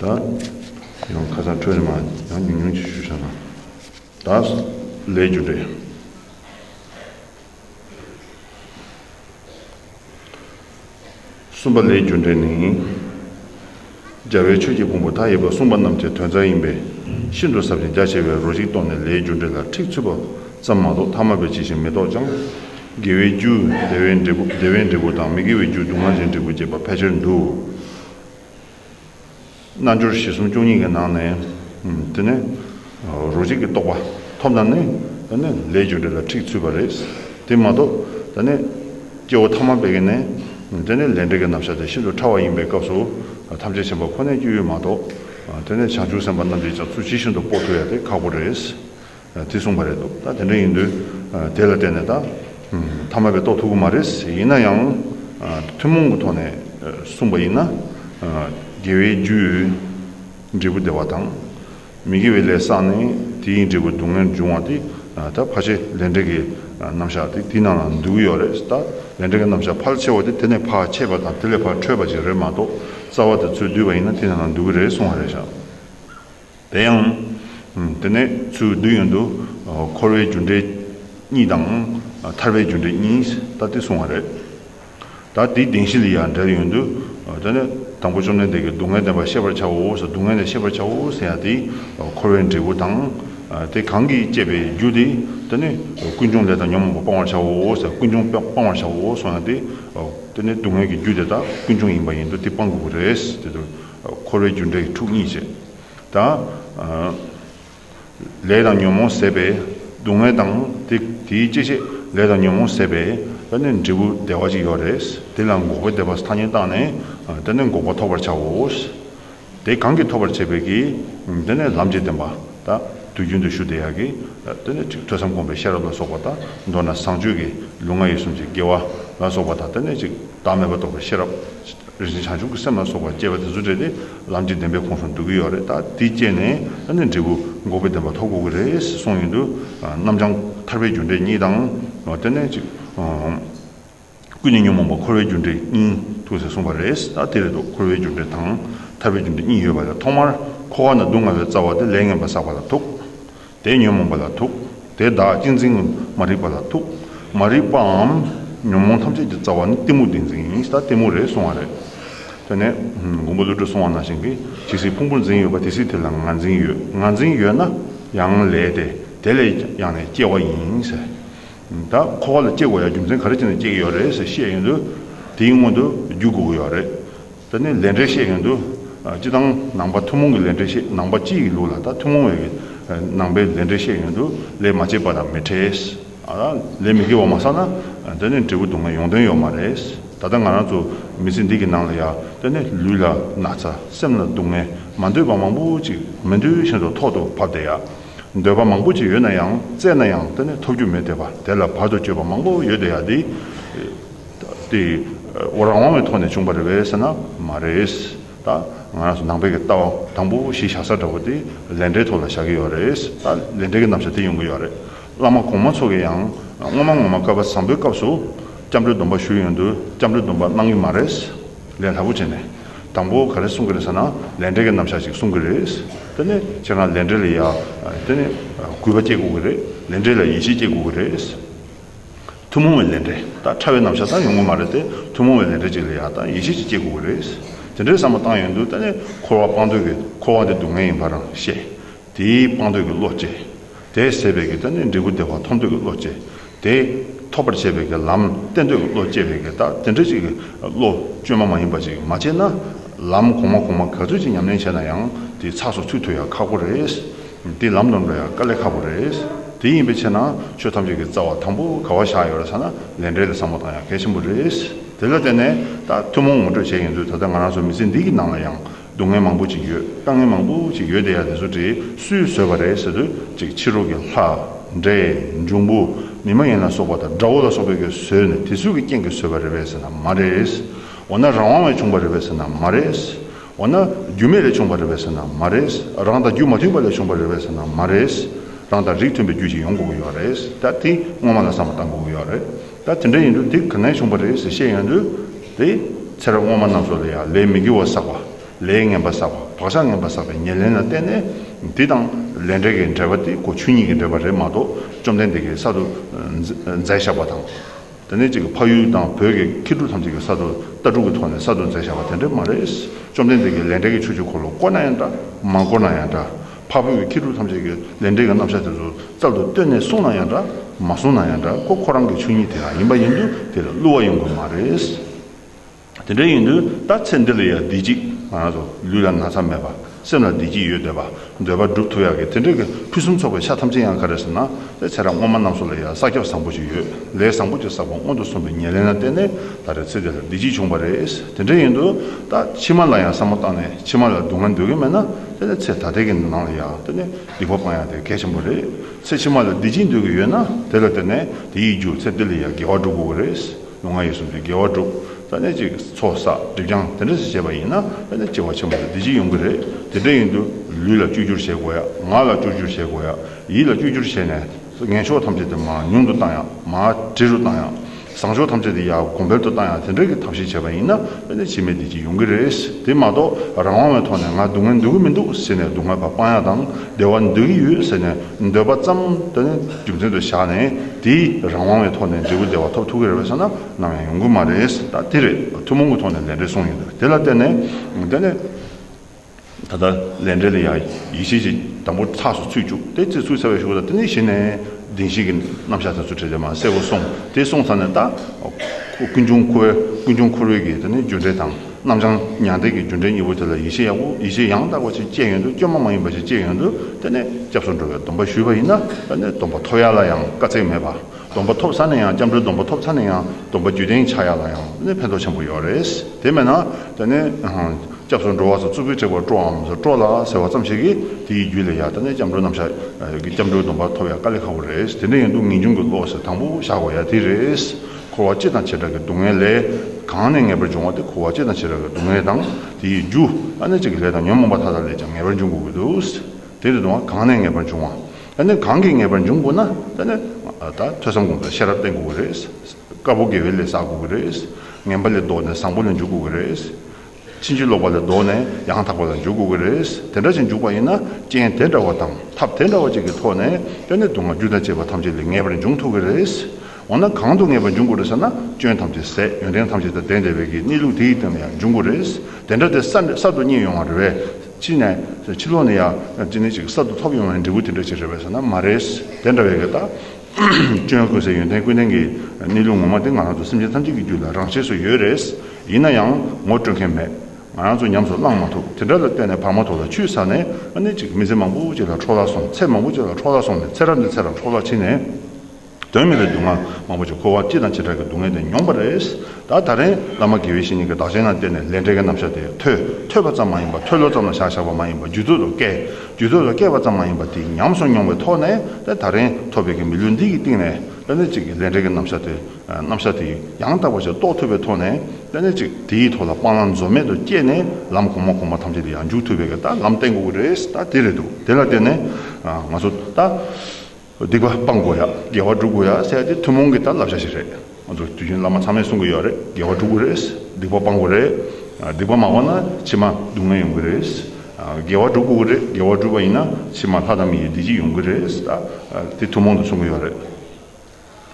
ད་ཡང་ཁ་སང་ཁྲོད་རེ་མ་ཡང་ཉུང་ཉུང་ཅིག་ཞུ་བཞག་ན་ད་ལས་རྒྱུ་རེད། གསུམ་པ་ལས་རྒྱུ་འབྲས་ནི། རྒྱལ་བའི་ཆོས་ཀྱི་ཕུང་པོ་མཐའ་ཡས་པ་གསུངས་པ་རྣམས་ཀྱི་དོན་རྩ་ཡིན་པས་ཤིན་ཏུ་ཟབ་ཅིང་རྒྱ་ཆེ་བའི་རོ་གཅིག་རྟོགས་ནས་ལས་རྒྱུ་འབྲས་ལ་འཁྲིག་ཚུད་པ་ཙམ་མ་གཏོགས་ཐ་མ་པའི་ཅི་ཞིག་མི་རྟོགས་ཀྱང། དགེ་བའི་རྒྱུ། བདེ་བའི་འབྲས་བུ། བདེ་བའི་འབྲས་བུ་དང་མི་དགེ་བའི་རྒྱུ་སྡུག་བསྔལ་གྱི་འབྲས་བུ་བསྐྱེད་པ་ཕལ་ཆེར་འདུ། རྣལ་འབྱོར་བཞི་གསུམ་བཅུ་གཉིས་ཀྱི་ནང་ནས། དེ་ནི། རོ་གཅིག་གི་རྟོགས་པ་ཐོབ་ན་ནི། ད་ནི་ལས་རྒྱུ་འབྲས་ལ་འཁྲིག་ཚུད་པ་རེད། དེ་མ་གཏོགས། ད་ནི། སྐྱེ་བོ་ཐ་མ་བས་ཀྱི་ནི། དེ་ནི་ལས་འབྲས་ཀྱི་རྣམ་གཞག་དེ་ཤིན་ཏུ་ཕྲ་བ་ཡིན་པའི་སྐབས་སུ། ཐམས་ཅད་བྱིན་པ་ཁོ་ནའི་སྐྱོན་ཡོད་མ་གཏོགས། དེ་ནི་བྱང་ཆུབ་སེམས་དཔའ་རྣམས་ཀྱིས་ཀྱང་ཚུལ་ཇི་བཞིན་དུ་དཔོག་ཐུབ་ཡ་དེ་ཁག་པོ་རེད། དེ་གསུངས་པ་རེད་འདུག་ད་དེ་འདྲ་ཡིན་དུས་དེ་ལ་བལྟས་ནས་ད་མཐའ་མ་པའི་རྟོགས་ཐུབ་ཀྱི་མ་རེད་ཟེར་ཡིན་ན་ཡང་ཐུན་མོང་གི་ཐོག་ནས་གསུངས་པ་ཡིན་ན། དགེ་བའི་རྒྱུས་འབྲས་བུ་བདེ་བ་དང། མི་དགེ་བའི་ལས་བསགས་ནས་དེའི་འབྲས་བུ་སྡུག་བསྔལ་འབྱུང་བ་དེ་ད་ཕ་ཆེ་ལས་འབྲས་ཀྱི་རྣམ་གཞག་དེ་དེའི་ནང་ལ་འདུས་ཀྱི་ཡོད་རེད་ད་ལས་འབྲས་ཀྱི་རྣམ་གཞག་ཕལ་ཆེ་བ་དེ་དེ་ནས་ཕ་ཆེ་བ་དང་དེ་ལས་ཕ་ཁྲོས་པ་ཅིག་རེད་མ་གཏོགས་རྩ་བ་དེ་ཚོས་བསྡུས་པ་ཡིན་ན་དེའི་ནང་ལ་འདུས་ཀྱི་རེད་གསུངས་བ་རེད་བཞག། དེ་ཡང། དེ་ནས་ཚུལ་བདུན་ཡོན་དུ། འཁོར་བའི་རྒྱུ་འབྲས་གཉིས་དང། ཐར་པའི་རྒྱུ་འབྲས་གཉིས་ལྟ་སྟེ་གསུངས་བ་རེད། ད་དེའི་གདེང་གཞི་ལ་ཡང་འགྲེལ་ཡོན་དུ། དེ་ནི་དང་པོ་བཅོམ་ལྡན་འདས་ཀྱིས་སྡུག་བསྔལ་བདེན་པར་ཤེས་པར་བྱའོ་ཟེར་སྡུག་བསྔལ་ནི་ཤེས་པར་བྱའོ་ཟེར་ཡང་དེ་འཁོར་བའི་འབྲས་བུ་དང། དེ་གང་གིས་བསྐྱེད་པའི་རྒྱུ་དེ། དེ་ནི་ཀུན་འབྱུང་ལས་དང་ཉོན་མོངས་པ་སྤང་བར་བྱའོ་ཟེར་ཀུན་འབྱུང་སྤང་བར་བྱའོ་གསུངས་ཡང་དེ། དེ་ནི་སྡུག་བསྔལ་གྱི་རྒྱུ་དེ་དག་ཀུན་འབྱུང་ཡིན་པ་ཡིན་དུ་དེ་སྤང་དགོས་པ་རེད། འཁོར་བའི་རྒྱུ་འབྲས་ཀྱི་ཐུགས་གཉིས་བཅས་དང། ལས་དང་ཉོན་མོངས་ཟད་པས་སྡུག་བསྔལ་དང། དེའི་སྐྱེ་མཆེད་ལས་དང་ཉོན་མོངས་ཟད་པས་ད་ནི་འབྲས་བུ་བདེ་བ་ཅིག་ཡོད་རེད། དེ་ལ་འགོག་པའི་བདེ་བ་ཐ་སྙད་བཏགས་ནས་དེ་ནི་འགོག་པ་ཐོབ་པར་བྱའོ། དེ་གང་གིས་ཐོབ་པར་བྱེད་པའི་གིས་དེ་ནི་ལམ་གྱི་བདེན་པ་དང་དུས་རྒྱུན་དུ་ཞུ་བདེ་ཡག་གིས་དེ་ནི་ཐོས་བསམ་སྒོམ་པའི་ཤེས་རབ་ལ་སོགས་པ་དང་མདོར་ན་བཟང་སྤྱོད་ཀྱི་ལུས་ངག་ཡིད་གསུམ་གྱི་དགེ་བ་ལ་སོགས་པ་དང་དེ་ནི་བདག་མེད་པ་རྟོགས་པའི་ཤེས་རབ། རེ་ཞིག་བྱང་ཆུབ་ཀྱི་སེམས་ལ་སོགས་པ་སྐྱེས་པ་དེ་ཚོ་བསྒྲལ་ཏེ་ལམ་གྱི་བདེན་པའི་ཁོངས་སུ་འདུག་གི་ཡོད་རེད་ད་དེ་སྐྱེས་ནས་ད་ནི་འབྲས་བུ་འགོག་པའི་བདེན་པ་ཐོབ་གོ་གི་རེད་ཟེར་གསུངས་ཡོང་དུས་རྣམ་བྱང་ཐར་པའི་རྒྱུ་འབྲས་གཉིས་དང། དེ་ནས་ཅིག། ཀུན་ནས་ཉོན་མོངས་པ་འཁོར་བའི་རྒྱུ་འབྲས་གཉིས་ཐུག་ཟེར་གསུངས་པ་རེད་ད་དེ་རེད་དོ་འཁོར་བའི་རྒྱུ་འབྲས་དང་ཐར་པའི་རྒྱུ་འབྲས་གཉིས་ཡོད་པ་ལས་ཐོག་མར་འཁོར་བ་ན་སྡུག་བསྔལ་བའི་རྩ་བ་དེ་ལས་ངན་པ་བསགས་པ་ལ་ཐུག་དེས་ཉོན་མོངས་པ་ལ་ཐུག། དེས་བདག་གཅེས་འཛིན་མ་རིག་པ་ལ་ཐུག། མ་རིག་པའམ་ཉོན་མོངས་ཐམས་ཅད་ཀྱི་རྩ་བ་ནི་གཏི་མུག་ཏིང་འཛིན་ཡིན་ད་གཏི་མུག་རེད་གསུང་བ་རེད། དེ་ནས་མགོན་པོ་ཀླུ་སྒྲུབ་གསུང་བ་ནང་བཞིན་གྱི་ཇི་སྲིད་ཕུང་པོ་འཛིན་ཡོད་པ་དེ་སྲིད་དེ་ལ་ང་འཛིན་ཡོད་ང་འཛིན་ཡོད་ན་ཡང་ལས་དེ་དེ་ལས་ཡང་ནས་སྐྱེ་བ་ཡིན། ད་འཁོར་བ་ལ་སྐྱེ་དགོས་ཡ་རྒྱུ་མཚན་ག་རེ་བྱས་ནས་སྐྱེ་གི་ཡོད་རེད་ཟེར་བཤད་ཡོད་དུས་དེའི་སྔོན་དུ་རྒྱུ་དགོས་ཀྱི་ཡོད་རེད། ད་ནི་ལས་འབྲས་བཤད་ཡོང་དུས། སྤྱི་བཏང་ནང་པ་ཐུན་མོང་གི་ལས་འབྲས་བཤད་ནང་པ་སྤྱི་ཡི་ལུགས་ལ་ད་ཐུན་མོང་བའི་གི་ནང་པའི་ལས་འབྲས་བཤད་ཡོང་དུས་ལས་མ་བྱས་པ་དང་མི་འཕྲད། ལས་མི་དགེ་བ་མ་བསགས་ན་ད་ནི་འབྲས་བུ་སྡུག་བསྔལ་ཡོང་དོན་ཡོད་མ་རེད། ད་ལྟ་ང་རང་ཚོ་མི་ཚེ་འདི་གི་ནང་ལ་ཡང་ད་ནི་ལུས་ལ་ན་ཚ་སེམས་ལ་སྡུག་བསྔལ་མ་འདོད་པ་མང་པོ་ཅིག་མི་འདོད་བཞིན་དུ་ཐོག་ཏུ་བབས་བསྡད་ཡ། འདོད་པ་མང་པོ་ཅིག་ཡོད་ན་ཡང་བཙལ་ན་ཡང་ད་ནི་ཐོབ་རྒྱུ་མེད་བསྡད་པ་དེ་ལ་བར་དུ་གཅོད་པ་མང་པོ་ཡོད་བསྡད་ཡ་དེ། དེ་ཨོ་རང་དབང་བའི་ཐོག་ནས་བྱུང་བ་རེད་བས་ཟེར་ན་མ་རེད། ད་ང་རང་ཚོ་ནང་པའི་གི་ལྟ་བ་དང་པོ་གཞི་བཞག་ས་འདྲ་བོ་དེ་ལས་འབྲས་ཐོག་ལ་བཞག་གི་ཡོད་རེད། ད་ལས་འབྲས་ཀྱི་རྣམ་བཞག་དེ་ཡོང་གི་ཡོད་རེད། བླ་མ་གོང་མ་ཚོ་གི་ཡང་སྔོན་མ་ངོ་མ་བསྐལ་པ་བཟང་པོའི་སྐབས་སུ་སྐྱབས་འགྲོའི་སྡོམ་པ་ཞུས་ཡོང་དུས་སྐྱབས་འགྲོའི་སྡོམ་པ་གནང་གི་མ་རེད། ལས་སླ་པོ་བྱས་ནས་དང་པོ་ག་རེ་གསུང་གི་རེད་ཟེར་ན་ལས་འབྲས་ཀྱི་རྣམ་བཞག་ཅིག་གསུང་གི་རེད། དེ་ནས་ཁྱེད་རང་ལས་འབྲས་ལ་ཡ་དེ་ནས་གུས་པ་སྐྱེ་དགོས་གི་རེད། ལས་འབྲས་ལ་ཡིད་ཆེས་སྐྱེ་དགོས་གི་རེད། ཐུན་མོང་བའི་ལས་འབྲས་དང་ཕྲ་བའི་རྣམ་གཞག་ཙམ་ཡོང་གི་མ་རེད་དེ། ཐུན་མོང་བའི་ལས་འབྲས་ཅིག་ལ་ཡག་དང་ཡིད་ཆེས་ཅིག་སྐྱེ་དགོས་ཀྱི་རེད། དེ་འདྲའི་བསམ་བློ་བཏང་ཡོད་འདུག་ད་ནི་འཁོར་བ་སྤང་འདོད་ཀྱི་འཁོར་བ་འདི་སྡུག་བསྔལ་ཡིན་པ་རང་ཤེས། དེའི་སྤང་འདོད་ཀྱི་བློ་སྐྱེས། དེས་སད་པའི་ཀྱི་ད་ནི་འབྲས་བུ་བདེ་བ་ཐོབ་འདོད་ཀྱི་བློ་སྐྱེས། དེས་ཐོབ་པར་བྱེད་པའི་ཀྱི་ལམ་བསྟན་འདོད་ཀྱི་བློ་སྐྱེས་པས་ཀྱི་ད་དེ་འདྲ་ཅིག་གི་བློ་བཅོས་མ་མ་ཡིན་པ་ཅིག་མ་སྐྱེས་ན། ལམ་གོང་མ་གོང་མ་ག་ཚོད་ཅིག་ཉམས་ལེན་བྱས་ན་ཡང་དེའི་ཚགས་སུ་ཚུད་ཐུབ་ཡ་ཁག་པོ་རེད། འདི་ལམ་ནོར་ནོ་ཡང་དཀའ་ལས་ཁག་པོ་རེད། དེ་ཡིན་པའི་ཕྱིར་ན་ཆོས་ཐམས་ཅད་ཀྱི་རྩ་བ་དང་པོ་ག་བ་བཞག་ཡོད་རེད་ས་ན་ལས་འབྲས་ལས་བཟང་པོ་དང་ཡང་གལ་ཆེན་པོ་རེད། དེ་ལ་བརྟེན་ནས་ད་ཐུན་མོང་ངོ་སྤྲོད་བྱས་ཡིན་དུས་ད་ལྟ་ང་རང་ཚོའི་མི་ཚེ་འདི་གི་ནང་ལ་ཡང་སྡུག་བསྔལ་མང་པོ་ཅིག་ཡོད་དཀའ་ངལ་མང་པོ་ཅིག་ཡོད་དེ་ཡང་དེ་ཚོ་དེ་སུས་བཟོས་པ་རེད་ཟེར་དུས་གཅིག་ཕྱི་རོལ་གྱི་ལྷ། འདྲེ། འབྱུང་པོ། མི་མ་ཡིན་ལ་སོགས་པ་དང་དགྲ་བོ་ལ་སོགས་པས་ཀྱིས་བཟོས་ནས་དེ་སུས་ཀྱི་རྐྱེན་གྱིས་བཟོས་པ་རེད་བས་ཟེར་ན་མ་རེད། འོ་ན་རང་དབང་བས་བྱུང་བ་རེད་བས་ཟེར་ན་མ་རེད། འོ་ན་རྒྱུ་མེད་ལས་བྱུང་བ་རེད་བས་ཟེར་ན་མ་རེད། རང་དང་རྒྱུ་མ་མཐུན་པ་ལས་བྱུང་བ་རེད་བས་ཟེར་ན་མ་རེད། རང་དང་རིགས་མཐུན་པའི་རྒྱུ་ཞིག་ཡོང་དགོས་ཀྱི་ཡོད་རེད། ད་དེ་སྔོན་མ་ལ་བསམ་པ་བཏང་དགོས་ཀྱི་ཡོད་རེད། ད་དེ་འདྲ་ཡིན་དུས་དེ་གང་ནས་བྱུང་བ་རེད་ཟེར་བཤད་ཡོང་དུས། དེ་ཚེ་རབས་སྔོན་མ་རྣམས་སུ་ལ་ཡང་ལས་མི་དགེ་བ་བསགས་པ། ལས་ངན་པ་བསགས་པ་བག་ཆགས་ངན་པ་བསགས་པའི་ཉེར་ལེན་ལ་བརྟེན་ནས། དེ་དང་ལས་འབྲས་ཀྱི་འབྲེལ་བ་དེ་ཁོ་ཆོས་ཉིད་ཀྱི་འབྲེལ་བ་རེད་མ་གཏོགས་བཅོམ་ལྡན་འདས་ཀྱིས་གསར་དུ་མཛད་བཞག་པ་དང། དེ་ནས་ཅིག་ཕ་ཡུལ་དང་བོད་ཀྱི་མཁས་གྲུབ་ཐམས་ཅད་ཀྱི་ས་རྡོ་རྟ་དྲུག་གི་ཐོག་ནས་ས་རྡོ་འཛེགས་བཞག་པ་དེ་འདྲ་མ་རེད། བཅོམ་ལྡན་འདས་ཀྱིས་ལས་འབྲས་ཀྱི་ཆོས་ཀྱི་འཁོར་ལོ་བསྐོར་ན་ཡང་འདྲ། མ་བསྐོར་ན་ཡང་འདྲ། འཕགས་བོད་ཀྱི་མཁས་གྲུབ་ཐམས་ཅད་ཀྱིས་ལས་འབྲས་ཀྱི་རྣམ་གཞག་དེ་ཚོ་རྩལ་དུ་བཏོན་ནས་གསུངས་ན་ཡང་འདྲ། མ་གསུངས་ན་ཡང་འདྲ་ཁོ་ཁོ་རང་གི་ཆོས་ཉིད་དེ་རང་ཡིན་པ་ཡིན་དུས་དེར་བསླུ་བ་ཡོང་དགོས་མ་རེད། དེ་འདྲ་ཡིན་དུས་ད་ཚེ་འདི་ལ་ཡང་བདེ་སྐྱིད། ལུས་ལ་ན་ཚ་མེད་པ། སེམས་ལ་བདེ་སྐྱིད་ཡོད་འདོད་པ། འདོད་པ་སྒྲུབ་ཐུབ་ཡག་གི་དེ་འདྲ་གི་ཕུན་སུམ་ཚོགས་པའི་ཤ་ཐམས་ཅད་ཡང་ག་རེ་ཟེར་ན་ད་ཚེ་ར་སྔོན་མ་རྣམས་སུ་ལ་ཡང་ས་ཁྱབ་བཟང་པོ་ཞིག་ཡོད་ལས་བཟང་པོ་ཅིག་བསགས་པ་སྔོན་དུ་སོང་པའི་ཉེར་ལེན་ལ་བརྟེན་ནས་ད་རེ་ཚེ་དེ་ལ་བདེ་སྐྱིད་བྱུང་བ་རེད་དེ་འདྲ་ཡིན་དུས་ད་ཕྱི་མ་ལ་ཡང་བསམ་བློ་བཏང་ནས་ཕྱི་མ་ལ་སྡུག་བསྔལ་འདོད་ཀྱི་མེད་ན་ད་ཚེ་ད་ལྟའི་གི་ནང་ལ་ཡང་ད་སྡིག་པ་སྤང་ཡག་དེ་གལ་ཆེན་པོ་རེད་ཚེ་ཕྱི་མ་ལ་བདེ་སྐྱིད་འདོད་ཀྱི་ཡོད་ན་དེ་ལ་བརྟེན་ནས་དེ་ཡིས་རྒྱུར་ཚེ་འདི་ལ་ཡང་དགེ་བ་བསྒྲུབ་དགོས་པ་རེད། ལོ་ང་ཡིས་གསུམ་དུས་དགེ་བ་བསྒྲུབ། རྩ་གནས་གཅིག་ཚོགས་བསགས་སྒྲིབ་སྦྱངས་དེ་འདྲ་ཞིག་བྱས་པ་ཡིན་ན་དཔེར་ན་སྐྱེ་བ་ཆེན་པོ་དང་བདེ་སྐྱིད་ཡོང་གི་རེད། དེ་འདྲ་ཡིན་དུས་ལུས་ལ་བཅོས་བསྒྱུར་བྱེད་དགོས་ཡ། ངག་ལ་བཅོས་བསྒྱུར་བྱེད་དགོས་ཡ། ཡིད་ལ་བཅོས་བསྒྱུར་བྱས་ནས། ངན་ཕྱོགས་ཐམས་ཅད་དེ་མ་ཉུང་དུ་བཏང་ཡ། མ་དྲི་རུ་བཏང་ཡ། བཟང་ཕྱོགས་ཐམས་ཅད་དེ་ཡ་གོང་འཕེལ་དུ་བཏང་ཡ་དེ་འདྲ་གི་ཐབས་ཤེས་བྱས་པ་ཡིན་ན་དཔེར་ན་འཆི་མེད་བདེ་སྐྱིད་ཡོང་གི་རེད། དེ་མ་གཏོགས་རང་དབང་བའི་ཐོག་ནས་ང་སྡུག་བསྔལ་འདོད་གི་མི་འདུག་ཟེར་ནས་སྡུག་བསྔལ་བར་སྤང་ཡ་དང་བདེ་བ་འདོད་ཀྱི་ཡོད་ཟེར་ནས། འདོད་པ་ཙམ་དུ་ནི་རྒྱུ་མཚན་དུ་བཞག་ནས་དེའི་རང་དབང་བའི་ཐོག་ནས་འབྲས་བུ་བདེ་བ་ཐོབ་ཐུབ་ཀྱི་རེད་པ་ཟེར་ན་ནམ་ཡང་ཡོང་གི་མ་རེད། ད་དེ་རེད་ཐུན་མོང་གི་ཐོག་ནས་ལས་འབྲས་གསུངས་ཡོད། དེ་ལ་བརྟེན་ནས་བརྟེན་ནས་ད་ལྟ་ལས་འབྲས་ལ་ཡང་ཡིད་ཆེས་ཀྱི་དམ་པོ་ཚགས་སུ་ཚུད་བཅུག་དེ་ཚེ་ཚུད་ཚར་བའི་ཞོར་དུ་དེ་ནི་གཞི་ནས་བདེན་བཞི་གི་རྣམ་གཞག་དེ་ཚོ་ཁྲིད་དེ་མ་གསལ་བོ་སོང་དེ་སོང་ཚར་ནས་ད་ཀུན་འབྱུང་འཁོར་འཁོར་བའི་གི་དེ་ནི་རྒྱུ་འབྲས་དང། རྣམ་བྱང་མྱང་འདས་ཀྱི་རྒྱུ་འབྲས་གཉིས་པོ་དེ་ལ་ཡིད་ཆེས་ཡག་པོ་ཡིད་ཆེས་ཡང་དག་པ་ཞིག་སྐྱེས་ཡོང་དུས་སྐྱོན་མ་མ་ཡིན་པ་ཞིག་སྐྱེས་ཡོང་དུས་དེ་ནས་སྐྱབས་སུ་འགྲོ་བའི་སྡོམ་པ་ཞུས་པ་ཡིན་ན་ད་ནས་སྡོམ་པ་ཐོབ་ཡག་ལ་ཡང་དཀའ་ཚེགས་མེད་པ། སྡོམ་པ་ཐོབ་ས་ནས་ཡང་སྐྱབས་འགྲོའི་སྡོམ་པ་ཐོབ་ཚར་ནས་ཡང་སྡོམ་པ་རྒྱུད་ལྡན་ཆགས་ཡག་ལ་ཡང་ནས་ཕན་ཐོགས་ཆེན་པོ་ཡོད་རེད། དེ་མེད་ན་ད་ནས་སྐྱབས་སུ་འགྲོ་བ་སོགས་རྩུབ་པོའི་དྲེགས་པར་སྤྲོའམ་སྤྲོ་ལ་ཟེར་བ་ཙམ་ཞིག་གིས་དེ་ཡི་རྒྱུད་ལས་ཡང་ད་ནས་སྐྱབས་འགྲོའི་རྣམ་གཞག་སྐྱབས་འགྲོའི་སྡོམ་པ་ཐོབ་ཡག་དཀའ་ལས་ཁག་པོ་རེད་དེ་འདྲ་ཡིན་དུས་ངེས་འབྱུང་གི་བློ་ཟེར་དང་པོ་བཞག་དགོས་ཡ་དེ་རེད། འཁོར་བ་སྤྱི་དང་བྱེ་བྲག་གི་སྡུག་བསྔལ་ལས། གང་ནས་ངེས་པར་འབྱུང་བ་དེ་འཁོར་བ་སྤྱི་དང་བྱེ་བྲག་གི་སྡུག་བསྔལ་དང། དེ་ཡི་རྒྱུ། ཨ་ནི་གཅིག་གི་ལས་དང་ཉོན་མོངས་པ་མཐའ་དག་ལས་ཀྱང་ངེས་པར་འབྱུང་དགོས་ཀྱི། དེ་ལས་ལྡོག་ན་གང་ནས་ངེས་པར་འབྱུང་བ། ཨ་ནི་གང་གིས་ངེས་པར་འབྱུང་དགོས་ན། དེ་ནི། ད་ཐོས་བསམ་སྒོམ་དང་ཤེས་རབ་བརྟེན་དགོས་ཀྱི་རེད། དཀར་པོ་དགེ་བའི་ལས་བསགས་དགོས་ཀྱི་རེད། ངན་པ་ལས་ལྡོག་ནས་བཟང་པོ་ལ་འཇུག་དགོས་ཀྱི་རེད། ཕྱིན་ཅི་ལོག་པ་ལས་ལྡོག་ནས་ཡང་དག་པ་ལ་འཇུག་དགོས་ཀྱི་རེད། དེ་འདྲ་ཞིག་འཇུག་པ་ཡིན་ན་རྐྱེན་དེ་འདྲ་བ་དང་ཐབས་དེ་འདྲ་བ་ཅིག་གི་ཐོག་ནས་སྐྱོན་དེ་སྡུག་བསྔལ་རྒྱུ་དང་བཅས་པ་ཐམས་ཅད་ལས་ངེས་པར་འབྱུང་ཐུབ་ཀྱི་རེད། འོ་ན་གང་དུ་ངེས་པར་འབྱུང་དགོས་རེད་ཟེར་ན་སྐྱོན་ཐམས་ཅད་ཟད་ཡོན་ཏན་ཐམས་ཅད་དང་ལྡན་བདེ་བའི་གི་གནས་ལུགས་དེའི་སྟེང་ནས་ཡང་འབྱུང་དགོས་རེད། དེ་འདྲ་དེ་གསར་དུ་རྙེད་ཡོང་བ་རེད་བས་ཕྱིན་ནས་ཕྱི་ལོག་ནས་ཡང་ཅི་ནས་ཅིག་གསར་དུ་ཐོབ་ཡོང་བའི་འབྲས་བུ་དེ་འདྲ་ཅིག་རེད་བས་ཟེར་ན་མ་རེད། དེ་འདྲ་བས་གི་ད་སྐྱོན་ཀུན་ཟད་ཡོན་ཏན་ཀུན་ལྡན་གི་གནས་ལུགས་ངོ་མ་དེ་ང་རང་ཚོ་སེམས་ཅན་ཐམས་ཅད་ཀྱི་རྒྱུད་ལ་རང་ཆས་སུ་ཡོད་རེད། ཡིན་ན་ཡང་ངོ་སྤྲོད་མཁན་མེད། ང་རང་ཚོ་ཉམས་སུ་བླངས་མ་ཐུབ་དེ་འདྲ་ལ་བརྟེན་ནས་བག་མ་ཐོག་ལ་ཆུད་ས་ནས་ཨ་ནེ་གཅིག་མི་ཚེ་མང་པོ་བྱས་ལ་འཕྲོག་བརླག་སོང་ཚེ་མང་པོ་བྱས་ལ་འཕྲོག་བརླག་སོང་ནས་ཚེ་རབས་འདི་ཚེ་རབས་འཕྲོག་བརླག་ཕྱིན་ནས། དོན་མེད་པའི་སྡུག་བསྔལ་མང་པོ་བྱས་འཁོར་བ་ཅི་དང་ཇི་འདྲ་གི་སྡུག་བསྔལ་དེ་མྱོང་པ་རེད། ད་ད་རེང་བླ་མ་དགེ་བའི་བཤེས་གཉེན་གྱི་བདག་གཞན་ལ་བརྟེན་ནས་ལས་འབྲས་གྱི་རྣམ་གཞག་དེ་ཐོས་ཐོས་པ་ཙམ་མ་ཡིན་པ་ཐོས་ལོ་ཙམ་ལ་བཞག་བཞག་པ་མ་ཡིན་པ་རྒྱུད་ཚོད་དུ་བསྐལ་རྒྱུད་ཚོད་ལ་བསྐལ་བ་ཙམ་མ་ཡིན་པ་དེ་ཉམས་སུ་མྱོང་བའི་ཐོག་ནས་ད་ད་རེང་ཐོབ་པའི་གི་མི་ལུས་འདི་གི་སྟེང་ནས་ཨ་ནེ་གཅིག་གི་ལས་འབྲས་ཀྱི་རྣམ་གཞག་དེ་རྣམ་གཞག་དེ་ཡང་དག་པར་ཕྱིར་རྟོགས་ཐུབ་པའི་ཐོག་ནས་དཔེ་ནི་གཅིག་དེའི་ཐོག་ལ་སྤང་བླང་འཛོལ་མེད་དུ་བསྐྱེད་ནས་ལམ་གོང་མ་གོང་མ་ཐམས་ཅད་དེ་ཡང་འཇུག་ཐུབ་པའི་ལྟར་ལམ་བསྟན་དགོས་ཀྱི་རེད་ད་དེ་རེད་འདུག་དེ་ལ་བརྟེན་ནས་ང་ཚོ་ད་སྡིག་པ་སྤང་དགོས་ཡ་དགེ་བ་སྒྲུབ་དགོས་ཡ་ཟེར་ཡ་དེ་ཐུན་མོང་གི་ད་བསླབ་བྱ་ཞིག་རེད་ང་ཚོ་དུས་རྒྱུན་བླ་མ་ཚང་མས་གསུང་གི་ཡོད་རེད་དགེ་བ་སྒྲུབ་དགོས་རེད་སྡིག་པ་སྤང་དགོས་རེད་སྡིག་པ་མ་སྤངས་ན་ཕྱི་མ་སྡུག་བསྔལ་ཡོང་གི་རེད་དགེ་བ་སྒྲུབ་དགོས་ཀྱི་རེད་དགེ་བ་སྒྲུབ་པ་ཡིན་ན་ཕྱི་མ་ལྷ་དང་མི་ཡི་བདེ་སྐྱིད་ཡོང་གི་རེད་ད་དེ་ཐུན་མོང་དུ་གསུང་གི་ཡོད་རེད།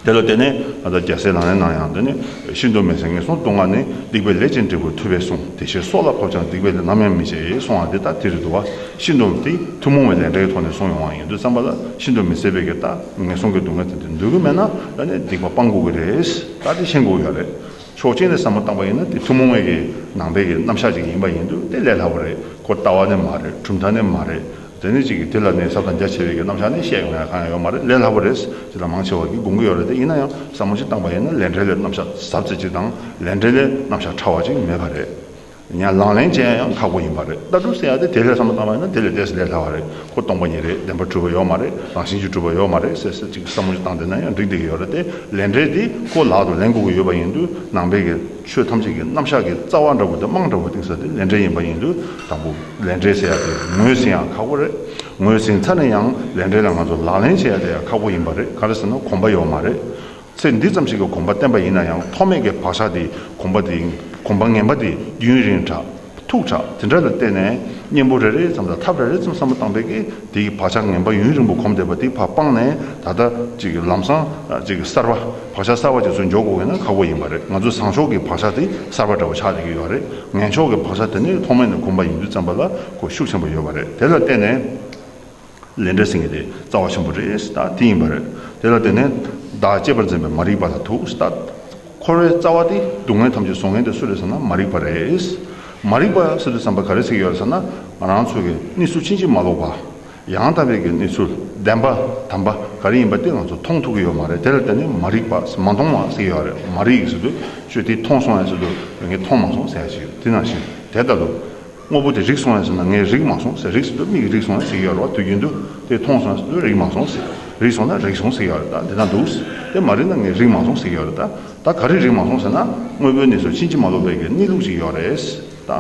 དེ་ལ་བརྟེན་ནས་ང་ཚ་རྒྱལ་སྲས་ལག་ལེན་གནང་ཡང་དེ་ནི་ཤིན་ཏུ་མི་ཟད་ངན་སོང་སྟོང་ལྔ་ནི་སྡིག་པའི་ལས་ཅན་འབྲས་བུ་ཐོས་པས་གསུངས་དེ་ཕྱིར་སྲོག་ལ་ཕབ་ཅིང་སྡིག་པའི་ལས་ནམ་ཡང་མི་བྱེད་ཡེ་གསུང་བ་འདི་ལྟར་དེ་རིགས་དུ་བ་ཤིན་ཏུ་དེ་ཐུན་མོང་བའི་ལས་འབྲས་ཀྱི་ཐོག་ནས་གསུངས་ཡོང་བ་ཡིན་དུས་བརྩམས་པ་ལ་ཤིན་ཏུ་མི་ཟད་པའི་གེ་དག་ངན་སོང་གི་སྡུག་བསྔལ་དེ་འདི་འདོད་གི་མེད་ན་ད་ནི་སྡིག་པ་སྤང་དགོས་གི་རེད་ད་དེ་ཤེས་དགོས་ཀྱི་རེད་ཆོག་མཆན་ལས་བསམ་བློ་བཏང་པ་ཡིན་ན་དེ་ཐུན་མོང་བའི་གེ་ནང་པའི་གེ་རྣམ་གཞག་ཅིག་ཡིན་པ་ཡིན་དུས་དེ་ལས་སླ་བོ་རེད་ཁོ་ལྟ་བ་ནི་མ་རེད་གྲུབ་མཐའ་ནི་མ་རེད་དེ་ནས་ཅིག་གིས་དེ་ལ་ནི་ཚབ་དང་རྒྱ་ཆེ་བའི་གི་རྣམ་གཞག་ནི་བཤད་ཡོང་ཡ་གང་ཡང་ཡོད་མ་རེད་ལས་སླ་པོ་རེད་ཅིག་དང་མང་ཆེ་བ་གིས་དགོངས་ཀྱི་ཡོད་རེད་དེ་ཡིན་ན་ཡང་ཟབ་མོ་ཅིག་བཏང་པ་ཡིན་ན་ལས་འབྲས་ལས་རྣམ་གཞག་ཟབ་ཚད་ཅིག་དང་ལས་འབྲས་ལས་རྣམ་གཞག་ཕྲ་བ་ཅིག་མེད་པ་རེད། ཡང་ལག་ལེན་ཅན་ཡང་ཁག་པོ་ཡིན་པ་རེད་ལྟ་གྲུབ་ཟེར་ཡ་དེ་དེ་ལས་ཟབ་མོ་བཏང་བ་ཡིན་ན་དེ་ལས་བལྟས་ཟིན་ལས་སླ་བ་རེད་ཁོ་སྟོང་པ་ཉིད་རེད་བདེན་པ་གྲུབ་པ་ཡོད་མ་རེད་རང་བཞིན་གྱིས་གྲུབ་པ་ཡོད་མ་རེད་ཟེར་ཟེར་ཅིག་ཟབ་མོ་ཅིག་བཏང་བསྡད་ན་ཡང་འགྲིག་བསྡད་ཀྱི་ཡོད་རེད་དེ་ལས་འབྲས་དེ་ཁོ་ལག་ཏུ་ལེན་དགོས་ཀྱི་ཡོད་པ་ཡིན་དུས་ནང་པའི་གི། ཆོས་ཐམས་ཅད་ཀྱི་རྣམ་གཞག་གི་རྩ་བ་འདྲ་བོ་དེ་རྨང་འདྲ་བོ་གཏིང་ཟབ་དེ་ལས་འབྲས་ཡིན་པ་ཡིན་དུས་དང་པོ་ལས་འབྲས་བྱེད་ཡག་དེ་ངོས་ཟིན་ཡག་ཁག་པོ་རེད། ངོས་ཟིན་ཚར་ནས་ཡང་ལས་འབྲས་ལ་ང་ཚོ་ལག་ལེན་བྱེད་ཡག་དེ་ཡག་ཁག་པོ་ཡིན་པ་རེད་ག་རེ་ཟེར་ན་གོམས་པ་ཡོད་མ་རེད། ཚེ་འདི་ཙམ་ཞིག་གི་གོམས་པ་བརྟན་པ་ཡིན་ན་ཡང་ཐོག་མེད་ཀྱི་བག་ཆགས་དེ་གོམས་པ་དེ་གོམས་པ་ངན་པ་དེ་རྒྱུན་རིང་དྲགས། ཐུག་དྲག་དེ་འདྲ་ལ་བརྟེན་ནས་གཉེན་པོ་རེ་རེ་ཙམ་དང་ཐབས་རེ་རེ་ཙམ་བསམ་བློ་བཏང་པས་ཀྱི་དེ་ཡི་བག་ཆགས་ངན་པ་ཡུན་རིང་པོ་གོམས་བསྡད་པ་དེ་བར་སྤངས་ནས་ད་ལྟ་གཅིག་གི་ལམ་སང་གཅིག་གི་གསར་པ་བག་ཆགས་གསར་པ་གཅིག་ཚུར་འཇོག་དགོས་ཀྱི་ན་ཁག་པོ་ཡིན་པ་རེད་ང་ཚོའི་བཟང་ཕྱོགས་ཀྱི་བག་ཆགས་དེ་གསར་པ་འདྲ་བོ་ཆགས་བསྡད་ཀྱི་ཡོད་རེད་ངན་ཕྱོགས་ཀྱི་བག་ཆགས་དེ་ནི་ཐོག་མེད་ནས་གོམས་པ་ཡིན་དུས་བརྩམས་པ་ལ་གོ་ཤུགས་ཆེན་པོ་ཡོད་པ་རེད་དེ་ལ་བརྟེན་ནས། ལས་འབྲས་ཟིན་གྱི་དེ་རྩ་བ་ཆེན་པོ་རེད་ས་དེ་ཡིན་པ་རེད། དེ་ལ་བརྟེན་ནས་བདག་གཅེས་པར་འཛིན་པའི་མ་རིག་པ་ལ་དུག་ས་འཁོར་བའི་རྩ་བ་དེ་སྡུག་བསྔལ་ཐམས་ཅད་བཟོ་མཁན་དེ་སུ་རེད་ཟེར་ན་མ་རིག་པ་རེད། མ་རིག་པ་ས་དེ་བསམ་པ་ག་རེ་ཚིག་ཡོད་རེད་ཟེར་ན་རང་ཚུགས་ཀྱི་གནས་ཚུལ་ཕྱིན་ཅི་མ་ལོག་པ། ཡང་དག་པའི་གི་གནས་ཚུལ་བདེན་པ་དམ་པ་ག་རེ་ཡིན་པ་དེ་ང་ཚོ་མཐོང་ཐུབ་ཀྱི་ཡོད་མ་རེད་དེ་ལ་བརྟེན་ནས་མ་རིག་པ་ས་མ་མཐོང་བ་ཟེར་གྱི་ཡོད་རེད་མ་རིག་ཟེར་དུས་ཆོས་དེ་མཐོང་སོང་ཡ་ཟེར་དུས་ངས་མཐོང་མ་སོང་ཟེར་ཡ་ཞིག་ཡོད་དེ་ནང་བཞིན་དེ་ལྟ་བུ། དངོས་པོ་དེ་རིག་སོང་བས་ཟེར་ན་ངས་རིག་མ་སོང་ཟེར་རིག་སོང་དུས་མིག་རིག་སོང་ཟེར་གྱི་ཡོད་རེད་བ་དུས་རྒྱུན་དུ་དེ་མཐོང་སོང་ཟེར་དུས་རིག་མ་སོང་ཟེར་རིག་སོང་ན་རིག་སོང་ཟེར་གྱི་ཡོད་རེད་ད་འདི་ན་འདུག་ཟེར་དེ་མ་རིག་ན་ངས་རིག་མ་སོང་ཟེར་གྱི་ཡོད་རེད་ད་ད་ག་རེ་རིག་མ་སོང་ཟེར་ན་དངོས་པོའི་གནས་སུ་ཕྱིན་ཅི་མ་ལོག་པའི་གི་གནས་ལུགས་ཅིག་ཡོད་རེད་ད།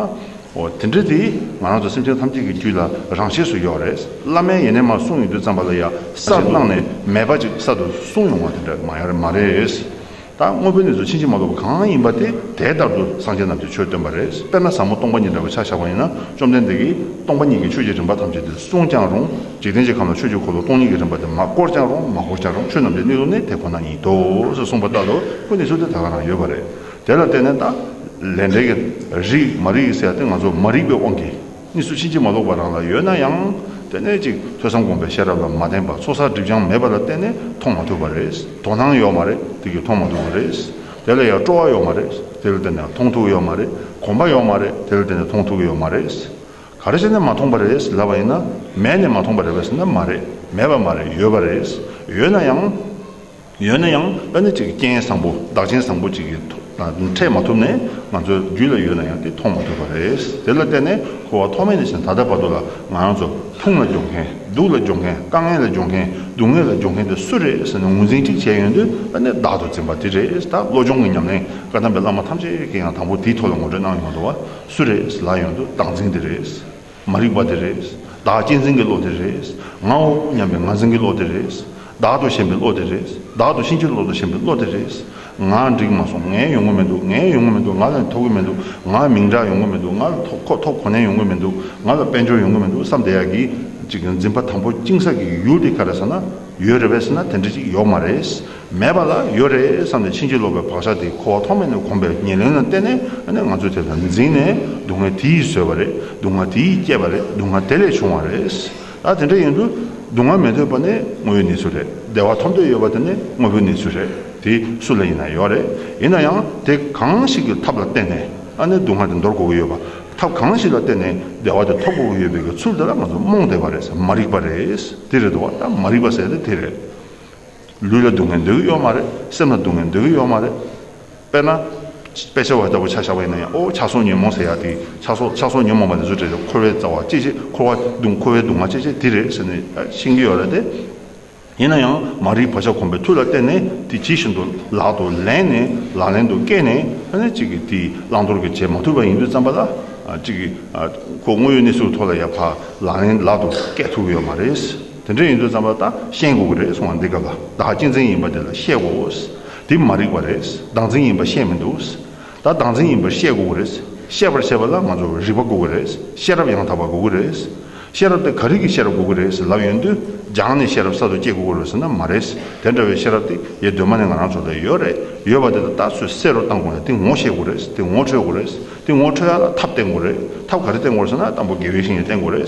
འོ་དེ་འདྲ་དེ་ང་རང་ཚོ་སེམས་ཅན་ཐམས་ཅད་ཀྱི་རྒྱུད་ལ་རང་ཆས་སུ་ཡོད་རེད་བླ་མའི་ཡེ་ནས་མ་གསུངས་ཡོད་དུས་ཙམ་པ་ལ་ཡ་གསར་གནང་ནས་མེད་པ་ཅིག་གསར་དུ་གསུངས་ཡོང་བ་དེ་འདྲ་མ་ཡ་རེད་མ་རེད། ད་དངོས་པོའི་གནས་སུ་ཕྱིན་ཅི་མ་ལོག་པ་གང་ཡིན་པ་དེ་དེ་ལྟར་དུ་སངས་རྒྱས་རྣམས་ཀྱིས་ཆོས་སྟོན་པ་རེད། དཔེར་ན་ཟབ་མོ་སྟོང་པ་ཉིད་འདྲ་བའི་ཆ་བཞག་པ་ཡིན་ན་བཅོམ་ལྡན་འདས་ཀྱིས་སྟོང་པ་ཉིད་ཀྱི་ཆོས་ཀྱི་རིམ་པ་ཐམས་ཅད་འདིར་གསུངས་ཀྱང་རུང་འཇིག་རྟེན་གྱི་ཁམས་ལ་ཆོས་ཀྱི་འཁོར་ལོ་སྟོང་ཉིད་ཀྱི་རིམ་པ་འདི་མ་བསྐོར་ཀྱང་རུང་མ་བསྐོར་ཀྱང་རུང་ཆོས་རྣམས་ཀྱི་གནས་ལུགས་ནི་དེ་ཁོ་ན་ཉིད་དོ་ཞེས་གསུངས་པ་ལྟར་དུ་ཀུན་ནས་ཆོས་དེ་ད་ག་ན་ཡོད་པ་རེད། དེ་ལ་བརྟེན་ནས་ད། ལས་འབྲས་ཀྱི། རིགས་མ་རིག་གི་སའི་སྟེང་ང་ཚོ་མ་རིག་པའི་དབང་གིས། གཉིས་སུ་ཕྱིན་ཅི་མ་ལོག་པ་རང་ལ་ཡོད་ན་ཡང། ལྟེ་གནས་གཅིག་ཐོས་བསམ་སྒོམ་པའི་ཤེས་རབ་ལ་མ་བརྟེན་པར་ཚོགས་བསགས་སྒྲིབ་སྦྱང་མེད་པ་ལ་བརྟེན་ནས་མཐོང་མ་ཐུབ་པ་རེད། དོ་སྣང་ཡོད་མ་རེད་དེ་གིས་མཐོང་མ་ཐུབ་པ་རེད། དེ་ལ་ཡང་སྤྲོ་བ་ཡོད་མ་རེད་དེ་ལ་བརྟེན་ནས་མཐོང་ཐུབ་ཡོད་མ་རེད། གོམས་པ་ཡོད་མ་རེད་དེ་ལ་བརྟེན་ནས་མཐོང་ཐུབ་ཡོད་མ་རེད། ག་རེ་བྱས་ནས་མ་མཐོང་པ་རེད་ལབ་པ་ཡིན་ན། མེད་ནས་མ་མཐོང་པ་རེད་པ་ཟེར་ན་མ་རེད་མེད་པ་མ་རེད་ཡོད་པ་རེད། ཡོད་ན་ཡང། ཡོད་ན་ཡང་ཨ་ནི་ཅིག་གི་རྐྱེན་བཟང་པོ་བདག་རྐྱེན་བཟང་པོ་ཅིག་གི་འཕྲད་མ་ཐུབ་ནས་ང་ཚོའི་རྒྱུད་ལ་ཡོད་ན་ཡང་དེ་མཐོང་མ་ཐུབ་པ་རེད། དེ་ལ་བརྟེན་ནས་ཁུ་བ་ཐོག་མེད་ནས་བཞིན་ད་ལྟ་བར་དུ་ལ་ང་རང་ཚོ་ཕུང་ལ་སྦྱོང་མཁན་སྡུག་ལ་སྦྱོང་མཁན་དཀའ་ངལ་ལ་སྦྱོང་མཁན་སྡུག་བསྔལ་ལ་སྦྱོང་མཁན་དེ་སུ་རེད་ཟེར་ནས་ངོས་འཛིན་ཅིག་བྱས་ཡོང་དུས་ཨ་ནི་བདག་ཏུ་འཛིན་པ་དེ་རེད་ད་བློ་སྦྱོང་གི་ཉམས་ལེན་བཀའ་གདམས་པའི་བླ་མ་ཐམས་ཅད་ཀྱིས་ཡང་དང་པོ་དེའི་ཐོག་ལ་ངོ་སྤྲོད་གནང་ཡོང་དུ་བ་སུ་རེད་ཟེར་ལ་ཡོང་དུས་བདག་འཛིན་དེ་རེད། མ་རིག་པ་དེ་རེད། བདག་གཅེས་འཛིན་གྱི་བློ་དེ་རེད། ངའོ་སྙམ་པའི་ངར་འཛིན་གྱི་བློ་དེ་རེད། བདག་ཏུ་ཞེན་པའི་བློ་དེ་རེད། བདག་ཏུ་ཕྱིན་ཅི་ལོག་ཏུ་ཞེན་པའི་བློ་དེ་རེད། ང་འགྲིག་མ་སོང། ངའི་ཡོང་གི་མི་འདུག་ངའི་ཡོང་གི་མི་འདུག་ང་ལ་ནི་ཐོབ་གི་མི་འདུག་ང་མིང་གྲགས་ཡོང་གི་མི་འདུག་ང་ལ་ཐོབ་ཁོ་ཐོབ་ཁོ་ནའི་ཡོང་གི་མི་འདུག་ང་ལ་དཔལ་འབྱོར་ཡོང་གི་མི་འདུག་བསམ་བསྡད་ཡག་གི་ཅིག་འཛིན་པ་དང་པོ་གཅིན་ཟགས་ཀྱི་ཡུལ་དེ་ག་རེ་ཟེར་ན་ཡོད་རེད་བས་ཟེར་ན་དེ་འདྲ་ཅིག་ཡོག་མ་རེད། མེད་པ་ལ་ཡོད་རེད་བསམ་ནས་ཕྱིན་ཅི་ལོག་པའི་བག་ཆགས་དེ་ཁོ་བ་ཐོག་མེད་ནས་གོམས་པའི་ཉེར་ལེན་ལ་བརྟེན་ནས་ང་ཚོའི་དེ་དང་འཛིངས་ནས་སྡུག་བསྔལ་དེ་ཡིས་བཟོས་པ་རེད་སྡུག་བསྔལ་དེ་ཡིས་བསྐྱེད་པ་རེད་སྡུག་བསྔལ་དེ་ལས་བྱུང་བ་རེད། ད་དེ་འདྲ་ཡིན་དུས་སྡུག་བསྔལ་མི་འདོད་པ་ནི་དངོས་ཡོད་གནས་ཚུལ་རེད་བདེ་བ་ཐོབ་འདོད་ཡོད་པ་དེ་ནི་དངོས་པོའི་གནས་ཚུལ་རེད་དེ་སུ་ལ་ཡིན་ན་ཡོད་རེད་ཡིན་ན་ཡང་དེ་གང་ཞིག་གི་ཐབས་ལ་བརྟེན་ནས་སྡུག་བསྔལ་དེ་འདོར་དགོས་ཀྱི་ཡོད་པ་ཐབས་གང་ཞིག་ལ་བརྟེན་ནས་བདེ་བ་དེ་ཐོབ་དགོས་ཀྱི་ཡོད་པའི་གི་ཚུལ་དེ་ལ་ང་ཚོ་རྨོངས་དད་པ་རེད་མ་རིག་པ་རེད་དེ་རེད་དོ་བ་ད་མ་རིག་པ་ཟེར་ན་དེ་རེད། ལུས་ལ་སྡུག་བསྔལ་འདོད་ཀྱི་ཡོད་མ་རེད། སེམས་ལ་སྡུག་བསྔལ་འདོད་ཀྱི་ཡོད་མ་རེད། དཔེར་ན། དཔེ་ཆ་བ་ལྟ་བུ་ཆ་བཞག་པ་ཡིན་ན་ཡང་ཨོ་ཆ་སོགས་ཉོན་མོངས་ཟེར་ཡག་དེ་ཆ་སོགས་ཆ་སོགས་ཉོན་མོངས་པ་དེ་ཚོ་དྲན་ནས་འཁོར་བའི་རྩ་བ་ཅི་བྱེད་འཁོར་བ་སྡུག་འཁོར་བའི་སྡུག་བསྔལ་ཅི་བྱེད་དེ་རེད་ཟེར་ནས་ཤེས་ཀྱི་ཡོད་རེད་དེ། ཡིན་ན་ཡང་མ་རིག་བག་ཆགས་གོམས་པའི་མཐུ་ལ་བརྟེན་ནས་དེ་ཇི་བཞིན་དུ་ལག་ཏུ་ལེན་ནས་ལག་ལེན་དུ་བཀལ་ནས་ཨ་ནི་གཅིག་གིས་དེ་བླང་དོར་གྱི་བྱེད་མ་ཐུབ་པ་ཡིན་དུས་བརྩམས་པ་ལ། གཅིག་གིས་ཁོ་དངོས་ཡོད་གནས་ཚུལ་ཐོག་ལ་ཡར་འཕར་ལག་ལེན་ལག་ཏུ་བཀལ་ཐུབ་ཀྱི་ཡོད་མ་རེད། དེ་འདྲ་ཡིན་དུས་རྩམ་པ་ད་ཤེས་དགོས་ཀྱི་རེད་གསུང་བ་འདི་ག་ལ་བདག་གཅེས་འཛིན་ཡིན་པ་དེ་ལ་བཤད་དགོས་ཨོས། དེ་མ་རིག་པ་རེད་བདག་འཛིན་ཡིན་པ་བཤད་མི་འདུག་ཨོས། ད་བདག་འཛིན་ཡིན་པར་བཤད་དགོས་ཀྱི་རེད། བཤད་པར་བྱེད་པ་ལ་ང་ཚོ་རིག་པ་དགོས་ཀྱི་རེད་ཤེས་རབ་ཡང་དག་པ་དགོས་ཀྱི་རེད་ཨོས། ཤེས་རབ་དེ་ག་རིགས་ཀྱི་ཤེས་རབ་དགོས་ཀྱི་རེད་ལབ་ཡོང་དུས་སྦྱངས་ནས་ཤེས་རབ་གསར་དུ་སྐྱེ་དགོས་ཀྱི་རེད་ཟེར་ན་མ་རེད་དེ་འདྲ་བའི་ཤེས་རབ་དེ་ཡེ་གདོད་མ་ནས་ང་རང་ཚོ་ལ་ཡོད་རེད་ཡོད་པ་དེ་ད་ལྟ་སུས་བསེ་རུ་བཏང་དགོས་ན་དེ་ངོ་ཤེས་དགོས་རེད་དེ་ངོ་འཕྲོད་དགོས་རེད་དེ་ངོ་འཕྲོད་ཡ་ལ་ཐབས་བསྟེན་དགོས་རེད་ཐབས་ག་རེ་བསྟེན་དགོས་རེད་ཟེར་ན་དང་པོ་དགེ་བའི་བཤེས་གཉེན་བསྟེན་དགོས་རེད།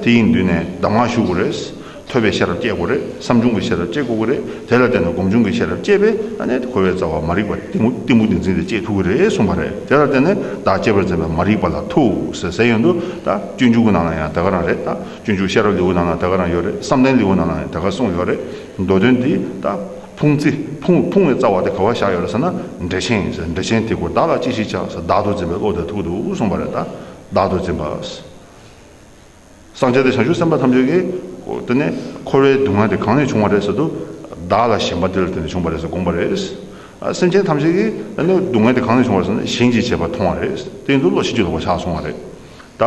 དེ་ཡི་མདུན་ནས་གདམས་ངག་ཞུ་དགོས་རེད། ཐོས་པའི་ཤེས་རབ་བསྐྱེད་དགོས་རེད། བསམ་བྱུང་གི་ཤེས་རབ་བསྐྱེད་དགོས་གི་རེད། དེ་ལ་བརྟེན་ནས་སྒོམ་བྱུང་གི་ཤེས་རབ་བསྐྱེད་པས་ཨ་ནེ་གོ་བའི་རྩ་བ་མ་རིག་པ་སྟེང་བུ་སྟེང་བུ་འདི་འཛིན་ཏེ་བསྐྱེད་ཐུབ་གི་རེད་གསུངས་པ་རེད། དེ་ལ་བརྟེན་ནས་བདག་གཅེས་པར་འཛིན་པའི་མ་རིག་པ་ལ་ཐུགས་ཟད་ཟད་ཡོད་འདུག་ད་སྤྱོད་འཇུག་གི་ནང་ལ་ཡང་དེ་ག་རང་རེད། སྤྱོད་འཇུག་ཤེས་རབ་ལེའུ་ནང་ལ་དེ་ག་རང་ཡོད་རེད་བསམ་གཏན་ལེའུ་ནང་ལ་ཡང་དེ་ག་གསུངས་ཡོད་རེད། མདོ་དོན་འདི་ད་ཕུང་རྩི་ཕུང་ཕུང་བའི་རྩ་བ་དེ་ག་བ་བཞག་ཡོད་རེད་ཟེར་ན་འགྲེལ་ཆེན་ཟེར་འགྲེལ་ཆེན་དེ་ཀོ་བདག་ལ་ཅི་ཞིག་ཆགས་ཟེར་བདག་ཏུ་འཛིན་པའི་བློ་དེ་ཐུག་འདུག་གསུངས་པ་རེད། བདག་ཏུ་འཛིན་པ། སངས་རྒྱས་དང་བྱང་ཆུབ་སེམས་དཔའ་ཐམས་ཅད་ཀྱིས། དེ་ནས་འཁོར་བའི་སྡུག་བསྔལ་དེ་གང་ནས་བྱུང་བ་རེད་ཟེར་དུ། བདག་ལ་ཞེན་པ་དེ་ལ་དེ་ནས་བྱུང་བ་རེད་ཟེར་དགོངས་པ་རེད། སེམས་ཅན་ཐམས་ཅད་ཀྱིས་དེ་ནས་སྡུག་བསྔལ་དེ་གང་ནས་བྱུང་བ་རེད་ཟེར་ན་ཞིང་གཅིག་བྱས་པ་མཐོང་བ་རེད། དེ་ཡིན་དུ་བློ་ཤིན་ཏུ་ལོག་པ་ཆགས་སོང་བ་རེད། ད་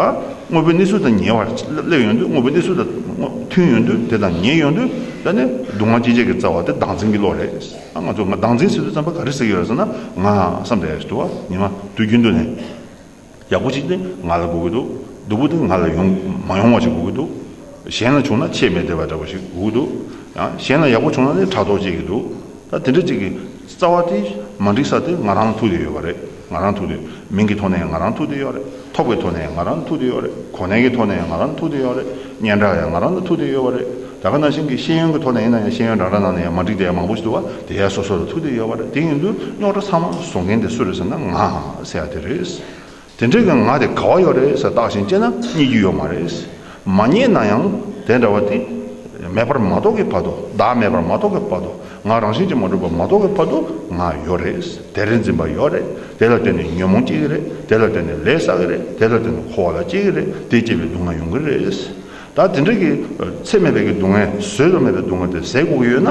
དངོས་པོའི་གནས་ཚུལ་དང་ཉེ་བར་སླེབས་ཡོང་དུས་དངོས་པོའི་གནས་ཚུལ་དང་མཐུན་ཡོང་དུས་དེ་དང་ཉེ་ཡོང་དུས་དེ་ནས་སྡུག་བསྔལ་སྐྱེད་བྱེད་ཀྱི་རྩ་བ་དེ་བདག་འཛིན་གྱི་བློ་རེད། ང་ཚོས་ང་བདག་འཛིན་ཟེར་དུས་བརྩམས་པ་ག་རེ་ཟེར་གྱི་ཡོད་རེད་ཟེར་ན། ང་བསམ་པའི་དུ་བ་ཉི་མ་དུས་རྒྱུན་དུ་ནས། ཡག་པོ་ཅིག་དེ་ང་ལ་དགོས་ཀྱི་འདུག་སྡུག་པོ་དེ་ང་ལ་ཡོང་མ་ཡོང་བ་ཅིག་དགོས་ཀྱི་འདུག་གཞན་ལ་བྱུང་ན་ཆེས་མི་བདེ་བ་འདྲ་བོ་ཞིག་དགོས་ཀྱི་འདུག་ཡང་གཞན་ལ་ཡག་པོ་བྱུང་ན་ནི་ཕྲག་དོག་སྐྱེས་ཀྱི་འདུག་ད་དེ་འདྲ་ཅིག་གི་རྩ་བ་དེ་མ་འགྲིག་ས་དེ་ང་རང་ལ་ཐུག་བསྡད་ཡོད་པ་རེད་ང་རང་ཐུག་བསྡད་མིང་གི་ཐོག་ནས་ང་རང་ཐུག་བསྡད་ཡོད་རེད་ཐོག་གི་ཐོག་ནས་ང་རང་ཐུག་བསྡད་ཡོད་རེད་གོ་གནས་ཀྱི་ཐོག་ནས་ང་རང་ཐུག་བསྡད་ཡོད་རེད་སྙན་གྲགས་ཡང་ང་རང་ལ་ཐུག་བསྡད་ཡོད་པ་རེད་ད་ག་ནང་བཞིན་གྱི་ཤེས་ཡོན་གྱི་ཐོག་ནས་ཡིན་ན་ཡང་ཤེས་ཡོན་རང་རང་ནང་ནས་ཡང་མ་འགྲིག་དེ་ཡང་མང་པོ་ཞིག་འདུག་བ་དེ་ཡང་སོ་སོ་ལ་ཐུག་བསྡད་ཡོད་པ་རེད་དེ་ཡིན་དུས་རྙོག་གྲ་ཚང་མ་བཟོ་མཁན་དེ་སུ་རེད་ཟེར་ན་ང་ཟེར་ཡག་དེ་རེད། དེ་འདྲའི་གི་ང་དེ་ག་བ་ཡོད་རེད་ཟེར་བརྟག་བཞིན་སྤྱད་ན་རྙེད་རྒྱུ་ཡོད་མ་རེད། མ་རྙེད་ན་ཡང་དེ་འདྲ་བ་དེ་མེད་པར་མ་རྟོགས་ཀི་བར་དུ་བདག་མེད་པར་མ་རྟོགས་ཀི་བར་དུ་ང་རང་བཞིན་གྱིས་མ་གྲུབ་པར་མ་རྟོགས་ཀི་བར་དུ་ང་ཡོད་རེད། དེ་རེད་འཛིན་པ་ཡོད་རེད་དེ་ལ་བརྟེན་ནས་ཉོན་མོངས་སྐྱེ་གི་རེད་དེ་ལ་བརྟེན་ནས་ལས་བསགས་ཀི་རེད་དེ་ལ་བརྟེན་ནས་འཁོར་བ་ལ་སྐྱེ་གི་རེད་དེ་སྐྱེས་པས་སྡུག་བསྔལ་མྱོང་གི་རེད། ད་དེ་འདྲ་གི་ཚེ་མེད་པའི་གི་སྡུག་བསྔལ་བཟོད་དུ་མེད་པའི་སྡུག་བསྔལ་དེ་ཟས་ལྐུགས་ཡོད་ན།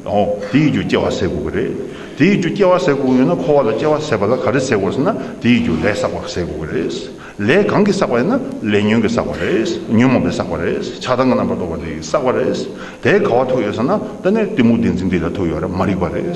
ཨོ། དེ་ཡི་རྒྱུ་སྐྱེ་བ་ཟས་ལྐུགས་ཀྱི་རེད། དེ་ཡི་རྒྱུ་སྐྱེ་བ་ཟས་ལྐུགས་ཡོད་ན་འཁོར་བ་ལ་སྐྱེ་བ་ཟད་པ་ལ་ག་རེ་ཟས་དགོས་ཟེར་ན་དེ་ཡི་རྒྱུ་ལས་བསགས་པ་ཟས་ལྐུགས་ཀྱི་རེད། ལས་གང་གིས་བསགས་པ་ཡིན་ན་ལས་ཉོན་གྱིས་བསགས་པ་རེད། ཉོན་མོངས་པས་བསགས་པ་རེད། ཆགས་སྡང་གི་རྣམ་པར་རྟོག་པ་དེ་ཡིས་བསགས་པ་རེད། དེས་ག་བ་ཐུག་ཡོད་ཟེར་ན་ད་ནི་གཏི་མུག་བདེན་འཛིན་དེ་ལས་ཐུག་ཡོད་རེད་མ་རིག་པ་རེད།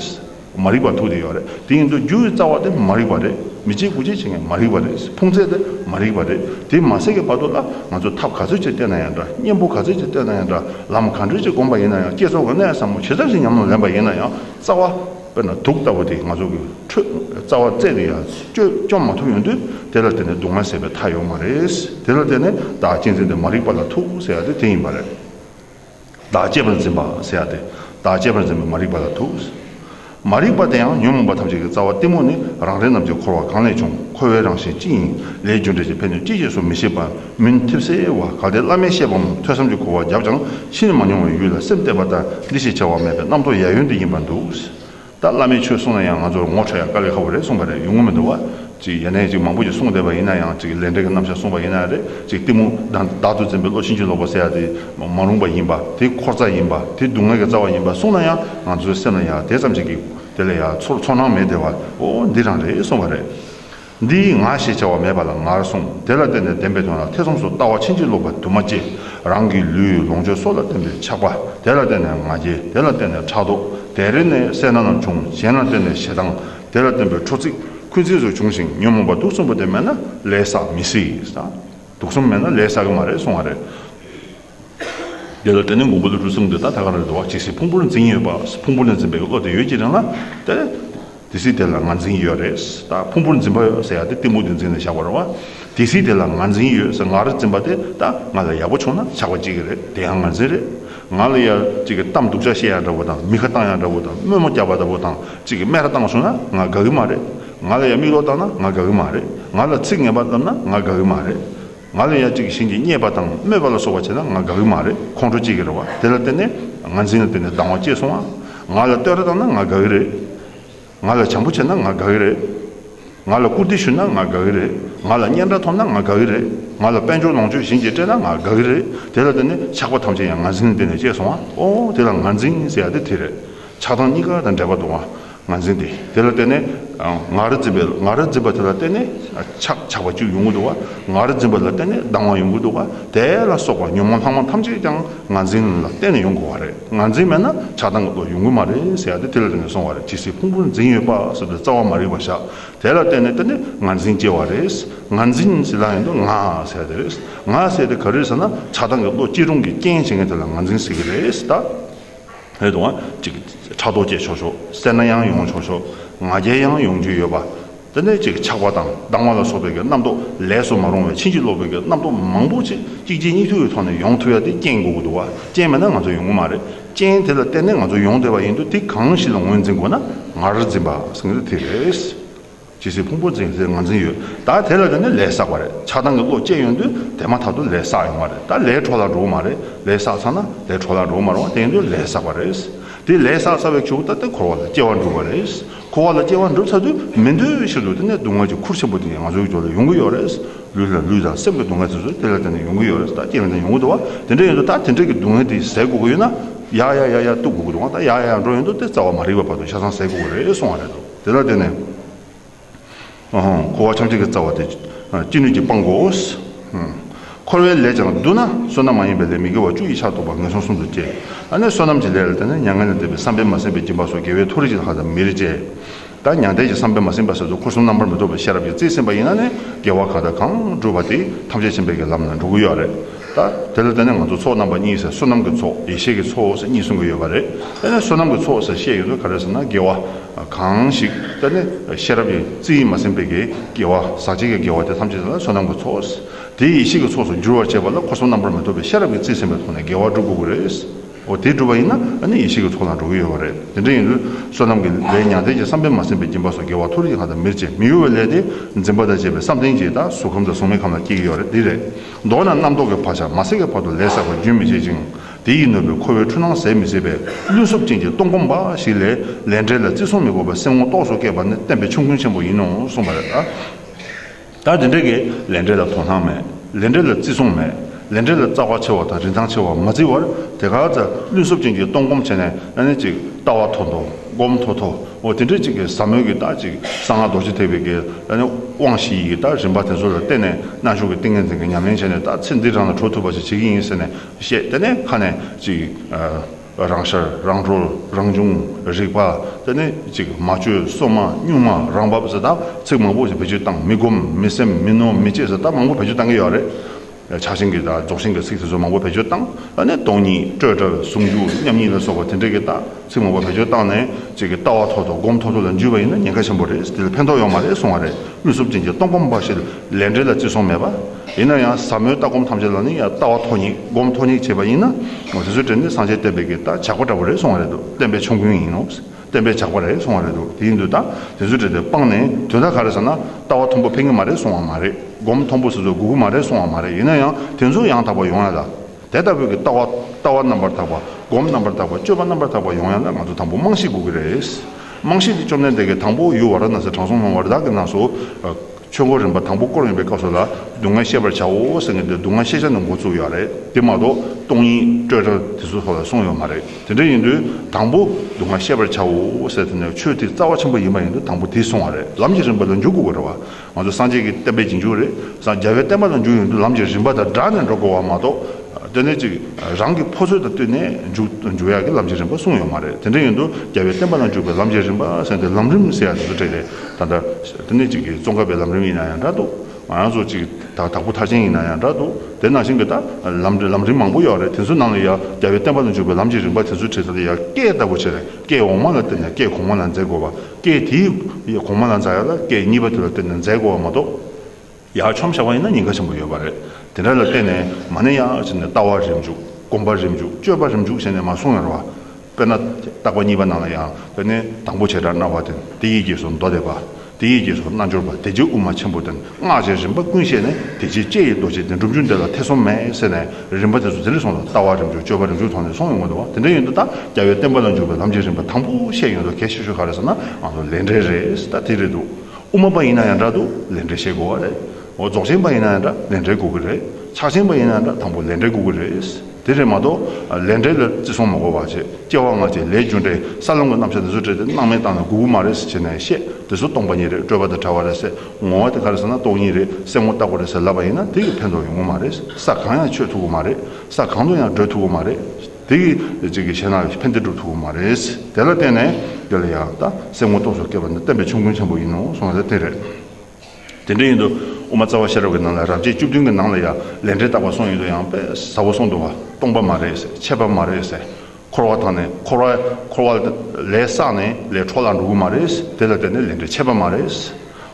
མ་རིག་པ་ཐུག་དེ་ཡོད་རེད་དེ་ཡིན་དུས་རྒྱུ་ཡི་རྩ་བ་དེ་མ་རིག་པ་རེད་མི་བྱེད་དགུ་བྱེད་བྱེད་མཁན་མ་རིག་པ་རེད་ཕུང་ཚད་དེ་མ་རིག་པ་རེད་དེ་མ་ཟད་ཀྱི་བར་དུ་ལ་ང་ཚོས་ཐབས་ག་ཚོད་ཅིག་བསྟེན་ན་ཡང་འདྲ་གཉེན་པོ་ག་ཚོད་ཅིག་བསྟེན་ན་ཡང་འདྲ་ལམ་ག་འདྲུལ་ཅིག་བསྒོམ་པ་ཡིན་ན་ཡང་བསྐྱེད་རྫོགས་ཀྱི་གནད་ཟབ་མོ་ཇི་ལྟར་ཞིག་ཉམས་སྣང་ལེན་པ་ཡིན་ན་ཡང་རྩ་བ་དཔེར་ན་དུག་ལྟ་བུ་དེ་ང་ཚོ་གི་ཁྲོད་རྩ་བ་རྩད་དེ་ཡང་བཅོས་བཅོམ་མ་ཐུབ་ཡོང་དུས་དེ་ལ་བརྟེན་ནས་སྡུག་བསྔལ་ཟད་པའི་མཐའ་ཡོད་མ་རེད་དེ་ལ་བརྟེན་ནས་བདག་གཅེས་འཛིན་དེ་མ་རིག་པ་ལ་ཐུག་ཟེར་ཡ་དེ་དེ་ཡིན་པ་རེད། བདག་བསྐྱེད་པར་འཛིན་པ་ཟེར་ཡ་སྟེ། བདག་བསྐྱེད་པར་འཛིན་པའི་མ་རིག་པ་ལ་ཐུག། མ་རིག་པ་དེ་ཡང་ཉོན་མོངས་པ་ཐམས་ཅད་ཀྱི་རྩ་བ་གཏི་མུག་ནི་རང་རིག་རྣམས་ཀྱི་འཁོར་བ་གང་ལས་བྱུང་འཁོར་བའི་རང་བཞིན་ཅི་ཡིན་ལས་རྒྱུ་འབྲས་ཀྱི་ཕན་གནོད་ཅི་ཞེས་སུ་མི་ཤེས་པ་མུན་ཐིབས་སེ་བ་ག་སྟེ་བླ་མའི་བཤད་པའམ་ཐོས་བསམ་གྱི་གོ་བ་བརྒྱབ་ཀྱང་ཕྱིས་ནས་མ་མྱོང་བའི་ཡུལ་ལ་སེམས་གཏད་པ་ལྟར་འདི་ཞེས་བྱ་བ་མེད་པའི་རྣམ་རྟོག་ཡལ་ཡོལ་འདི་ཡིན་པར་འདུག། ད་བླ་མས་ཆོས་གསུངས་ན་ཡང་ང་ཚོར་ངོ་འཕྲོད་ཡ་དཀའ་ལས་ཁ་བོ་རེད་གསུངས་པ་རེད་ཡུལ་ངོ་མི་འདུག་བ། ཡ་ནས་ཅིག་མང་པོ་ཅིག་གསུངས་བསྡད་པ་ཡིན་ན་ཡང་ཅིག་ལས་འབྲས་ཀྱི་རྣམ་བཞག་གསུངས་པ་ཡིན་ན་རེད་ཅིག་གཏི་མུག་དང་བདག་ཏུ་འཛིན་པའི་བློ་ཕྱིན་ཅི་ལོག་པ་ཟེར་ཡ་དེ་མ་རུངས་པ་ཡིན་པ་དེ་འཁོར་རྩ་ཡིན་པ་དེ་སྡུག་བསྔལ་གྱི་རྩ་བ་ཡིན་པ་གསུངས་ན་ཡང་ང་ཚོའི་སེམས་ལ་ཡ་དེ་ཙམ་ཅིག་གིས་དེ་ལས་ཡ་ཚོར་ཚོར་སྣང་མེད་བསྡད་བ་འོ་འདི་རང་རེད་གསུངས་པ་རེད། འདི་ཡིས་ང་ཞེས་བྱ་བ་མེད་པ་ལ་ངར་གསུངས་དེ་ལ་བརྟེན་ནས་བདེན་པའི་དོན་ལ་ཐེ་ཚོམ་སོགས་ལྟ་བ་ཕྱིན་ཅི་ལོག་པ་དུ་མ་སྐྱེས། རང་གི་ལུས་ལོངས་སྤྱོད་སོགས་ལ་བརྟེན་པའི་ཆགས་པ་དེ་ལ་བརྟེན་ནས་ང་རྒྱལ་དེ་ལ་བརྟེན་ནས་ཕྲག་དོག་དེ་རེ་ནས་སེར་སྣ་རྣམས་བྱུང་གཞན་ལ་བརྟེན་ནས་ཞེ་སྡང་དེ་ལ་བརྟེན་པའི་ཁྲོ་ཚིག་ཁུན་ཚིག་སོགས་བྱུང་ཞིང་ཉོན་མོངས་པ་དུག་གསུམ་པོ་དེ་མེད་ན་ལས་བསགས་མི་སྲིད། དུག་གསུམ་མེད་ན་ལས་བསགས་ཀྱི་མ་རེད་གསུང་བ་རེད། འདི་ལ་དེ་ནི་མགོན་པོ་ལི་ཀྲུའུ་གསུངས་དེ་ལྟར་ད་ག་རེ་རེ་བ་གཅིག་ཞིག་ཕུང་པོར་འཛིན་ཡོད་པ་ཕུང་པོ་ལ་འཛིན་པའི་བློ་དེ་ཡོད་ཅེས་དྲན་ལ། དེ་དེ་སྲིད་དེ་ལ་ང་འཛིན་ཡོད་རེད་ད་ཕུང་པོར་འཛིན་པ་ཡོད་ཟེར་ཡག་དེ་གཏི་མུག་དེ་འཛིན་ནས་བཞག་པ་རེད་བ། དེ་སྲིད་དེ་ལ་ང་འཛིན་ཡོད་ཟེར་ང་རེ་འཛིན་པ་དེ་ད་ང་ལ་ཡག་པོ་བྱུང་ན་ཆགས་པ་ཅིག་གི་རེད་དེ་ཡང་ང་འཛིན་རེད། ང་ལ་ཡ་གཅིག་གི་གཏམ་སྡུག་ཅག་བཤད་ཡག་འདྲ་བོ་དང་མི་ཁ་བཏང་ཡག་འདྲ་བོ་དང་དམོད་མོ་རྒྱག་པ་ལྟ་བུ་དང་གཅིག་གི་སྨད་ར་བཏང་བྱུང་ན་ང་དགའ་གི་མ་རེད། ང་ལ་ཡ་མིག་ལོག་བཏང་ན་ང་དགའ་གི་མ་རེད། ང་ལ་ཚིག་ངན་པ་བསླབས་ན་ང་དགའ་གི་མ་རེད། ང་ལ་ཡང་གཅིག་གཞན་གྱིས་བརྙས་པ་དང་སྨོད་པ་ལ་སོགས་པ་བྱས་ན་ང་དགའ་གི་མ་རེད་ཁོང་ཁྲོ་སྐྱེ་གི་རེད་བ་དེ་ལ་བརྟེན་ནས་ང་འཛིན་ལ་བརྟེན་ནས་སྡང་བ་སྐྱེས་སོང་བ། ང་ལ་བསྟོད་ར་བཏང་ན་ང་དགའ་གི་རེད། ང་ལ་བྱམས་པོ་བྱས་ན་ང་དགའ་གི་རེད། ང་ལ་བཀུར་སྟི་ཞུས་ན་ང་དགའ་གི་རེད། ང་ལ་སྙན་གྲགས་ཐོབ་ན་ང་དགའ་གི་རེད། ང་ལ་དཔལ་འབྱོར་ལོངས་སྤྱོད་གཞན་གྱིས་སྤྲད་ན་ང་དགའ་གི་རེད་དེ་ལ་བརྟེན་ནས་ཆགས་པ་ཐམས་ཅད་ཡང་ང་འཛིན་ལ་བརྟེན་ནས་སྐྱེས་སོང་བ། ཨོ་དེ་ལ་ང་འཛིན་ཟེར་ཡ་དེ་དེ་རེད། ཆགས་སྡང་གཉིས་ཀ་དང་འབྲེལ་བ་འདུག་བ། ངར་འཛིན་ཏེ། དེ་ལ་བརྟེན་ནས་ངར་འཛིན་པས་ངར་འཛིན་པ་དེ་ལ་བརྟེན་ནས་ཆགས་ཆགས་པ་གཅིག་ཡོང་གི་འདུག་བ། ངར་འཛིན་པ་ལ་བརྟེན་ནས་སྡང་བ་ཡོང་གི་འདུག་བ། དེ་ལ་སོགས་པ་ཉོན་མོངས་ལྷག་མ་ཐམས་ཅད་ཀྱང་ངར་འཛིན་ལ་བརྟེན་ནས་ཡོང་དགོས་བ་རེད། ངར་འཛིན་མེད་ན་ཆགས་སྡང་གི་བློ་ཡོང་གི་མ་རེད་ཟེར་ཡ་དེ་དེ་ལ་བརྟེན་ནས་སོང་བ་རེད་ཇི་སྲིད་ཕུང་པོ་འཛིན་ཡོད་པ་སྲིད་དུ་རྩ་བ་མ་རིག་པ་བཞག་དེ་ལ་བརྟེན་ནས་དེ་ནི་ངར་འཛིན་སྐྱེ་བ་རེད། ངར་འཛིན་ཟེར་ལ་ཡང་དུ་ང་ཟེར་ཡ་དེ་རེད། ང་ཟེར་དེ་ག་རེད་ཟེར་ན་ཆགས་སྡང་གི་བློ་སྐྱེ་རུང་གི་རྐྱེན་བྱེད་མཁན་དེ་ལ་ངར་འཛིན་ཟེར་གི་རེད་ད། ལྷོའི་དུ་བ། ཅིག། ཕྲག་དོག་བཅས་ཆོག་ཆོག། སེར་སྣ་ཡང་ཡོང་ཆོག་ཆོག། ང་རྒྱལ་ཡང་ཡོང་རྒྱུ་ཡོད་པ། དེ་ནས་ཅིག་ཆགས་པ་དང་སྡང་བ་ལ་སོགས་པའི་རྣམ་རྟོག་ལས་སུ་མ་རུང་བའི་ཕྱིན་ཅི་ལོག་པའི་རྣམ་རྟོག་མང་པོ་ཅིག་གཅིག་རྗེས་གཉིས་མཐུད་ཀྱི་ཐོག་ནས་ཡོང་ཐུབ་ཡ་དེ་རྐྱེན་དགོས་ཀྱི་འདུག་བ་རྐྱེན་མེད་ན་ང་ཚོ་ཡོང་གི་མ་རེད་རྐྱེན་དེ་ལ་བརྟེན་ནས་ང་ཚོ་ཡོང་བསྡད་པ་ཡིན་དུས་དེ་གང་ཞིག་ལ་ངོས་འཛིན་དགོས་ན་ངར་འཛིན་པ། དེ་རེད། ཇི་སྲིད་ཕུང་པོ་འཛིན་ཚེ་ང་འཛིན་ཡོད་ད་དེ་ལ་བརྟེན་ནས་ལས་བསགས་པ་རེད་ཆགས་སྡང་གི་བློ་སྐྱེས་ཡོང་དུས་དེ་མ་ཐག་ཏུ་ལས་བསགས་ཡོང་བ་རེད་ད་ལས་འཕྲོ་བརླག་འགྲོ་གི་མ་རེད་ལས་བསགས་ཚར་ན་ལས་འཕྲོ་བརླག་འགྲོ་གི་མ་རུང་བ་དེ་ཡིན་དུས་ལས་བསགས་པ་རེད་དེ་ལས་བསགས་ཚར་བའི་ཆུ་བོ་ལྟ་སྟེ་འཁོར་བ་ལ་སྐྱེ་བ་འགྲུབ་པ་རེད་འཁོར་བ་ལ་སྐྱེ་བ་འགྲུབ་ཚར་དུས་མི་འདོད་ཕྱིར་དུ་དེ་ནས་སྡུག་བསྔལ་གྱི་ཁུར་ཆེན་པོ་དེ་ང་ཚོའི་ཞོར་ལ་ཡོང་གི་ཡོད་རེད་ལུས་ལ་ལུས་དང་སེམས་ཀྱི་སྡུག་བསྔལ་དེ་ཚོ་དེ་ལ་བརྟེན་ནས་ཡོང་གི་ཡོད་རེད་ད་སྐྱེ་བའི་མཐར་ཡོང་གི་འདུག་བ་དེ་འདྲ་ཡིན་དུས་ད་དེ་འདྲ་གི་སྡུག་བསྔལ་དེ་ཟད་དགོས་ཀྱི་ཡོད་ན་ཡ་ཡ་ཡ་ཡ་གཏུགས་དགོས་ཀྱི་འདུག་བ་ད་ཡ་ཡ་ཡ་འགྲོ་ཡོང་དུས་དེ་རྩ་བ་མ་རིག་པ་བར་དུ་ཤ་ཚང་ཟད་དགོས་ཀྱི་རེད་གསུངས་བ་རེད་དོ། དེ་ལ་བརྟེན་ནས། འཁོར་བ་ཕྱམ་གཅིག་གི་རྩ་བ་དེ་ཅི་ནུས་ཀྱིས་སྤང་དགོས། འཁོར་བའི་ལས་ཀྱང་བསྡུ་ན་བསོད་ནམས་མ་ཡིན་པའི་ལས་མི་དགེ་བ་བཅུ་ཡིས་ཆགས་ཐོབ་པ་ངན་སོང་གསུམ་དུ་སྐྱེ། ཨ་ནི་བསོད་ནམས་ཀྱི་ལས་ལ་བརྟེན་ནས་མྱ་ངན་ལས་འདས་པའི་བསམ་པས་མ་ཟིན་པའི་སྦྱིན་པ་སོགས་དགེ་བའི་མཐོ་རིས་ཀྱི་ལྷ་དང་མིར་སྤྱད། ད་མྱང་འདས་ཀྱི་བསམ་པས་མ་ཟིན་པ་ཟེར་དུ་འཁོར་གསུམ་རྣམ་པར་མི་རྟོག་པའི་ཤེས་རབ་ཀྱི་རྩིས་ཟིན་པ་ཡིན་ན་ནི་དགེ་བ་གང་དང་གང་བསྒྲུབས་པ་དེ་ཐམས་ཅད་བྱིན་པའི་གྱི་ལམ་ལ་འགྲོ་གི་ཡོད་རེད། ད་དེ་ལ་བལྟས་ན་ང་ཚོ་ཚོགས་རྣམ་པ་གཉིས་ཟེར་བསོད་ནམས་ཀྱི་ཚོགས་ཡེ་ཤེས་ཀྱི་ཚོགས་ཟེར་གཉིས་གསུང་གི་ཡོད་པ་རེད་དཔེར་ན་བསོད་ནམས་ཀྱི་ཚོགས་ཟེར་བཤད་ཡོད་ཚོད་ག་རེ་ཟེར་ན་དགེ་བ་གང་ཞིག་དཔེར་ན་ཤེས་རབ་ཀྱི་རྩི་ཡིས་མ་ཟིན་པའི་དགེ་བ་ཟག་བཅས་ཀྱི་དགེ་བ་དེ་ཐམས་ཅད་ལ་བསོད་ནམས་ཀྱི་ཚོགས་དེ་ཡེ་ཤེས་ཀྱི་ཚོགས་སུ་བསྒྱུར་བར་བྱེད་པ་ལ་འཁོར་གསུམ་རྣམ་པར་མི་རྟོག་པའི་ཤེས་རབ་ཀྱི་རྩིས་ཟིན་པའི་ཐོག་ནས་དགེ་བ་བསྒྲུབ་དགོས་ཀྱི་རེད། འོ་དེ་བསྒྲུབ་པ་ཡིན་ན་ནི་ཡེ་ཤེས་ཀྱི་ཚོགས་ལ་འགྲོ་གི་ཡོད་པ་རེད་དེ་འདྲ་ཡིན་དུས་བསོད་ནམས་ཀྱི་ལས་མྱང་འདས་ཀྱི་བསམ་གཏན་མ་ཟིན་པའི་སྦྱིན་པ་སོགས་དགེ་བ་ཐུགས་རྗེ་གང་དང་མིར་བཅས་མི་གཡོ་བའི་ལས་དེ་འཛིན་པ་དང་བཅས་པའི་བསམ་གཏན་གྱིས་ད་གཟུགས་ཁམས་དང་གཟུགས་མེད་ཁམས་ལ་སྐྱེ་གི་ཡོད་རེད་འདི་རེད། མདོར་ན་རྣམ་རྟོག་གི་བག་ཆགས་མ་སེལ་བའི་བར་དུ་ལས་བསགས་པ་རྒྱུན་མི་འཆད་ཅིང་དེ་ཡིས་ནོར་བའི་འཁོར་བའི་འཁྲུལ་སྣང་ཟད་མི་བྱེད་པས་བླུན་སོབ་ཅན་གྱི་སྟོང་སྒོམ་འབའ་ཞིག་ལས་ལས་འབྲས་ལ་བརྩི་སྲུང་མི་དགོས་པར་སེམས་ངོ་རྟོགས་སུ་བསྐྱེད་པ་ནི་བསྟན་པའི་ཆོས་མགོན་ཆེན་པོ་ཡིན་ནོ་གསུངས་པ་རེད། ད་དེ་འདྲ་གི་ལས་འབྲས་ལ་དོ་སྣང་མེད་ལས་འབྲས་ལ་བརྩི་སྲུང་མེད་ལས་འབྲས་ལ་རྩ་བ་ཆེ་བ་དང་རིན་ཐང་ཆེ་བ་མ་བརྩི་བར་དེ་ག་ཚ་བླུན་སོབ་ཅན་གྱི་སྟོང་སྒོམ་བྱས་ནས་ནི་ཅིག་ལྟ་བ་ཐོ་ཐོ་སྒོམ་ཐོ་ཐོ། འོ་དེ་འདྲའི་གཅིག་གིས་ཟབ་མོའི་གི་རྟགས་གཅིག་གསང་སྔགས་རྡོ་རྗེ་ཐེག་པའི་གི་རྟགས་ནི་དབང་བཞི་ཡི་གི་རྟགས་རིམ་པ་དེ་ཚོ་ལ་བརྟེན་ནས་རྣལ་འབྱོར་གི་ཏིང་ངེ་འཛིན་གི་ཉམས་ལེན་བྱས་ནས་རྟགས་ཚེ་འདི་རང་ལ་འཕྲོ་ཐུབ་པ་ཞིག་བྱེད་ཀྱི་ཡིན་ཟེར་ནས་བཤད་དེ་ནས་ཁ་ནས་གཅིག་རང་ཤར་རང་གྲོལ་རང་བྱུང་རིག་པ་དེ་ནི་གཅིག་མ་བཅོས་སོ་མ་གཉུག་མ་རང་བབས་ཟེར་རྟགས་ཚིག་མང་པོ་ཞིག་བེད་སྤྱོད་བཏང་མི་སྒོམ་མི་སེམས་མི་ནོར་མི་བྱེད་ཟེར་རྟགས་མང་པོ་བེད་སྤྱོད་བཏང་གི་ཡོད་རེད། ཆགས་ཞེན་གྱི་རྟགས་རྫོགས་ཞེན་གྱི་ཚིག་ཚེ་སྲོག་མང་པོ་བེད་སྤྱོད་བཏང་ལ་ནི་སྟོང་ཉིད་སྤྲོས་བྲལ་བའི་ཟུང་འཇུག་མཉམ་ཉིད་ལ་སོགས་པ་དེ་འདྲ་གྱི་རྟགས་ཚིག་མང་པོ་བེད་སྤྱོད་བཏང་ནས་ཅིག་གི་ལྟ་བ་ཐོག་ཐོག་སྒོམ་ཐོག་ཐོག་ལ་འཇུས་པ་ཡིན་ན་ཉེན་ཁ་ཆེན་པོ་རེད་དེ་ལ་ཕན་ཐོག་ཡོང་མ་རེད་གསུང་བ་རེད་དབུས་སུབ་ཅན་གྱི་སྟོང་སྒོམ་པ་ཞིག་ལས་འབྲས་ལ་བརྩི་སྲུང་མེད་པ། ཡིན་ན་ཡང་ཟབ་མོའི་ལྟ་སྒོམ་ཐམས་ཅད་ལ་ནི་ཡང་ལྟ་བ་ཐོག་ཉིད་སྒོམ་ཐོག་ཉིད་བྱེད་པ་ཡིན་ན་དེ་ཚོའི་གྲས་ནི་སངས་རྒྱས་བསྟན་པའི་གྱི་རྟགས་ཇག་པ་འདྲ་པོ་རེད་གསུང་བ་རེད་དོ་བསྟན་པའི་ཆོམ་རྐུན་ཡིན་ནོ། བསྟན་པའི་ཇག་པ་རེད་སོང་བ་རེད་འདུག་དེ་ཡིན་དུས་ད་དེ་ཚོའི་གྲས་དེ་སྤངས་ནས་དོན་དག་ག་རེ་ཟེར་ན་ལྟ་བ་མཐོན་པོ་ཕན་གྱི་མ་རེད་སོང་བ་མ་རེད་སྒོམ་མཐོན་པོ་ཟེར་ཚོ་སྒུག་གི་མ་རེད་སོང་བ་མ་རེད་ཡིན་ན་ཡང་དེ་ཚོ་ཡང་དག་པ་ཡོང་ཡ་ལ། དེ་ལྟ་བུའི་གི་ལྟ་བ་ལྟ་བ་རྣམ་པར་དག་པ་སྒོམ་རྣམ་པར་དག་པ་སྤྱོད་པ་རྣམ་པར་དག་པ་ཡོང་ཡ་ལ་ང་ཚོ་དང་པོ་རྨང་གཞི་སྒུག་གི་རེད་རྨང་གཞི་དེ་བཅོམ་ལྡན་འདས་ཀྱི་དང་པོ་ཡུལ་བ་ར་ན་སའི་དྲང་སྲོང་སྣང་བ་རི་དྭགས་ཀྱི་ནགས་སུ། ཆོས་འཁོར་རིམ་པ་དང་པོ་སྐོར་ཡོང་པའི་སྐབས་སུ་ལ་སྡུག་བསྔལ་ཤེས་པར་བྱའོ་ཟེར་མཁན་དེ་སྡུག་བསྔལ་ཤེས་བྱ་ནི་འགོ་བཙུགས་ཡོད་རེད་དེ་མ་གཏོགས་སྟོང་ཉིད་སྤྲོས་བྲལ་དེ་ཚོ་སོགས་ལ་གསུངས་ཡོད་མ་རེད་དེ་འདྲ་ཡིན་དུས་དང་པོ་སྡུག་བསྔལ་ཤེས་པར་བྱའོ་ཟེར་དེ་ནི་ཆོས་དེ་རྩ་བ་ཆེན་པོ་ཡིན་པ་ཡིན་དུས་དང་པོ་དེ་སོང་བ་རེད་ལམ་གྱི་རིམ་པ་ལ་འཇུག་དགོས་པར་རེད་བ་ང་ཚོ་སངས་རྒྱས་ཀྱི་བསྟན་པའི་རྗེས་འཇུག་རེད་སངས་རྒྱ་བའི་བསྟན་པ་ལ་འཇུག་ཡོང་དུས་ལམ་གྱི་རིམ་པ་དང་སྦྲགས་ནས་འགྲོ་དགོས་བ་མ་གཏོགས་ལྟོས་ནས་ཅིག་རང་གི་ཕོ་ཚོད་དང་བསྟུན་ནས་འཇུག་འཇུག་ཡག་གི་ལམ་གྱི་རིམ་པ་གསུངས་ཡོད་མ་རེད་དེ་འདྲ་ཡིན་དུས་རྒྱ་བའི་བསྟན་པ་ལ་འཇུག་པའི་ལམ་གྱི་རིམ་པ་ཟེར་དེ་ལམ་རིམ་ཟེར་ཡག་དེ་ཚོ་བྲིས་རེད་ད་ལྟ་ཨིན་ནས་ཅིག་གི་ཙོང་ཁ་པའི་ལམ་རིམ་ཡིན་ན་ཡང་འདྲ་འདུག་ང་རང་ཚོ་ཅིག་ད་དྭགས་པོ་ཐག་ཆེན་ཡིན་ན་ཡང་འདྲ་འདུག་དེ་ནང་བཞིན་གྱི་ད་ལམ་རེད་ལམ་རིམ་མང་པོ་ཡོད་རེད་དེ་ཚོའི་ནང་ལ་ཡང་རྒྱལ་བའི་བསྟན་པ་ལ་འཇུག་པའི་ལམ་གྱི་རིམ་པ་དེ་ཚོའི་ཁྲིད་ལྟར་ཡང་སྐད་ལྟ་བུ་བྱེད་རེད་སྐད་འོག་མ་ལ་བརྟེན་ནས་སྐད་གོང་མ་ལ་འཛེག་དགོས་པ་སྐད་དེའི་གོང་མ་ལ་འཛག་ཡ་ལ་སྐད་གཉིས་པ་དེ་ལ་བརྟེན་ནས་འཛེག་དགོས་བ་མ་གཏོགས། ཡར་ཆོམ་བཞག་པ་ཡིན་ན་ཉེན་ཁ་ཆེན་པོ་ཡོད་པ་རེད། དེ་འདྲ་ལ་བརྟེན་ནས་མ་ནི་ཡ་ཞེས་ནས་ལྟ་བ་རེ་འཇུག་སྒོམ་པ་རེ་འཇུག་སྤྱོད་པ་རེ་འཇུག་ཞེས་ནས་མ་གསུང་ཡོང་ར་བ། དཔེར་ན། བརྟག་པ་གཉིས་པ་ནང་ལ་ཡང་དཔེར་ནི་དང་པོ་བྱེ་བྲག་སྣང་བ་སྟེ་དེ་ཡི་རྗེས་སུ་མདོ་སྡེ་པ། དེ་ཡི་རྗེས་སུ་རྣལ་འབྱོར་པ་དེ་རྗེས་དབུ་མ་ཆེན་པོ་སྟེ་སྔགས་ཀྱི་རིམ་པ་ཀུན་ཤེས་ནས་དེ་རྗེས་ལྕེ་ཡི་རྡོ་རྗེ་སྟེ་འགྲུབ་འབྱུང་འདི་ལ་ཐེ་ཚོམ་མེད་ཟེར་ནས་རིམ་པ་དེ་ཚོ་དེ་རེ་ཟུང་ལ་ལྟ་བ་རེ་འཇུག་སྤྱོད་པ་རེ་འཇུག་ཐོག་ནས་སོང་ཡོང་གི་འདུག་བ་དེ་འདྲ་ཡིན་དུ་ད་རྒྱ་བའི་བསྟན་པ་ལ་འཇུག་པའི་ལམ་གྱི་རིམ་པ་དང་པོ་བཤད་ཡོང་དུ་གལ་ཆེ་ཤོས་ག་རེ་ཟེར་ན་ང་ཚོ་ལས་འབྲས་རེད་ད་དེ་རེད་འདུག་དབུ་མ་པ་ཡིན་ན་ཡང་འདྲ་འདུག་ལས་འབྲས་བཤད་དགོས་བ་རེད། འོ་རྫོགས་ཆེན་པ་ཡིན་ན་ཡང་འདྲ་ལས་འབྲས་གོ་གི་རེད། ཕྱག་ཆེན་པ་ཡིན་ན་འདྲ་དང་པོ་ལས་འབྲས་གོ་གི་རེད། དེ་རེད་མ་གཏོགས་ལས་འབྲས་ལ་བརྩི་སྲུང་མ་དགོས་བ་བྱེད་སྐྱེ་བ་སྔ་ཕྱི་ལས་རྒྱུ་འབྲས་ས་ལམ་གྱི་རྣམ་བཤད་འདི་ཚོ་བྲིས་ཏེ་སྣང་མེད་བཏང་ནས་གུ་གུ་མ་རེད་ཟེར་བྱེད་ནས་བཤད་དེ་ཚོ་སྟོང་པ་ཉིད་རེད་སྤྲོས་པ་དང་བྲལ་བ་རེད་ཟེར་ངོ་བ་དེ་ག་རེད་ཟེར་ན་རྟོགས་ཉིད་རེད་གསལ་ངོ་རྟག་པ་རེད་ཟེར་ལབ་པ་ཡིན་ན་དེ་གིས་ཕན་ཐོགས་ཡོང་གི་མ་རེད་ས་གང་ཡང་ཆོད་ཐུབ་གི་མ་རེད་ས་གང་དུ་ཡང་བགྲོད་ཐུབ་གི་མ་རེད། དེ་གི་ཅིག་གི་ཤེས་ན་ཕན་བདེ་འགྲུབ་ཐུབ་པོ་མ་རེད། དེ་ལ་བརྟེན་ནས་འདི་ལ་ཡང་ད་སེམས་ངོ་སྟོང་སོགས་སྐྱེས་པ་འདི་བསྟན་པའི་ཆོམ་རྐུན་ཆེན་པོ་ཡིན་ནོ་གསུངས་ན་དེ་རེད། དེ་འདྲ་ཡིན་དུ་དབུ་མ་རྩ་བ་ཤེས་རབ་ཀྱི་ནང་ལ་རབ་བྱེད་བཅུ་བདུན་གྱི་ནང་ལ་ཡང་ལས་འབྲེལ་བཏགས་པ་གསུངས་ཡོད་དུ་ཡང་དཔེ་ཟ་བོ་གསུངས་འདུག་བ་སྟོང་པ་མ་རེད་ཟེར་ཆད་པ་མ་རེད་ཟེར་འཁོར་བ་དང་ནས་འཁོར་བ་འཁོར་བ་ལས་བསགས་ནས་ལས་འཕྲོ་བརླག་འགྲོ་གི་མ་རེད་དེ་ལ་བརྟེན་ནས་ལས་འབྲེལ་ཆད་པ་མ་རེད།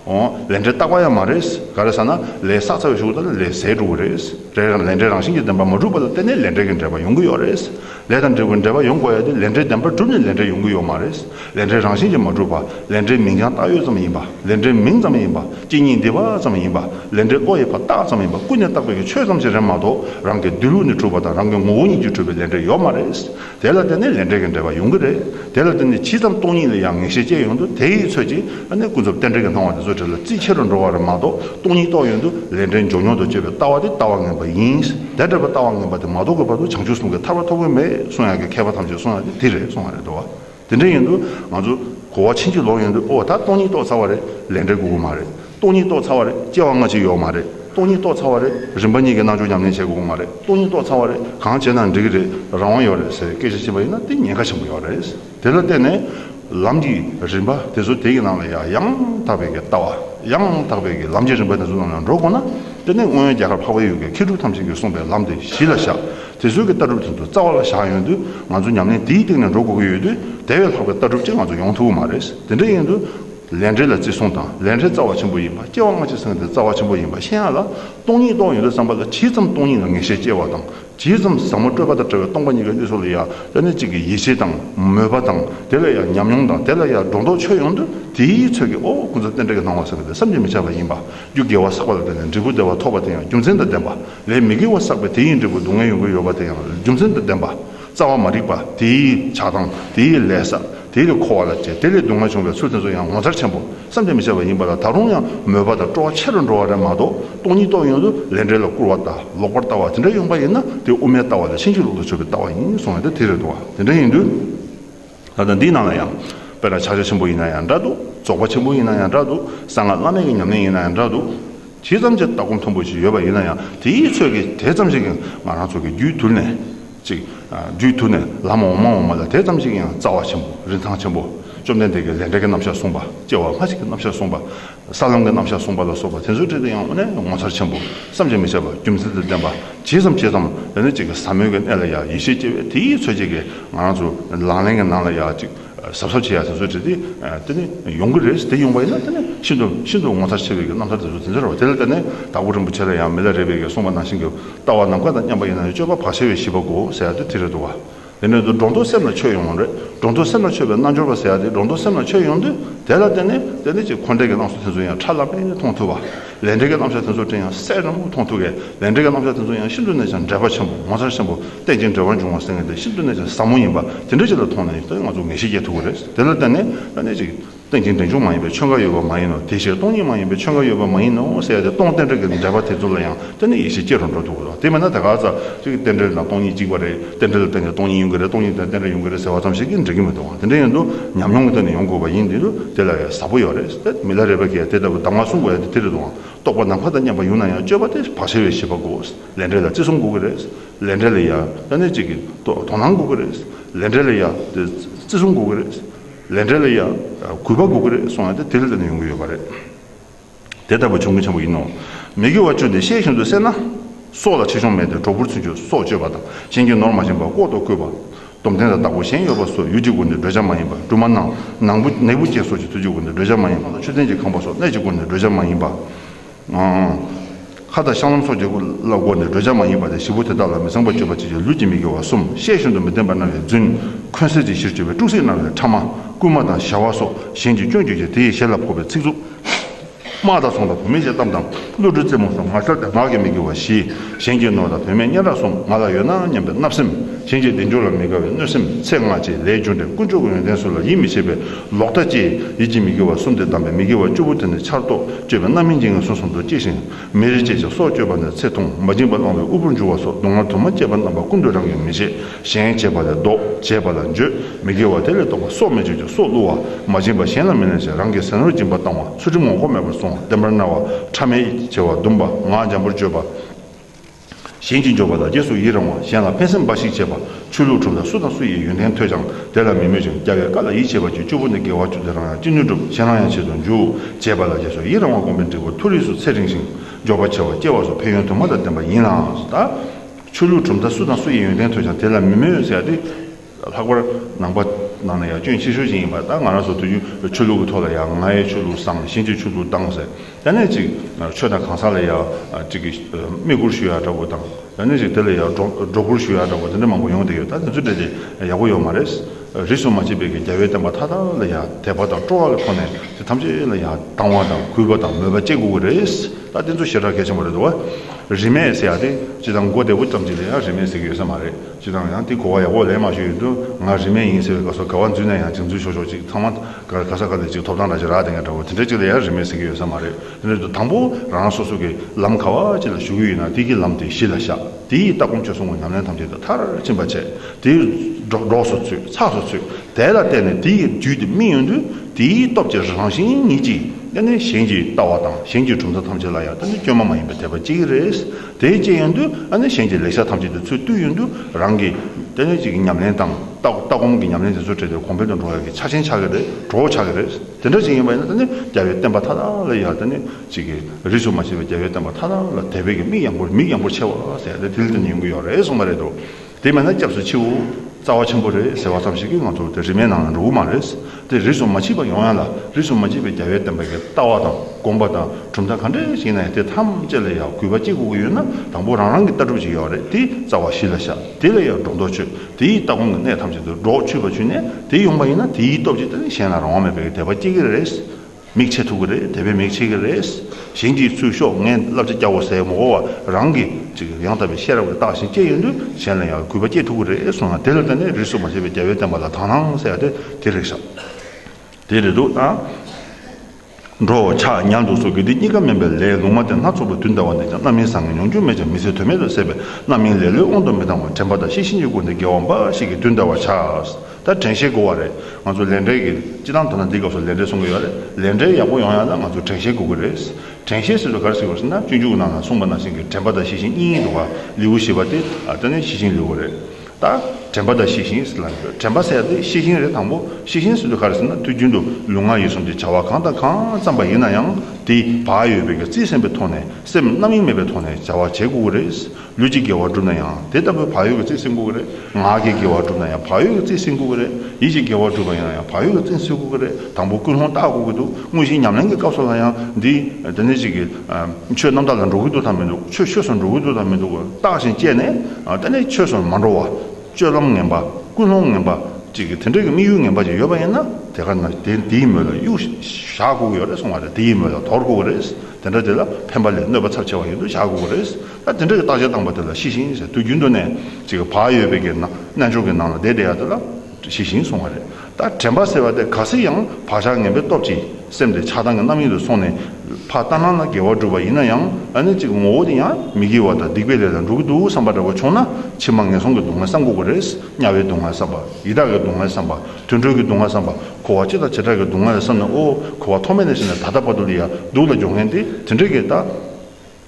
ཨོ། ལས་འབྲས་རྟག་པ་ཡང་མ་རེད། ག་རེ་ཟ་ན། ལས་བསགས་ཚར་བའི་ཤུགས་དང་ལས་ཟད་འགྲོ་གི་རེད། རེད་དམ། ལས་འབྲས་རང་བཞིན་གྱིས་བདེན་པ་མ་གྲུབ་པ་ལ་བརྟེན་ནས་ལས་འབྲས་ཀྱི་འབྲེལ་པ་ཡོང་གི་ཡོད་རེད། ལས་དང་འབྲས་བུའི་འབྲེལ་བ་ཡོང་དགོས་ཡ་དེ་ལས་འབྲས་བདེན་པར་གྲུབ་ནས་ལས་འབྲས་ཡོང་གི་ཡོད་མ་རེད། ལས་འབྲས་རང་བཞིན་གྱིས་མ་གྲུབ་པ། ལས་འབྲས་མིང་རྐྱང་བཏགས་ཡོད་ཙམ་ཡིན་པ། ལས་འབྲས་མིང་ཙམ་ཡིན་པ། གཅིག་གཉིས་འདི་བ་ཙམ་ཡིན་པ། ལས་འབྲས་ཨོ་ཡེ་བ་རྟགས་ཙམ་ཡིན་པ་ཀུན་ནས་བཏགས་པའི་གི་ཆོས་ཙམ་ཞིག་རེད་མ་གཏོགས་རང་གི་བདེ་ལུགས་ནས་གྲུབ་པ་དང་རང་གི་ངོ་བོ་ཉིད་ཀྱིས་གྲུབ་པའི་ལས་འབྲས་ཡོད་མ་རེད། དེ་ལ་བརྟེན་ནས་ལས་འབྲས་ཀྱི་འབྲེལ་བ་ཡོང་གི་རེད། དེ་ལ་བརྟེན་ནས་ཇི་ཙམ་སྟོང་ཉིད་ལ་ཡང་ངེས་ཤེས་སྐྱེས་ཡོང་དུས་དེ་ཡིས་འཚོལ་ཅིང་ཨ་ནེ་ཀུན་རྫོབ་རྟེན་འབྲེལ་གྱི་སྣང་བ་དེ་ཚོའི་གྲས་ལ་རྩིས་ཆེ་རུ་འགྲོ་བ་རེད་མ་གཏོགས་སྟོང་ཉིད་རྟོགས་ཡོང་དུས་ལས་འབྲས་འཇོག་མྱོང་དང་སྤྱོད་པའི་ལྟ་བ་དེ་ལྟ་བ་ངན་པ་ཡིན། དེ་འདྲ་བའི་ལྟ་བ་ངན་པ་དེ་མ་རྟོགས་གི་བར་དུ་བྱང་ཆུབ་གསུམ་གའི་ཐར་བ་ཐོབ་གི་མེད་གསུང་ཡག་གི་མཁས་པ་ཐམས་ཅད་གསུང་ཡག་དེ་དེ་རེད་གསུང་བ་རེད་འགྲོ་བ་དེ་འདྲ་ཡིན་དུས་ང་ཚོ་གོ་བ་ཕྱིན་ཅི་ལོག་ཡོང་དུས་ཨོ་ད་སྟོང་ཉིད་རྟོགས་ཚར་བ་རེད་ལས་འབྲས་དགོས་གི་མ་རེད། སྟོང་ཉིད་རྟོགས་ཚར་བ་རེད་སྐྱེ་བ་སྔ་ཕྱི་ཡོད་མ་རེད་སྟོང་ཉིད་རྟོགས་ཚར་བ་རེད་རིམ་པ་གཉིས་ཀྱི་རྣལ་འབྱོར་ཉམས་ལེན་བྱེད་དགོས་གི་མ་རེད་སྟོང་ཉིད་རྟོགས་ཚར་བ་རེད་གང་བྱས་ན་འགྲིག་གི་རེད་རང་དབང་ཡོད་རེད་ཟེར་བའི་སྐད་ཆ་བཤད་པ་ཡིན་ན་དེ་ཉེན་ཁ་ཆེན་པོ་ཡོད་རེད་དེ་ལ་བརྟེན་ནས་ལམ་གྱི་རིམ་པ་དེ་ཚོ་དེ་ཡི་ནང་ལ་ཡང་ཡང་དག་པའི་གི་ལྟ་བ་ཡང་དག་པའི་གི་ལམ་གྱི་རིམ་པ་དེ་ཚོ་རྣམས་ལ་འགྲོ་དགོས་ན་དེ་ནི་སྔོན་རྒྱ་གར་འཕགས་པའི་ཡུལ་གྱི་མཁས་གྲུབ་ཐམས་ཅད་ཀྱིས་གསུངས་པའི་ལམ་དེ་གཞི་ལ་བཞག་དེ་ཚོའི་གི་ལྟ་གྲུབ་དེ་ཚོ་རྩ་བ་ལ་བཞག་ཡོང་དུས་ང་ཚོ་ཉམས་ལེན་དེའི་སྟེང་ནས་འགྲོ་དགོས་གི་ཡོད་དུས་དེ་བས་ལྷག་པའི་ལྟ་གྲུབ་ཅིག་ང་ཚོ་ཡོང་ཐུབ་གི་མ་རེད་དེ་འདྲ་ཡིན་དུས། ལས་འབྲས་ལ་བརྩི་སྲུང་དང་ལས་འབྲས་རྩ་བ་ཆེན་པོ་ཡིན་པ་སྐྱེ་བ་སྔ་ཕྱི་ཟིན་དེ་རྩ་བ་ཆེན་པོ་ཡིན་པ་ཤེས་ཡོང་ལ་སྟོང་ཉིད་སྟོང་ཡིན་ལུགས་བསམ་པ་ལ་ཇི་ཙམ་སྟོང་ཉིད་ལ་ངེས་ཤེས་སྐྱེ་བ་དང་ཇི་ཙམ་ཟབ་མོ་སྤྲོས་པ་དང་བྲལ་བའི་སྟོང་པ་ཉིད་ཀྱི་གནས་སུ་ལ་ཡང་བློ་ནི་གཅིག་གི་ཡིད་ཆེས་དང་མོས་པ་དང་དེ་ལ་ཡང་ཉམས་མྱོང་དང་དེ་ལ་ཡང་སྒྲོ་འདོགས་ཆོད་ཡོང་དུས་དེའི་ཚོད་ཀྱི་ཨོ་ཀུན་རྫོབ་རྟེན་འབྲེལ་གྱི་སྣང་བ་ཟིན་ལ་དེ་བསམ་གྱིས་མི་ཁྱབ་པ་ཡིན་པ་རྒྱུ་དགེ་བ་བསགས་པ་ལ་བརྟེན་ནས་འབྲས་བུ་བདེ་བ་ཐོབ་པ་དེ་ཡང་རྒྱུ་མཚན་དང་ལྡན་པ་ལས་མི་དགེ་བ་བསགས་པས་དེ་ཡིས་འབྲས་བུ་སྡུག་བསྔལ་ཡོང་གི་ཡོད་པ་དེ་ཡང་རྒྱུ་མཚན་དང་ལྡན་པ། རྩ་བ་མ་རིག་པ་དེའི་ཆགས་སྡང་དེ་ཡི་ལས་བསགས་དེ་ལས་འཁོར་བ་ལ་བཅས་དེ་ལས་སྡུག་བསྔལ་འབྱུང་བའི་ཚུལ་དེ་ཚོ་ཡང་ངོ་མཚར་ཆེན་པོ་བསམ་གྱིས་མི་ཁྱབ་པ་ཡིན་པ་ལ་ད་རུང་ཡང་མོས་པ་དང་སྤྲོ་བ་ཆེ་རུ་འགྲོ་བ་རེད་མ་གཏོགས་སྟོང་ཉིད་རྟོགས་ཡོང་དུ་ལས་འབྲས་ལ་སྐུར་བ་ལྟ་ལོག་པར་ལྟ་བ་དེ་འདྲ་ཡོང་པ་ཡིན་ན་དེ་དབུ་མའི་ལྟ་བ་ལས་ཕྱིན་ཅི་ལོག་ཏུ་ཆོད་པའི་ལྟ་བ་ཡིན་གསུངས་ཡོད་དེ་དེ་རེད་འགྲོ་བ་དེ་འདྲ་ཡིན་དུས། ད་ལྟ་འདི་རྣམས་ལ་ཡང། དཔེར་ན་ཕྱག་རྒྱ་ཆེན་པོ་ཡིན་ན་ཡང་འདྲ་འདུག་རྫོགས་པ་ཆེན་པོ་ཡིན་ན་ཡང་འདྲ་འདུག་གསང་སྔགས་བླ་མེད་ཀྱི་ཉམས་ལེན་ཡིན་ན་ཡང་འདྲ་འདུག། ཇི་ཙམ་གྱིས་ལྟ་སྒོམ་མཐོན་པོ་ཞིག་ཡོད་པ་ཡིན་ན་ཡང་དེའི་ཚོད་ཀྱིས་དེ་ཙམ་ཞིག་གིས་ང་རང་ཚོ་གི་རྒྱུད་དུལ་ནས། ཅིག། རྒྱུད་དུལ་ནས་ལམ་འོང་མ་འོང་མ་ལ་དེ་ཙམ་ཞིག་གིས་ཡང་རྩ་བ་ཆེན་པོ་རིན་ཐང་ཆེན་པོ། བཅོམ་ལྡན་འདས་ཀྱི་ལས་འབྲས་ཀྱི་རྣམ་བཞག་གསུངས་པ་སྐྱེ་བ་སྔ་ཕྱི་གི་རྣམ་བཞག་གསུངས་པ། ས་བླང་གི་རྣམ་གཞག་གསུངས་པ་ལ་སོགས་པ་དེ་ཚོའི་ཁྲོད་དུ་ཡང་ནི་ངོ་མཚར་ཆེན་པོ་བསམ་གྱིས་མི་ཁྱབ་པ་རྒྱུ་མཚན་དུ་བསྟན་པ་ཇི་ཙམ་ཇི་ཙམ་ཡང་ནི་གཅིག་གི་ཟབ་མོའི་གི་གནད་ལ་ཡང་ཡིད་ཆེས་སྐྱེ་བས་དེའི་ཚོད་གཅིག་གི་ང་རང་ཚོ་ལག་ལེན་གི་ནང་ལ་ཡང་གཅིག་གཟབ་གཟབ་བྱེད་ཡ་དེ་ཚོའི་གྲས་དེ་དེ་ནི་ཡོང་གི་རེད་དེ་ཡོང་པ་ཡིན་ན་དེ་ནི་ཤིན་ཏུ་ཤིན་ཏུ་ངོ་མཚར་ཆེ་བའི་གི་རྣམ་ཐར་དེ་ཚོ་དེ་ཚོར་བ་དེ་ལ་བརྟེན་ནས་དྭགས་པོ་རིན་པོ་ཆེ་ལ་ཡང་མི་ལ་རས་པས་གི་གསུངས་པ་ནང་བཞིན་གི་ལྟ་བ་ནམ་མཁའ་དང་མཉམ་པ་ཡིན་ན་ནི་སྤྱོད་པ་བག་ཆེ་བའི་བཞི་པ་གོ་ཟེར་ཡ་དེ་དེ་རེད་འདུག་བ། དེ་ནས་དུ་སྒྲོ་འདོགས་སེམས་ལ་ཆོད་ཡོང་བ་རེད། སྒྲོ་འདོགས་སེམས་ལ་ཆོད་པའི་རྣལ་འབྱོར་པ་ཟེར་ཡག་དེ་སྒྲོ་འདོགས་སེམས་ལ་ཆོད་ཡོང་དུས་དེ་ལ་བརྟེན་ནས་དེ་འདི་ཅིག་ཁོ་འདྲའི་གི་རླངས་སོ་དེ་ཚོ་ཡང་ཁྲ་ལམ་མེར་མཐོང་ཐུབ་བ། ལས་འབྲས་ཀྱི་རྣམ་གཞག་དེ་ཚོ་དྲན་ཡང་གསལ་རིང་པོ་མཐོང་ཐུབ་གས་ལས་འབྲས་ཀྱི་རྣམ་གཞག་དེ་ཚོ་ཡང་ཤིན་ཏུ་ནས་ཀྱང་འབྲེལ་པ་ཆེན་པོ་ངོ་མཚར་ཆེན་པོ་རྟེན་ཅིང་འབྲེལ་བར་འབྱུང་བ་ཟེར་ངེས་དེ་ཤིན་ཏུ་ནས་ཀྱང་ཟབ་མོ་ཡིན་པ་དེ་འདྲ་ཅིག་ལ་མཐོང་ནས་ད་ནི་ང་ཚོ་ངེས་ཤེས་སྐྱེ་ཐུབ་བོ་རེད། དེ་ལ་བརྟེན་ནས་ད་ནི་ཅིག། རྟེན་ཅིང་འབྲེལ་འབྱུང་མ་ཡིན་པའི་ཆོས་འགའ་ཡོད་པ་མ་ཡིན་ནོ། དེའི་ཕྱིར་སྟོང་ཉིད་མ་ཡིན་པའི་ཆོས་འགའ་ཡོད་པ་མ་ཡིན་ནོ་ཟེར་ཡ་དེ་སྟོང་རྟེན་འབྲེལ་གྱི་འབྲེལ་པ་དེ་ཚོ་ལ་ཡང་རྟེན་འབྲེལ་ཡེ་ཤེས་སྐྱེ་རུ་འགྲོ་ཐུབ་བོ། དེ་མེད་ན་དེ་ག་ཙག་ཅིག་རྟེན་འབྲེལ་དང་སྟོང་ཉིད་གཅིག་པ་རེད། རྟེན་འབྲེལ་ལ་བརྟེན་ནས་སྟོང་ཉིད་ཡོང་གི་རེད་སྟོང་ཉིད་དང་རྟེན་འབྲེལ་ཡོང་གི་རེད་ཟེར་བ་ཙམ་ཞིག་གིས་འགྲིག་གི་མི་འདུག་དེ་འདྲ་ཡིན་དུས་ཉམས་མྱོང་གི་སྟེང་ནས་ཡོང་དགོས་པ་ཡིན་དུས་དེ་ལ་ཡང་ཟབ་པོ་ཡོད་རེད་དེ་མི་ལ་རས་པ་ཁས་དེ་ལྟ་བུའི་གདམས་ངག་གསུང་དགོས་ཡ་དེ་དེ་རེད་དུའང་རྟོགས་པ་ནམ་མཁའ་དང་མཉམ་པ་ཡོང་ན་ཡང་སྤྱོད་པ་དེ་བག་ཆེ་བས་བྱེད་པ་དགོས། ལས་འབྲས་ལ་བརྩི་སྲུང་དགོས་ཀྱི་རེད། ལས་འབྲས་ལ་ཡ་ཡ་གནས་གཅིག་གིས་དོ་སྣང་དགོས་ཀྱི་རེད། ལས་འབྲས་ལ་ཡ་དེ་བརྩི་སྲུང་དགོས་ཀྱི་རེད། ལས་འབྲས་ལ་ཡང་གུས་པ་དགོས་ཀྱི་རེད་གསུངས་ཡོད་དེ་དེ་ལས་ཀྱང་ཡོང་གི་ཡོད་པ་རེད། དེ་ལྟ་བུའི་འཆར་ཀུན་ཆེན་པོ་ཡིན་ནོ། མི་དགེ་བ་བཅུ་འདི་ཤེས་བཞིན་དུ་སེལ་ན། སྲོག་ལ་ཆེ་ཆུང་མེད་དེ་གྲོག་སྦུར་ཚུན་ཆོད་སྲོག་གཅོད་པ་དང་གཞན་གྱི་ནོར་མ་བྱིན་པ་ལྐོག་ཏུ་བརྐུས་པ། སྡོམ་ལྡན་དང་བདག་པོ་གཞན་ཡོད་པ་སོགས་ཡུལ་གྱི་སྒོ་ནས་སྒྲོལ་བྱ་མ་ཡིན་པ་སྦྲུམ་མ་རྣམས་ནག་པོ་ནད་བུ་སྐྱེས་སོགས་ཀྱི་ཚུལ་གྱི་སྒོ་ནས་སྒྲོལ་བྱ་མ་ཡིན་པ་དང་ཆུ་ཚན་གྱི་ཁང་པ་སོགས་ནད་ཀྱི་སྒོ་ནས་སྒྲོལ་བྱ་མ་ཡིན་པ། ཁ་དང་བཤང་ལམ་སོགས་ཀྱི་བརླ་སྒོ་ནས་འགྲོས་བྱ་མ་ཡིན་པ་དང་བཞི་པོ་དེ་དག་ལ་མི་ཚངས་པ་སྤྱོད་པ་བྱེད་ཅིང་ལུས་ཀྱིས་མི་དགེ་བ་གསུམ་ཤས་གཞན་དུ་མི་བསྟན་པར་སྣང་བའི་བརྫུན། འཁོན་སེལ་གྱི་གཞིར་བཅོལ་བའི་སྤྲུགས་སེལ་གནང་བའི་ཕྲ་མ། རྐུན་མ་དང་བྱ་བ་སོགས་གཞན་གྱི་སྐྱོན་བརྗོད་ཀྱིས་དེ་ཡི་ཞེ་ལ་འཕོ་བའི་ཚིག་རྩུབ། དམག་དང་ཚོང་དང་བུད་མེད་ཅེས་གཏམ་དང་བློ་གྲོས་རྩེད་མོ་སོགས་ངག་འཁྱར་ཏེ་ངག་གི་མི་དགེ་བ་བཞི། གཞན་གྱི་ནོར་དང་བུད་མེད་སྙན་གྲགས་གསུམ་ང་ལ་ཡོད་ན་སྙམ་པའི་བརྣབ་སེམས། གཞན་གྱི་བདེ་འབྱོར་ལ་མི་དགའ་བའི་གནོད་སེམས་ཚེ་སྔ་ཕྱིའི་ལས་སྦྱོར་འབྲས་དཀོན་མཆོག་གི་ཡོན་ཏན་སུ་ལ་ཡིད་མི་ཆེས་པའི་ལོག་ལྟ་བཅས་ཡིད་ཀྱི་མི་དགེ་བ་གསུམ་སྟེ་བསྡམས་པའི་མི་དགེ་བ་བཅུ་པོ་དེ་ནི་ཆར་གཏོགས་སྤྱོད་པའི་རྣམ་སྨིན་གྱི་ངལ་སོ་སོར་འདུ་བྱེད་ཤིང་མེ་རི་བཅས་ཀྱི་སྲོག་གཅོད་པ་ནས་ཚེ་ཐུང་མ་བྱིན་པ་བླང་བའི་དབུལ་པོར་འགྱུར་བ་སོགས་སྡུག་བསྔལ་དུ་མ་བསྐྱེད་པ་རྣམ་པ་ཀུན་ཏུ་རང་གིས་མི་བྱེད་གཞན་བྱེད་པ་ལས་བཟློག་བྱེད་པ་ལ་འགྱོད་མི་དགེ་བ་དེ་ལས་བཟློག་པ་སྲོག་མི་གཅོད་ཀྱི་སྲོག་བསླུ་བ་མ་བྱིན་པ་གཞན་ལ་མི་གནོད་ཅིང་རང་གི་ཟས་ནོར་སྦྱིན་པ་བཏང་བ་ཚུལ་ཁྲིམས་ངོ་འཁོར་མེད་པར་བསྲུང་བ་བདེན་པར་སྣང་བ་ཕྲ་མེན་བྱེད་བ་བཟླུམས་པ་ངག་འཇམ་པོར་སྤྱོད་པ། གཞན་གྱིས་འཇོག་པ་དང་རྗེས་སུ་ཡི་རང་བ་གཞན་ལ་ཕན་སེམས་འབའ་ཞིག་བྱེད་པ་ཆོས་ལུགས་གྲུབ་ན་སུ་དང་སུ་ཡི་ཡོན་ཏན་ཐོས་ཀྱང་དེ་ལ་མི་མོས་ཤིང་རྒྱལ་བའི་བཀའ་ལ་ཡིད་ཆེས་པ་བཅུའི་བཅུ་པོ་ནི་དགེ་བ་བཅུ་དེ་རང་ཡང་ཅི་ནུས་བསྒྲུབ་གཞན་རང་ཡང་བྱེད་དུ་འཇུག་ཅེས་པ་ལ་རྗེས་སུ་ཡི་རང་བ་བསྒོམ་པའི་འབྲས་བུ་མཐོ་རིས་སུ་ཚེ་རིང་ཞིང་འབྱོར་པ་ཆེ་བ་སྐྱེ་བ་སོགས་ཕན་ཡོན་དུ་མ་དང་ལྡན་པ་ཡིན་ལ། ཆོས་ལུགས་གྲུབ་མཐའ་སུ་དང་སུ་ཡི་ཡོན་ཏན་ཐོས་ཀྱང་དེ་ལ་མི་མོས་ཟེར་ཏེ། ལྷག་པར་ནང་པ་ནང་ན་ཡར་སྐྱོན་ཆེ་ཤོས་ཅན་ཡིན་པ་ད་ང་རང་ཚོ་དུས་རྒྱུན་ཆོས་ལུགས་ཀྱི་ཐོག་ལ་ཡ་ང་ཡའི་ཆོས་ལུགས་བཟང་གཤིན་རྗེ་ཆོས་ལུགས་བཏང་ཟེར་ཡ་ནས་ཅིག་ཆོས་དང་གང་ཟག་ལ་ཡ་ཅིག་གིས་དམིགས་བཀུར་ཞུ་ཡ་འདྲ་པོ་དང་ཡ་ནས་ཅིག་དེ་ལ་ཡ་སྒྲོ་བཀུར་ཞུ་ཡ་འདྲ་པོ་དེ་འདྲ་མང་པོ་ཡོང་བསྡད་ཡོད་ད་དེ་ཚོ་དེ་ལས་ཡག་པོ་ཡོད་མ་རེད། རིས་སུ་མ་ཕྱེད་པའི་གི་རྒྱ་བལ་བསྟན་པ་མཐའ་དག་ལ་ཡ་དད་པ་དང་སྤྲོ་བ་ལ་ཐོག་ནས་དེ་ཐམས་ཅད་ལ་ཡ་སྡང་བ་དང་གུས་པ་དང་མོས་པ་བསྐྱེད་དགོས་ཀྱི་རེད་ད་དེ་ཚོ་ཞེ་དྲག་གལ་ཆེན་པོ་རེད་འདུག་བ། རིས་མེད་ཟེར་ཡ་དེ་སྤྱི་དང་མགོ་བདེ་པོ་ཙམ་གྱི་ལས་ཡ་རིས་མེད་ཟེར་གྱི་ཡོད་ས་མ་རེད། ཅེས་དང། ཡང་དེའི་གོ་བ་ཡག་པོ་ལན་མང་ཞུས་ཡོད་དུས་ང་རིས་མེད་ཡིན་ཟེར་བའི་སྐབས་སུ་ག་བ་འཛུལ་ནས་ཡང་གཅིག་འཛུལ་ཞོག་ཞོག་ཅིག་ཚང་མ་ག་ག་ས་ག་ནས་ཅིག་ཐོབ་ཐང་འདྲ་ཅིག་རག་དེ་འགའ་འདྲ་བོ་དེ་འདྲ་ཅིག་ལ་ཡང་རིས་མེད་ཟེར་གྱི་ཡོད་ས་མ་རེད་དེ་འདྲ་དུ་དང་པོ་རང་རང་སོ་སོ་གི་ལམ་ག་བ་ཅིག་ལ་ཞུགས་ཀྱི་ཡོད་ན་དེ་གི་ལམ་དེ་གཞི་ལ་བཞག་དེ་ཡིས་ལྟ་ཀུན་སྤྱོད་གསུམ་གྱི་ཉམས་ལེན་ཐམས་ཅད་དུ་མཐར་ཕྱིན་པར་བྱས་དེ་འགྲོ་འགྲོགས་སུ་ཚུད་ཚགས་སུ་ཚུད་དེ་ལ་བརྟེན་ནས་དེ་ཡི་རྒྱུད་དེ་སྨིན་ཡོང་དུས་དེའི་སྟོབས་ཀྱི་རང་བཞིན་ཉིད་ཀྱིས་བརྟེན་ནས་གཞན་གྱི་ལྟ་བ་དང་གཞན་གྱི་གྲུབ་མཐའ་ཐམས་ཅད་ལ་ཡང་བསྟུན་ཏེ་སྐྱོན་མ་མ་ཡིན་པ་དད་པ་གཅིག་རེ་དེའི་དཀྱེལ་ཡན་དུ་ཨ་ནི་གཞན་གྱི་ལེགས་ཆ་ཐམས་ཅད་དུ་ཚུལ་བཏུས་ཡུན་དུ་རང་གི། ལྟེ་གནས་གཅིག་གི་ཉམས་ལེན་དང་ལྟ་སྒོམ་གྱི་ཉམས་ལེན་དེ་ཚོ་བྲལ་ཏེ་གོང་འཕེལ་དུ་འགྲོ་བ་ཡོད་ཀྱི་ཆ་ཅན་ཆགས་ཀྱི་རེད་གྲོགས་ཆགས་ཀྱི་རེད། དེ་འདྲ་ཞིག་ཡིན་པ་ཡིན་ན་ད་ནི་རྒྱལ་བའི་བསྟན་པ་མཐའ་དག་ལ་ཡང་ད་ནི་གཅིག་གི་རིས་སུ་མ་ཕྱེ་བའི་རྒྱལ་བའི་བསྟན་པ་མཐའ་དག་ལ་དད་པའི་གི་མིག་ཡངས་པོ་མིག་ཡངས་པོ་ཕྱེ་བ་ཟེར་ཡ་ད་དེ་ལྟ་ནི་ཡོང་གི་ཡོད་རེད་གསུངས་པ་རེད་དོ། དེ་མེད་ན་སྐྱབས་སུ་འཆིའོ། རྩ་བ་ཆེན་པོ་རེད་ཟེར་བ་ཙམ་ཞིག་གིས་ང་ཚོར་དེ་རིས་མེད་ནང་ལ་འགྲོ་གི་མ་རེད། དེ་རིས་སུ་མ་མཆིས་པ་ཡོང་ཡང་ལ་རིས་སུ་མ་མཆིས་པའི་རྒྱ་བལ་བསྟན་པ་གི་ལྟ་བ་དང་དགོངས་པ་དང་གྲུབ་མཐའ་ག་འདྲས་ཞིག་ཡིན་ན་ཡང་དེ་ཐམས་ཅད་ལ་ཡང་གུས་པ་སྐྱེ་དགོས་ཀྱི་ཡོད་ན་དང་པོ་རང་རང་གི་ལྟ་གྲུབ་ཅིག་ཡོད་རེད་དེ་རྩ་བ་གཞི་ལ་བཞག་དེ་ལ་ཡང་སྒྲོ་འདོགས་ཆོད་དེ་ཡིས་ལྟ་དགོངས་ཀྱི་གནད་ཐམས་ཅད་དུ་སྒྲོག་ཆུད་པ་ཆུད་ནས་དེ་ཡོང་པ་ཡིན་ན་དེའི་སྟོབས་ཀྱིས་ཏེ་གཞན་ལ་རང་དབང་མེད་པའི་དད་པ་སྐྱེ་གི་རེད། མིག་ཕྱེ་ཐུབ་ཀྱི་རེད་དེ་བས་མིག་ཕྱེ་གི་རེད། གཞན་གྱིས་ཚུར་ཤོག་ངས་བསླབ་བྱ་བསྐྱར་བ་ཟེར་ཡག་མི་གོ་བར་རང་གི་ཅིག་ཡང་དག་པའི་ཤེས་རབ་ལ་བརྟགས་ཤིང་དཔྱད་ཡོང་དུས་གཞན་ལ་ཡང་གུས་པ་སྐྱེ་ཐུབ་ཀྱི་རེད་གསུངས་ན་དེ་ལ་བརྟེན་ནས་རིས་སུ་མ་ཆད་པའི་རྒྱལ་བའི་བསྟན་པ་ལ་དག་སྣང་བསལ་ཡག་དེ་དེ་རེད་ཤག་དེ་རེད་འདུག་ཨ། འགྲོ་ཆགས་ཉལ་འདུག་སོགས་དགེ་སྡིག་གཉིས་ཀ་མིན་པའི་ལས་ལུང་མ་བསྟན་སྣ་ཚོགས་པ་དུས་འདའ་བ་འདི་ཅང་རྣམ་སྨིན་བཟང་ངན་མྱོང་འགྱུར་མེད་ཅིང་མི་ཚེ་དོན་མེད་དུ་ཟད་པས་རྣམ་སྨིན་ལེ་ལོས་དབང་དུ་མི་བཏང་བར་དྲན་པ་དང་ཤེས་བཞིན་གྱི་སྒོ་ནས་དགེ་བ་འབའ་ཞིག་གིས་དུས་འདའ་བར་བྱ། ད་དྲན་ཤེས་དགོས་བ་རེད་ང་ཚོ་ལས་འབྲས་ཀྱི་སྤྱི་དང་ད་ལྟ་འདི་སྐབས་སུ་ལས་འབྲས་གསུང་གི་ཡོད་རེད་ལས་འབྲས་ཡག་པོ་ཡོང་ཡག་ན་ང་ཚོ་དྲན་ཤེས་དགོས་ཀྱི་རེད་དྲན་ཤེས་ཟེར་བའི་གར་ཟེར་བ་ཟེར་ན་སྤྱོད་འཇུག་གི་ནང་ན་གསུངས་པ་ནང་བཞིན་གྱི་དྲན་པ་དང་ཤེས་བཞིན་གཉིས་འདུག་ག་ལེའུ་ཞེས་པ་དེ་ད་ནས་ཤེས་བཞིན་ལེའུ་རེད་ད། དྲན་པ་དང་ཤེས་བཞིན་ཟེར་ལ་དྲན་པ་ཟེར་ཏེ་ཤེས་བཞིན་རེད་དང་པོ་ཤེས་བཞིན་ཟེར་བའི་གར་ཟེར་ན་དུས་རྒྱུན་དུ་ལུས་ངག་ཡིད་གསུམ་གྱི་བྱ་བ་གང་དང་གང་བརྩམས་པ་ཡིན་ན་ཡང་དེ་བག་ཡོད་པའི་གི་རྩིས་ཟིན་པའི་ཐོག་ནས་སེམས་རྣམ་གཡེང་མེད་པའི་ཐོག་ནས་བྱ་བ་བྱེད་དགོས་ཀྱི་རེད། ལུས་ཀྱི་དགེ་བ་བསྒྲུབས་ན་ཡང་དེ་ལྟ་བུའི་བག་ཡོད་ཀྱི་རྩིས་སེམས་འགུག་གི་རེད། ངག་གི་དགེ་བ་བསྒྲུབས་ན་ཡང་བག་ཡོད་ཀྱི་རྩིས་སེམས་འགུག་གི་རེད། ཡིད་ཀྱི་དགེ་བ་བསྒྲུབས་པ་ཡིན་ན་ཡང་བག་ཡོད་ཀྱི་རྩིས་སེམས་འགུག་གི་རེད། དང་པོ་ཀུན་སློང་རྟགས་འགུག་གི་འདུག་དངོས་གཞིའི་ཉམས་ལེན་གྱི་སྐབས་སུ་ལ་ཡང་འདི། དེ་འདི་ཅིག་གིས། ཆོས་རྣམ་དག་ལ་འགྲོ་གི་འདུག་དང་མི་འདུག་ཆོས་ཆོས་སུ་འགྲོ་གི་འདུག་དང་མི་འདུག་གི་རྟགས་བཞིན་དཔྱད་ནས། དེ་ནི་ཆོས་སུ་མ་འགྲོ་བ། སྤྱོད་ལམ་ངན་པ། ཀུན་སློང་ངན་པ། ཅིག་གིས་དེ་འདྲ་གི་དམིགས་ཡུལ་ངན་པ་ཅིག་ཡོད་པ་ཡིན་ན། དེ་ཁ་ན་དེ་དེའི་མོད་ལ་གཡུག། ཞག་འགུག་གི་ཡོད་རེད་གསུངས་པ་རེད་དེའི་མོད་ལ་དོར་འགུག་གི་རེད། དེ་འདྲ་དེ་ལ་ཕན་པ་ལས་གནོད་པ་ཚབས་ཆེ་བ་ཡོད་འདུག་ཞག་འགུག་གི་རེད། ད་དེ་འདྲ་གི་བརྟག་དཔྱད་བཏང་པ་དེ་ལ་ཤི་ཞིང་དུས་རྒྱུན་དུ་ནས་ཅིག་བག་ཡོད་པའི་གི་ནང་ཆོས་གི་ནང་ལ་བསྡད་བསྡད་ཡ་དེ་ལ་ཤི་ཞིང་སོང་བ་རེད་ད་དྲན་པ་ཟེར་བ་དེ་ག་སེ་ཡང་བག་ཆགས་ངན་པའི་སྟོབས་ཀྱིས་སེམས་དེ་ཆགས་སྡང་གི་རྣམ་གཡེང་དུ་སོང་ནས་ཕ་ལྟ་ནང་ལ་དགེ་བ་བསྒྲུབ་པ་ཡིན་ན་ཡང་ཨ་ནི་ཅིག་ངོ་བོ་དེ་ཡང་མི་དགེ་བ་དང་སྡིག་པའི་ལས་ལ་འགྲོ་གི་འདུག་བསམ་པ་འདྲ་བོ་བྱུང་ན་ཕྱི་མ་ངན་སོང་གི་སྡུག་བསྔལ་བསམ་དགོས་པ་རེད་དམྱལ་བའི་སྡུག་བསྔལ་བསམ་པ་ཡི་དྭགས་ཀྱི་སྡུག་བསྔལ་བསམ་པ་དུད་འགྲོའི་གི་སྡུག་བསྔལ་བསམ་པ་འཁོར་བ་སྤྱི་དང་བྱེ་བྲག་གི་སྡུག་བསྔལ་བསམ་ནས་ཨོ་འཁོར་བ་ཐོག་མེད་ནས་ཤི་ནས་ད་ལྟ་བར་དུ་ལི་ཡ་སྡུག་ལ་སྦྱོང་མཁན་དེ་དེ་འདྲ་གི་ད།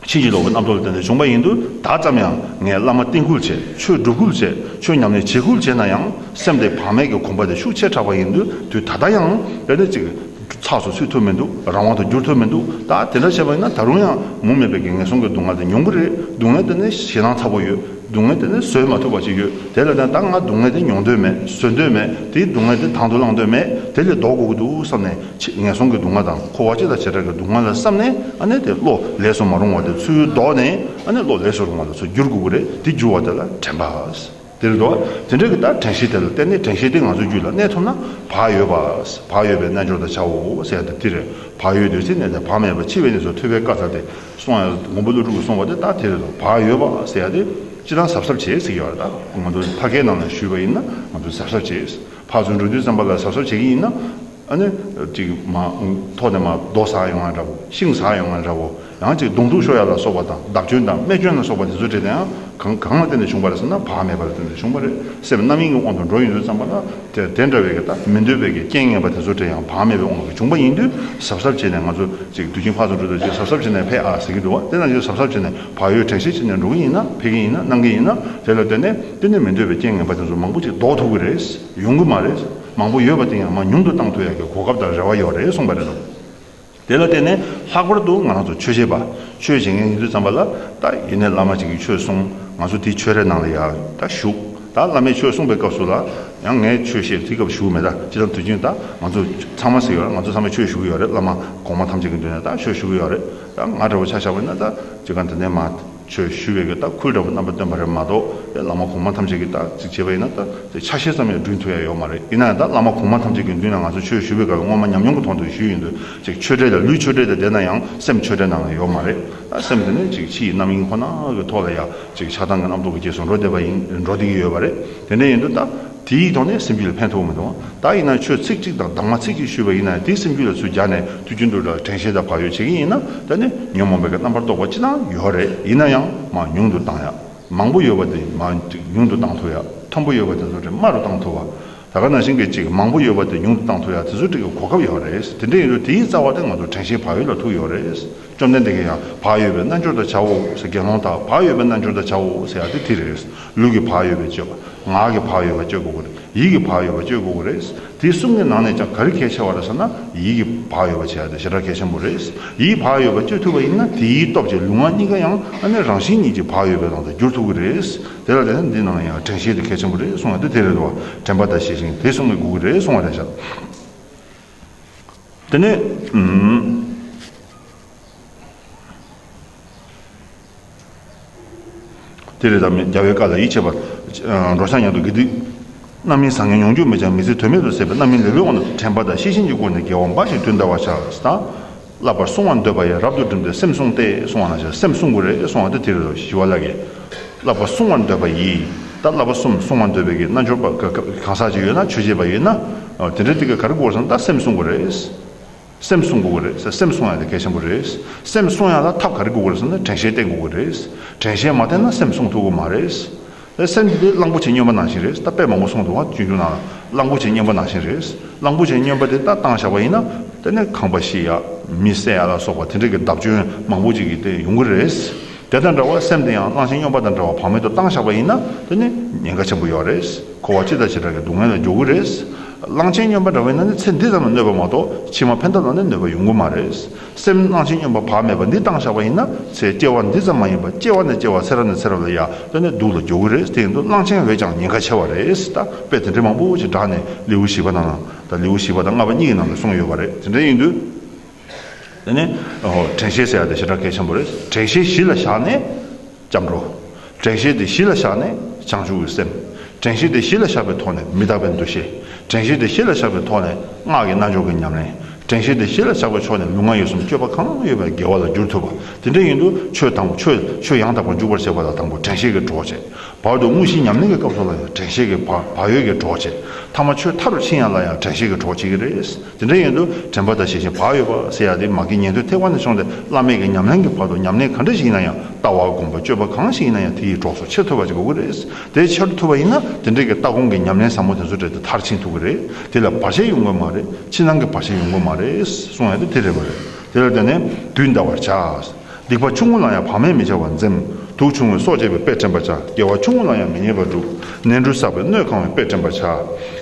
ཕྱིན་ཅི་ལོག་གི་རྣམ་རྟོག་ལས་བརྟེན་ནས་བྱུང་བ་ཡིན། དུས་ད་ཙམ་ཡང་ངས་བླ་མ་བསྟེན་ཁུལ་བྱས་ཆོས་སྒྲུབ་ཁུལ་བྱས་ཆོས་ཉམས་ལེན་བྱེད་ཁུལ་བྱས་ན་ཡང་སེམས་དེ་བག་མེད་ཀྱི་གོམ་པ་དེ་ཤུགས་ཆེ་དྲགས་པ་ཡིན། དུས་ད་ལྟ་ཡང་དེ་འདྲ་ཅིག་ཚགས་སུ་ཚུད་ཐུབ་མི་འདུག་རང་དབང་དུ་བསྒྱུར་ཐུབ་མི་འདུག་ད་དེ་འདྲ་བྱས་པ་ཡིན་ན་ད་རུང་ཡང་མུ་མེད་པའི་གི་ངལ་སོང་གི་སྡུག་བསྔལ་དེ་མྱོང་གི་རེད་སྡུག་བསྔལ་དེ་ནི་ཞེ་སྡང་ཚ་བོ་ཡོད་སྡུག་བསྔལ་དེ་ནི་བཟོད་མ་ཐུབ་པ་ཅིག་ཡོད་དེ་ལ་བརྟེན་ད་ང་སྡུག་བསྔལ་དེ་མྱོང་འདོད་མེད་བཟོད་འདོད་མེད་དེའི་སྡུག་བསྔལ་དེ་དང་དུ་བླང་འདོད་མེད་དེ་ལས་ལྡོག་དགོས་ཀྱི་འདུག་བསམ་ནས་ཆེས་ངན་སོང་གི་སྡུག་བསྔལ་དང་འཁོར་བ་སྤྱི་དང་བྱེ་བྲག་གི་སྡུག་བསྔལ་ལ་བསམ་ནས་ཨ་ནེ་དེ་བློ་ལས་སུ་མ་རུང་བ་དེ་ཚུལ་བཟློག་ནས་ཨ་ནེ་བློ་ལས་སུ་རུང་བ་ལ་ཚུལ་བསྒྱུར་དགོས་ཀྱི་རེད་དེ་བསྒྱུར་བ་དེ་ལ་དྲན་པ། དེ་རེད་དོ། དེ་འདྲ་གི་ལྟར་དྲན་ཤེས་དེ་ལ་བརྟེན་ནས་དྲན་ཤེས་དེ་ང་ཚོའི་རྒྱུད་ལ་གནས་ཐུབ་ན་བག་ཡོད་པ། བག་ཡོད་པའི་རྣལ་འབྱོར་དང་བྱའོ་ཟེར་ཡ་དེ་རེད་བག་ཡོད་འདོད་སྲེད་གནས་ནས་བག་མེད་པ་འཆི་བའི་གནས་སུ་ཐོད་པའི་བཀའ་ཚར་ཏེ་སོང་ཡ་མགོན་པོ་ཀླུ་སྒྲུབ་ཀྱི་གསུང་བ་དེ་ལྟར་དེ་རེད་དོ་བག་ཡོད་པ་ཟེར་ཡ་དེ་ཅི་དང་གཟབ་གཟབ་བྱེད་ཟེར་གྱི་ཡོད་རེད་ད་ང་ཚོ་ཕ་གའི་ནང་ལ་བཞུད་པ་ཡིན་ན་ང་ཚོ་གཟབ་གཟབ་བྱེད་ཕ་ཚོའི་འགྲོ་དུས་བརྩམས་པ་ལ་གཟབ་གཟབ་བྱེད་ཀྱི་ཡིན་ན། ཨ་ནི། ཅིག་མ། ཐོག་ནས་མ། རྡོ་ཟགས་ཡོང་བ་འདྲ་བོ། ཤིང་ཟགས་ཡོང་བ་འདྲ་བོ། ཡང་ཅིག་གདོང་དྲུག་ཤོ་ཡ་ལ་སོགས་པ་དང་བདག་སྐྱོན་དང་རྨས་སྐྱོན་ལ་སོགས་པ་དེ་ཚོའི་འབྲེལ་དེའང་གང་གང་ལ་བརྟེན་ནས་བྱུང་བ་རེད་ཟེར་ན་བག་མེད་པ་ལ་བརྟེན་ནས་བྱུང་བ་རེད་སེམས་རྣམ་གཡེང་གི་དབང་དུ་འགྲོ་ཡི་འདུག་བསམ་པ་ལ། དེར་དེ་འདྲ་བའི་གི་དང་མི་འདོད་པའི་གི་རྐྱེན་ངན་པ་དེ་ཚོའི་འབྲེལ་ཡང་བག་མེད་པའི་དབང་གིས་བྱུང་བ་ཡིན་དུས་ཟབ་ཟབ་བྱས་ནས་ང་ཚོ་ཅིག་དུས་ཀྱི་འཕགས་སུ་འགྲོ་དུས་ཅིག་ཟབ་ཟབ་བྱས་ནས་འཕེལ་ཨ་ཟེར་གྱི་འདུག་བ་དེ་ན་ཅིག་ཟབ་ཟབ་བྱས་ནས་བག་ཡོད་དྲན་ཤེས་བྱས་ནས་འགྲོ་གི་ཡིན་ན་འཕེལ་གི་ཡིན་ན་གནང་གི་ཡིན་ན་དེ་ལ་བརྟེན་ནས་བརྟེན་ནས་མི་འདོད་པའི་རྐྱེན་ངན་པ་དེ་ཚོ་མང་པོ་ཅིག་ལྡོག་ཐུབ་ཀྱི་རེད། ཡོང་གི་མ་རེད། མང་པོ་ཡོད་པ་དེ་ཡང་མ་ཉུང་དུ་བཏང་ཐུབ་ཡག་གི་གོ་སྐབས་དང་རེ་བ་ཡོད་རེད་གསུངས་པ་རེད་དོ། དེ་ལ་བརྟེན་ནས་ལྷག་པར་དུ་ང་རང་ཚོ་ཆོས་བྱེད་པ། ཆོས་བྱེད་མཁན་ཡིན་དུས་ཙམ་པ་ལ་ད་ཡིན་ནའི་བླ་མ་གཅིག་གིས་ཆོས་གསུངས་ང་ཚོ་དེའི་ཆོས་རའི་ནང་ལ་ཡག་ད་བཞུགས། ད་བླ་མས་ཆོས་གསུངས་པའི་སྐབས་སུ་ལ་ཡང་ངས་ཆོས་བཤད་དེའི་སྐབས་བཞུགས་མེད་ད་ཅི་ཙམ་དུས་ཆེན་ད་ང་ཚོ་ཚང་མ་ཟེར་ཡོད་ང་ཚོ་ཚང་མས་ཆོས་ཞུ་གི་ཡོད་རེད་བླ་མ་གོང་མ་ཐམས་ཅད་ཀྱི་མདུན་ནས་ད་ཆོས་ཞུ་གི་ཡོད་རེད་ད་ང་འདྲ་བོ་ཆ་བཞག་པ་ཡིན་ན་ད་ཅི་གང་དེ་འདྲའི་མ་ཆོས་ཞུ་བའི་རྟགས་ཁུལ་འདྲ་བོ་རྣམ་པ་སྟོན་པ་རེད་མ་གཏོགས་དེ་བླ་མ་གོང་མ་ཐམས་ཅད་ཀྱི་རྟགས་གཅིག་བྱས་པ་ཡིན་ན་ད་དེ་ཆ་ཤས་ཙམ་ཡང་བསྒྲུན་ཐུབ་ཡ་ཡོད་མ་རེད་ཡིན་ན་ཡང་ད་བླ་མ་གོང་མ་ཐམས་ཅད་ཀྱི་མདུན་ན་ང་ཚོ་ཆོས་ཞུ་བའི་སྐབས་སྔོན་མ་ཉམས་མྱོང་གི་ཐོག་ཏུ་ཞུས་ཡིན་དུས་ཅིག་ཆོས་གྲལ་ལ་ལུས་ཆོས་གྲལ་དུ་བསྡད་ན་ཡང་སེམས་ཆོས་གྲལ་ནང་ལ་ཡོད་མ་རེད་ད་སེམས་དེ་ནི་ཅིག་ཕྱི་ཡི་རྣམ་གཡེང་ཁོ་ན་གི་ཐོག་ལ་ཡ་ཅིག་ཆགས་སྡང་གི་རྣམ་རྟོག་གི་རྗེས་སུ་འགྲོ་བསྡད་པ་ཡིན་འགྲོ་བསྡད་ཀྱི་ཡོད་པ་རེད་དེ་འདྲ་ཡིན་དུས་ད། དེ་ཡིག་ཐོག་ནས་སེམས་རྒྱུད་ལ་ཕན་ཐོགས་མི་འདུག་ད་ཡིན་ན་ཁྱོས་ཚིག་གཅིག་དང་དྭངས་མ་ཚིག་གཅིག་ཞུས་པ་ཡིན་ན་དེ་སེམས་རྒྱུད་ལ་ཚུད་རྒྱག་ནས་དུས་རྒྱུན་དུ་དྲན་ཤེས་དང་བག་ཡོད་བྱེད་ཀྱིན་ཡིན་ན་ད་ནི་ཉོན་མོངས་པའི་རྣམ་པར་རྟོག་པ་ཅི་ལའང་ཡོད་རེད་ཡིན་ན་ཡང་མ་ཉུང་དུ་བཏང་ཡ། མང་པོ་ཡོད་པ་དེ་མ་ཉུང་དུ་བཏང་ཐུབ་ཡ། མཐོན་པོ་ཡོད་པ་དེ་ཚོ་དྲི་མ་རུ་བཏང་ཐུབ་བ། ད་ག་ནང་བཞིན་གྱི་ཅིག་མང་པོ་ཡོད་པ་དེ་ཉུང་དུ་བཏང་ཐུབ་ཡ་དེ་ཚོ་ཀྲིག་གི་གོ་སྐབས་ཡོད་རེད་དེ་འདྲ་ཡིན་དུས་དེ་ཡིག་རྩ་བ་དེ་ང་ཚོ་དྲན་ཤེས་བག་ཡོད་ལ་ཐུག་ཡོད་རེད། བཅོམ་ལྡན་འདས་ཀྱིས་ཡང་བག་ཡོད་པའི་རྣལ་འབྱོར་དག་བྱའོ་ཞེས་དགེ་སློང་དག་བག་ཡོད་པའི་རྣལ་འབྱོར་དག་བྱའོ་ཟེར་ཡང་དེ་དེ་རེད། ལུས་ཀྱི་བག་ཡོད་པས་སྤྱོད་པ། ངག་གི་བག་ཡོད་པ་སྤྱོད་དགོས་ཀྱི་རེད། ཡིད་ཀྱི་བག་ཡོད་པ་སྤྱོད་དགོས་ཀྱི་རེད། དེ་གསུམ་གྱི་ནང་ནས་ཀྱང་ག་རེ་གལ་ཆེ་བ་རེད་ཟེར་ན་ཡིད་ཀྱི་བག་ཡོད་པ་བྱ་དེ་ཞེ་དྲག་གལ་ཆེན་པོ་རེད། ཡིད་ཀྱི་བག་ཡོད་པ་སྤྱོད་ཐུབ་པ་ཡིན་ན་དེའི་སྟོབས་ཀྱིས་ལུས་ངག་གཉིས་ཀ་ཡང་ཨ་ནེ་རང་བཞིན་གཉིས་ཀྱི་བག་ཡོད་པའི་ནང་དུ་འགྱུར་ཐུབ་ཀྱི་རེད། དེ་ལ་བརྟེན་ནས་འདི་ནང་ནས་ཡང་དྲན་ཤེས་དེ་གལ་ཆེན་པོ་རེད་གསུངས་ཡང་དེ་དེ་རེད་དོ། དྲན་པ་དང་ཤེས་ཤིང་དེ་གསུམ་གྱི་དགོས་ཀྱི་རེད་གསུངས་བ་རེད་ཟེར། དེ་ནས། དེ་ལས་ལྡང་མེད་རྒྱལ་བའི་བཀའ་ལ་ཡིད་ཆེས་པར། འགྲོ་བྱང་ཡང་དུ་དགེ་སྡིག། རྣམ་སྨིན་བཟང་ངན་མྱོང་འགྱུར་མེད་ཅིང་མི་ཚེ་དོན་མེད་དུ་ཟད་པས་རྣམ་སྨིན་ལེ་ལོའི་དབང་དུ་དྲན་པ་དང་ཤེས་བཞིན་གྱི་སྒོ་ནས་དགེ་བ་འབའ་ཞིག་དུས་འདའ་བར་བྱ། བསླབ་པར་བསྲུང་བར་འདོད་པ་ཡང་རབ་ཏུ་བསྒྲིམས་ཏེ་སེམས་བསྲུངས་ཏེ་བསྲུང་བ་ན་བྱ་སེམས་བསྲུང་དགོས་རེ་གསུང་བ་སྟེ་དེ་རུ་ཞི་བ་ལགས་ཀྱི། བསླབ་པར་བསྲུང་བར་འདོད་པ་ཡིས་ད་བསླབ་པ་གསུམ་བསྲུང་བར་འདོད་པའི་གིས་རྣལ་འབྱོར་པ་གང་ཟག་ཅིག་ཡོད་ན་ཆོས་བྱེད་པ་ཡིན་ན། དེ་འདྲའི་དེ་ག་གར་དགོས་སམ་ད་སེམས་བསྲུང་དགོས་རེ། སེམས་བསྲུང་དགོས་རེ་བྱ་སེམས་བསྲུང་ཡང་དེ་གལ་ཆེན་པོ་རེ། སེམས་བསྲུང་ཡང་ལ་ཐབས་ག་རེ་དགོས་རེ་བསམ་ན་དྲན་ཤེས་བསྟེན་དགོས་རེ། དྲན་ཤེས་མ་བསྟེན་ན་སེམས་བསྲུང་ཐུབ་དགོས་མ་རེ། ཨེ། སེམས་ཀྱི་དེ་གླང་པོ་ཆེའི་སྨྱོན་པ་ནང་བཞིན་རེད་ད་དཔེ་མང་པོ་གསུངས་འདུག་ང་གཅུན་གཅུན་ནང་ལ་གླང་པོ་ཆེའི་སྨྱོན་པ་ནང་བཞིན་རེད་གླང་པོ་ཆེའི་སྨྱོན་པ་དེ་ད་བཏང་བཞག་པ་ཡིན་ན་དེ་ནས་ཁང་པ་ཤི་ཡ་མི་བསད་ཡ་ལ་སོགས་པ་དེ་འདྲ་གི་བརྡབ་སྐྱོན་མང་པོ་ཅིག་གི་དེ་ཡོང་གི་རེད་དེ་དང་འདྲ་བ་སེམས་དེ་ཡང་གླང་ཆེན་སྨྱོན་པ་དང་འདྲ་བ་བག་མེད་དུ་བཏང་བཞག་པ་ཡིན་ན་དེ་ནས་ཉེན་ཁ་ཆེན་པོ་ཡོང་རེད་འཁོར་བ་ཅི་དང་ཇི་འདྲ་གི་སྡུག་བསྔལ་ལ་འཇོག་གི་རེད་གླང་ཆེན་སྨྱོན་པ་འདྲ་བ་ཡིན་ན་ནི་ཚེ་འདི་ཙམ་ལ་གནོད་པ་མ་གཏོགས་ཕྱི་མ་ཕན་ཐོགས་ལ་ནི་གནོད་པ་ཡོང་གི་མ་རེད། སེམས་སྣང་ཆེན་སྙོམས་པ་བག་མེད་པ་འདི་བཏང་བཞག་པ་ཡིན་ན་ཚེ་སྐྱེ་བ་འདི་ཙམ་མ་ཡིན་པར་སྐྱེ་བ་ནས་སྐྱེ་བ་ཚེ་རབས་ནས་ཚེ་རབས་ལ་ཡར་སླེབས་ནས་སྡུག་ལ་འགྱོ་གི་རེད་དེ་ཡིན་དུ་སྣང་ཆེན་འོད་ཀྱང་ཉེན་ཁ་ཆེ་བ་རེད་ད་དཔེ་དེ་འདྲས་མང་པོ་ཞིག་བསྒྲགས་ནས་ལེའུ་བཞི་པ་དང་དང་ལེའུ་བཞི་པ་དང་ལྔ་པ་གཉིས་ཀྱི་ནང་ལ་གསུངས་ཡོད་པ་རེད་དེ་འདྲས་ཡིན་དུས་དེ་ནས་དྲན་ཤེས་ཟེར་ཡ་དེ་ཞེ་དྲག་གལ་ཆེན་པོ་རེད་དྲན་ཤེས་གཞི་ལ་བཞག་ནས། སྐྱབས་འགྲོ། དྲན་ཤེས་དེ་གཞི་ལ་བཞག་ནས་བྱང་ཆུབ་ཀྱི་སེམས། དྲན་ཤེས་དེ་གཞི་ལ་བཞག་པའི་ཐོག་ནས་མི་རྟག་པའི་འདུ་ཤེས། དྲན་ཤེས་དེ་གཞི་ལ་བཞག་པའི་ཐོག་ནས་སྔགས་ཀྱི་རྣལ་འབྱོར་གྱི་ཉམས་ལེན། དྲན་ཤེས་དེ་གཞི་ལ་བཞག་པའི་ཕྱོགས་ནས་ལུས་ངག་ཡིད་གསུམ་སྤྱོད་པ་གང་ཡོད་པའི་དགེ་བ་ལ་བསྒྱུར་ཐུབ་པ་དེ་འདྲ་ཡིན་དུས་ཆོས་དང་པོ་ཆོས་ཆོས་ཡང་དག་པར་འཇུག་པར་བྱེད་པ་ལ་དང་པོ་དྲན་ཤེས་ཀྱིས་གྲོགས་བྱེད། བར་དུ་དངོས་གཞིའི་ཉམས་ལེན་གྱི་སྐབས་སུ་ལ་ཡང་དྲན་ཤེས་ཀྱིས་བག་ཡོད་ཀྱིས་གྲོགས་བྱེད། ཐ་མ་ཆོས་མཐའ་རུ་ཕྱིན་ཡང་ལ་ཡང་དྲན་ཤེས་ཀྱིས་གྲོགས་བྱེད་ཀྱི་རེད། དེ་འདྲའི་ཡོན་དུ་དྲན་པ་དང་ཞེ་བཞིན་བག་ཡོད་པ་བསལ་ཡག་དེ་མ་གིས་ཉན་ཐོས་ཐེག་པ་ནས་བྱུང་སྟེ་བླ་མེད་ཀྱི་ཉམས་ལེན་གྱི་བར་དུ་ཉམས་ལེན་ག་འདྲ་ཞིག་ཡིན་ན་ཡང་ལྟ་བ་སྒོམ་པ་སྤྱོད་པ་གང་ཞིག་ཡིན་ན་ཡང་དེ་ཡི་གྲོགས་སུ་ཆེས་ཐོས་པ་ཅིག་དགོས་ཀྱི་རེད། དེ་ཆེ་རུ་ཐུབ་པ་ཡིན་ན་དེ་འདྲའི་གི་ལྟ་སྒོམ་གྱི་ཉམས་ལེན་ཟབ་མོ་དེ་ཚོ་འབྲེལ་ཏེ་མཐར་ཕྱིན་ཐུབ་ཀྱི་རེད། དེ་ལ་བར་ཆད་ཡོང་དགོས་མ་རེད། ཕྱི་ནང་གི་བར་ཆད་ཡོང་དགོས་མ་རེད། གསུང་ཡག་དེ་དེ་རེད་མ་རེད། དེ་ལ་བརྟེན་ནས་དུས་འདའ་བར་བྱ། སྡིག་པ་ཆུང་ངུ་ལ་ཡང་བག་མེད་མི་བྱ་བར་འཛེམ། དུག་ཆུང་ངུས་སྲོག་བཅད་པའི་དཔེས་བྲན་པར་བྱ། དགེ་བ་ཆུང་ངུ་ལ་ཡང་མི་ཉེས་པར་བསྒྲུབ། ནལ་འབྲུ་བསགས་པས་སྣོད་གང་བའི་དཔེས་བྲན་པར་བྱ།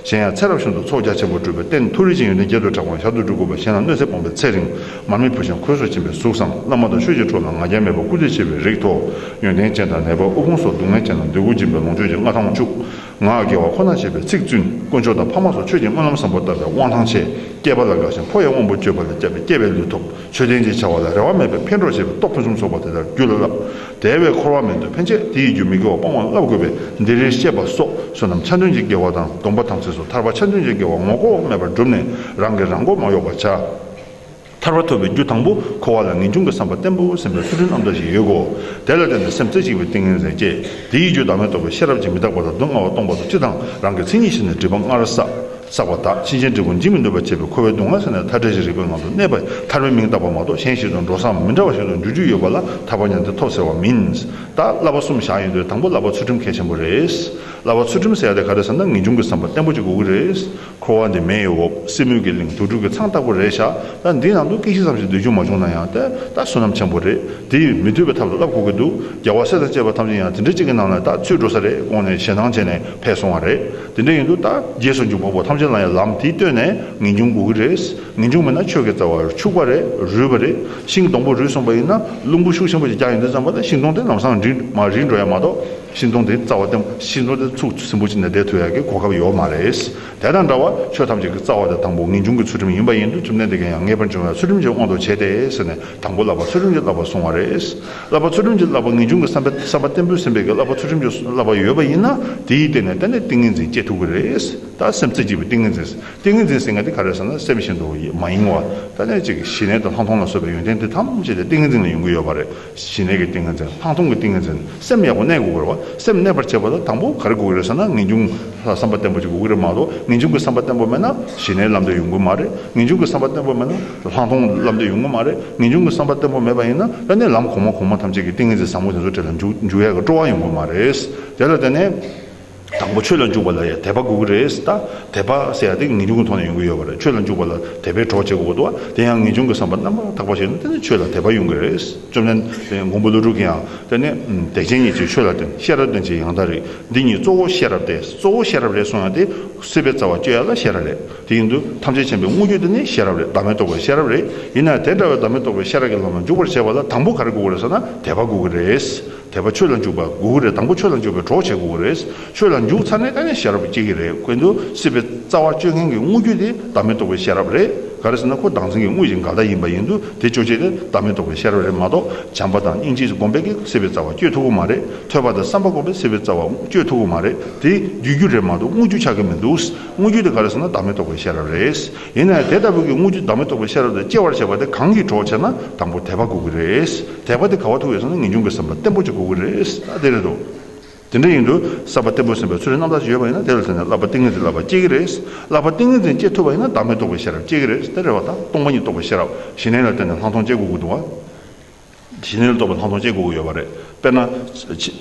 གཞན་ཡང་ཚེ་རབས་གཞུང་དུ་ཚོགས་རྒྱ་ཆེན་པོར་སྤྲུལ་པའི་རྟེན་མཐུ་རིན་ཆེན་ཡོན་ཏན་བརྒྱད་དུ་གྲགས་པའང་ཞར་དུ་འབྲུ་དགོས་པ་གཞན་ལ་གནོད་འཚེ་སྤོང་པའི་ཚེ་རིང་མར་མི་བུ་ཆང་ཁོལ་སོགས་བྱིན་པའི་གཟུགས་སམ་བླ་མ་དང་ཆོས་ཀྱི་འཕྲོ་ལ་ང་རྒྱལ་མེད་པར་སྐུ་ཚེ་ཆེ་བའི་རིགས། ཐོག་ཡོན་ཏན་ཅན་དང་ནད་པ་དབུལ་ཕོངས་སོགས་སྡུག་བསྔལ་ཅན་ལ་འདོད་དགུ་སྦྱིན་པའི་ལོངས་སྤྱོད་ཀྱི་མངའ་ཐང་བཅུག། ངག་དགེ་བ་ཁོ་ནར་བྱེད་པའི་ཚིག་བཙུན་དཀོན་མཆོག་དང་ཕ་མ་སོགས་ཆོས་ཀྱི་སྨོན་ལམ་བཟང་པོ་བཏབ་པའི་དབང་ཐང་ཆེ། སྐྱེས་པ་ལ་དགའ་ཞིང་ཕོ་ཡི་དབང་པོ་སྐྱོད་པ་ལས་སྐྱབས་པའི་སྐྱེ་བའི་ལུས་ཐོབ། ཆོས་ལྡན་ཅེས་བྱ་བ་ལ་རེ་བ་མེད་པས་ཕན་གྲོགས་བྱེད་པའི་སྟོབས་ཕུན་སུམ་ཚོགས་པ་དེ་ལྟར་རྒྱུད་ལ་བསླབ། དེ་བས་འཁོར་བ་མེད་དུ་ཕན་ཆད་དེ་ཡི་རྒྱུ་མི་དགེ་བ་སྤང་བར་བསླབ་དགོས་པས་འདིར་རེ་ཤེས་པ་སོགས་བསོད་ནམས་ཆ་མཐུན་གྱི་དགེ་བ་དང་སྡོམ་པ་དམ་ཚིག་སོགས་ཐར་པ་ཆ་མཐུན་གྱི་དགེ་བ་ངོ་ལྐོག་མེད་པར་བསྒྲུབས་ནས་རང་གིས་རང་མགོ་མ་གཡོགས་པར་བྱ། ཐར་བ་ཐོབ་པའི་རྒྱུ་དང་པོ་འཁོར་བ་ལ་ངེས་འབྱུང་གི་བསམ་པ་བརྟན་པོ་སེམས་པའི་ཚུལ་ཁྲིམས་ཨམ་ཟླ་བཞིན་ཡོད་དགོས། དེ་ལ་བརྟེན་ནས་སེམས་རྩེ་གཅིག་པའི་ཏིང་ངེ་འཛིན་སྐྱེ། དེའི་རྒྱུ་བདག་མེད་རྟོགས་པའི་ཤེས་རབ་ཀྱིས་མི་རྟག་པ་ལ་སྡུག་བསྔལ་བ་སྟོང་པ་དང་སྤྱི་དང་རང་གི་མཚན་ཉིད་ཤེས་ནས་སྒྲིབ་པ་སྔར་བསགས་པ་དག་ཕྱིན་ཅི་འགྲིག་པོ་འབྱིན་མི་ནུས་པར་བྱས་པས་འཁོར་བའི་སྡུག་བསྔལ་ཟད་ནས་མཐའ་བྲལ་ཅི་རིགས་པའི་ངང་དུ་གནས་པས་ཐར་པའི་མིང་བཏགས་པ་མ་གཏོགས་གཞན་ཞིག་ཏུ་འགྲོ་སའམ་མི་འདྲ་བ་ཞིག་ཏུ་འགྱུར་རྒྱུ་ཡོད་པ་ལ་ཐར་པ་ཉམས་ཏེ་ཐོབ་ཟེར་བ་མིན། ད་བསླབ་པ་གསུམ་བཞག་ཡོད་དུས་དང་པོ་བསླབ་པ་ཚུལ་ཁྲིམས་གལ་ཆེན་པོ་རེད། བསླབ་པ་ཚུལ་ཁྲིམས་ཟེར་ཡག་དེ་ག་རེ་ཟེར་ན་ངེས་འབྱུང་གི་བསམ་པ་བརྟན་པོ་གཅིག་དགོས་ཀྱི་རེད། འཁོར་བ་འདི་མེ་ཡི་འོབས་སེ་མུན་གྱི་གླིང་དུར་ཁྲོད་ཀྱི་ཚང་ལྟ་བུ་རེད་བཞག་ད་འདི་ནང་དུ་སྐད་ཅིག་ཙམ་ཞིག་སྡོད་རྒྱུ་མ་བྱུང་ན་ཡང་ད་ལྟ་བསོད་ནམས་ཆེན་པོ་རེད་དེ་མི་སྡོད་པའི་ཐབས་ལ་བསླབ་དགོས་ཀྱི་འདུག་རྒྱལ་བ་སྲས་དང་བཅས་པ་ཐམས་ཅད་ཡང་དེ་འདྲ་གཅིག་གི་ནང་ལ་ད་ཚུད་འགྲོ་ས་རེད་དགོངས་ནས་ཞེ་སྣང་བྱས་ནས་ཕེབས་སོང་བ་རེད་དེ་འདྲ་ཡིན་དུས་ད་རྗེས་སུ་འཇུག་པ་པོ་ཐམས་ཅད་ལ་ཡང་ལམ་དེ་བསྟོད་ནས་ངེས་འབྱུང་དགོས་ཀྱི་རེད་ངེས་འབྱུང་མེད་ན་ཆོས་ཀྱི་རྩ་བ་འཆུགས་པ་རེད་རུལ་བ་རེད་ཤིང་སྡོང་པོ་རུལ་སོང་པ་ཡིན་ན་རླུང་བུ་ཤུགས་ཆེན་པོ་ཞིག་རྒྱག་ཡོང་དུས་རྩམ་པ་དང་ཤིང་སྡོང་དེ་ལམ་སང་རིལ་མ་རིལ་འགྲོ་ཡ་མ་གཏོགས། ཤིང་སྡོང་དེའི་རྩ་བ་དེ་ཤིང་སྡོང་དེ་ཚུགས་སིམ་པོ་ཅིག་ནས་བསྡད་ཐུབ་ཡག་གི་གོ་སྐབས་ཡོད་མ་རེད། དེ་དང་འདྲ་བར་ཆོས་ཐམས་ཅད་ཀྱི་རྩ་བ་དང་དང་པོ་ངེས་འབྱུང་གི་ཚུལ་ཁྲིམས་ཡིན་པ་ཡིན་དུས་ཁྲིམས་ལྡན་འདི་ག་ཡང་ངེས་པར་འབྱུང་བའི་ཚུལ་ཁྲིམས་ཀྱི་དབང་དུ་བྱས་ཏེ་ཟེར་ནས་དང་པོ་བསླབ་པ་ཚུལ་ཁྲིམས་ཀྱི་བསླབ་པར་སོང་བ་རེད། བསླབ་པ་ཚུལ་ཁྲིམས་ཀྱི་བསླབ་པ་ངེས་འབྱུང་གི་བསམ་པས་བསམ་པ་བརྟན་པོས་ཟིན་པའི་གི་བསླབ་པ་ཚུལ་ཁྲིམས་ཀྱི་བསླབ་པ་ཡོད་པ་ཡིན་ན་དེའི་སྟེང་ནས་གཏན་ནས་ཏིང་ངེ་འཛིན་སྐྱེ་ཐུབ་གི་རེད། ད་སེམས་རྩེ་གཅིག་པའི་ཏིང་ངེ་འཛིན་ཏིང་ངེ་འཛིན་ཟེར་མཁན་དེ་ག་རེད་ཟེར་ན་སེམས་བཞིན་དུ་མ་ཡིན་བར་ད་གནས་གཅིག་གི་ཞི་གནས་དང་ལྷག་མཐོང་ལ་སོགས་པའི་ཡོན་ཏན་དེ་ཐམས་ཅད་དེ་ཏིང་ངེ་འཛིན་ལས་ཡོང་གི་ཡོད་པ་རེད། ཞི་གནས་ཀྱི་ཏིང་ངེ་འཛིན་ལྷག་མཐོང་གི་ཏིང་ངེ་འཛིན་སེམས་ཡག་པོ་གནས་དགོས་པར་བ་སེམས་གནས་པར་བྱེད་པ་ལ་དང་པོ་ག་རེ་དགོས་ཀྱི་རེད་ཟེར་ན་ངེས་འབྱུང་ལ་བསམ་པ་བརྟན་པོ་ཅིག་དགོས་ཀྱི་རེད་མ་གཏོགས་ངེས་འབྱུང་གི་བསམ་པ་བརྟན་པོ་མེད་ན་ཞི་གནས་ལམ་འདི་ཡོང་གི་མ་རེད་ངེས་འབྱུང་གི་བསམ་པ་བརྟན་པོ་མེད་ན་ལྷག་མཐོང་ལམ་འདི་ཡོང་གི་མ་རེད་ངེས་འབྱུང་གི་བསམ་པ་བརྟན་པོ་མེད་པ་ཡིན་ན་དཔེ་ནི་ལམ་གོང་མ་གོང་མ་ཐམས་ཅད་ཀྱི་ཏིང་ངེ་འཛིན་བཟང་པོ་དེ་ཚོ་བྲལ་ལ་འཇུག་ཡས་ཀྱི་སྤྲོ་བ་ཡོང་གི་མ་རེད། དེ་ལ་བརྟེན་ནས། དང་པོ་ཆོས་ལ་འཇུག་པ་ལ་ཡང་དད་པ་དགོས་ཀྱི་རེད་ད། དད་པ་ཟེར་ཡག་དེ་ངེས་འབྱུང་གི་ཐོག་ནས་ཡོང་གི་ཡོད་པ་རེད་ཆོས་ལ་འཇུག་པ་ལ་དད་པའི་གྲོགས་བྱེད་དགོས་ཀྱི་འདུག་བ་དེ་ཡང་ངེས་འབྱུང་གི་བསམ་པ་རྣམ་པར་དག་པ་ཞིག་ནི་དེ་ནི་ཆོས་ལ་དད་པ་ཡོང་གི་རེད་བཅོམ་ལྡན་འདས་མགོན་པོ་ཀླུ་སྒྲུབ་ཀྱིས་ཡང་དེ་ནི་དད་ཅན་གཉིས་ཀྱིས་ཆོས་ལ་བརྟེན་ཤེས་རབ་བརྟེན་བྱས་ཡང་དག་རེད་འདི་གཉིས་གཙོ་བོ་ཤེས་རབ་སྟེ་གཙོ་བོ་ཤེས་རབ་རེད་གསུངས་ཡང་དེ་སྲིད་པའི་རྩ་བ་གཅོད་ཡ་ལ་ཤེས་རབ་རེད་དེ་ཡིན་དུས་ཐམས་ཅད་མཁྱེན་པའི་དངོས་རྒྱུ་དེ་ནི་ཤེས་རབ་རེད་བདག་མེད་རྟོགས་པའི་ཤེས་རབ་རེད་ཡིན་ནའི་དེ་འདྲ་བའི་བདག་མེད་རྟོགས་པའི་ཤེས་རབ་ཀྱི་ལམ་ལ་འཇུག་པར་བྱེད་པ་ལ་དང་པོ་ག་རེ་དགོས་ཀྱི་རེད་ཟེར་ན་དད་པ་དགོས་ཀྱི་རེད། དད་པ་ཆོས་ལ་འཇུག་པ་དགོས་ཀྱི་རེད་དང་པོ་ཆོས་ལ་འཇུག་པའི་གྲོགས་བྱེད་དགོས་ཀྱི་རེད། ཆོས་ལ་འཇུག་ཚར་ནས་ད་ནི་ཤེས་རབ་སྐྱེ་གི་རེད་ཁོས་འདུ་སྲིད་པའི་རྩ་བ་གཅོད་མཁན་གྱི་དངོས་རྒྱུ་དེ་བདག་མེད་རྟོགས་པའི་ཤེས་རབ་རེད། ག་རེ་ཟེར་ན་ཁོ་བདག་འཛིན་གྱི་དངོས་གཞི་འགལ་ཟླ་ཡིན་པ་ཡིན་དུས་དེ་གཅོད་བྱེད་དེ་བདག་མེད་རྟོགས་པའི་ཤེས་རབ་རེད་མ་གཏོགས་བྱམས་པ་དང་སྙིང་རྗེས་སྒོམ་པས་ཀྱི་སྲིད་པའི་རྩ་བ་གཅོད་ཐུབ་ཀྱི་མ་རེད་ཐོས་པ་དང་བསམ་པ་སྒོམ་པས་སྲིད་པའི་རྩ་བ་གཅོད་ཐུབ་ཀྱི་མ་རེད་དེ་རྒྱུད་རྒྱུ་རེད་མ་གཏོགས་དངོས་རྒྱུ་ཆགས་ཀྱི་མི་འདུག་དངོས་རྒྱུ་དེ་ག་རེ་ཟེར་ན་བདག་མེད་རྟོགས་པའི་ཤེས་རབ་རེད། ཡིན་ནའང་དེ་ལྟ་བུ་གི་དངུལ་ཆུ་ཟླ་མེ་ཏོག་པའི་ཤེས་རབ་དང་བཅས་བར་བྱས་པ་དེ་གང་གིས་གྲོགས་བྱས་ན་དང་པོར་དད་པ་དགོས་ཀྱི་རེད། དད་པ་དེ་ག་བ་ཐུག་ཡོད་བསམ་ན་ངེས་འབྱུང་གི་བསམ་པ་བརྟན་པོ་ཅིག་དགོས་ཀྱི་རེད་ད་དེ་རེད་དོ། དེ་འདྲ་ཡིན་དུས་བསམ་པ་བརྟན་པོས་ཟིན་པའི་ཚུལ་ལས་རྣམ་དག་ཅིག་ཡོད་པ་ཡིན་ན་དེ་ལ་ཟེར་ནས་བསླབ་པ་ཏིང་ངེ་འཛིན་བསླབ་པ་སྐྱེ་གི་རེད། བསླབ་པ་ཏིང་ངེ་འཛིན་སྐྱེ་ཐུབ་པ་ཡིན་ན་ཟླ་མེ་ཏོག་པའི་ཤེས་རབ་སྐྱེ་གི་རེད་དེ་རེད་བ་དང་སྟོང་པ་ཉིད་རྟོགས་པའི་ཤེས་རབ་གཞི་གནས་ལ་བརྟེན་ནས་ལྷག་མཐོང་སྐྱེ་དགོས་ཀྱི་འདུག་བ། བྱིས་སྣོད་ལ་གཏོགས་པའི་ལྷག་མཐོང་ཅན་དགུ་དགུ་ཡོད་པ་རེད། དཔེར་ན།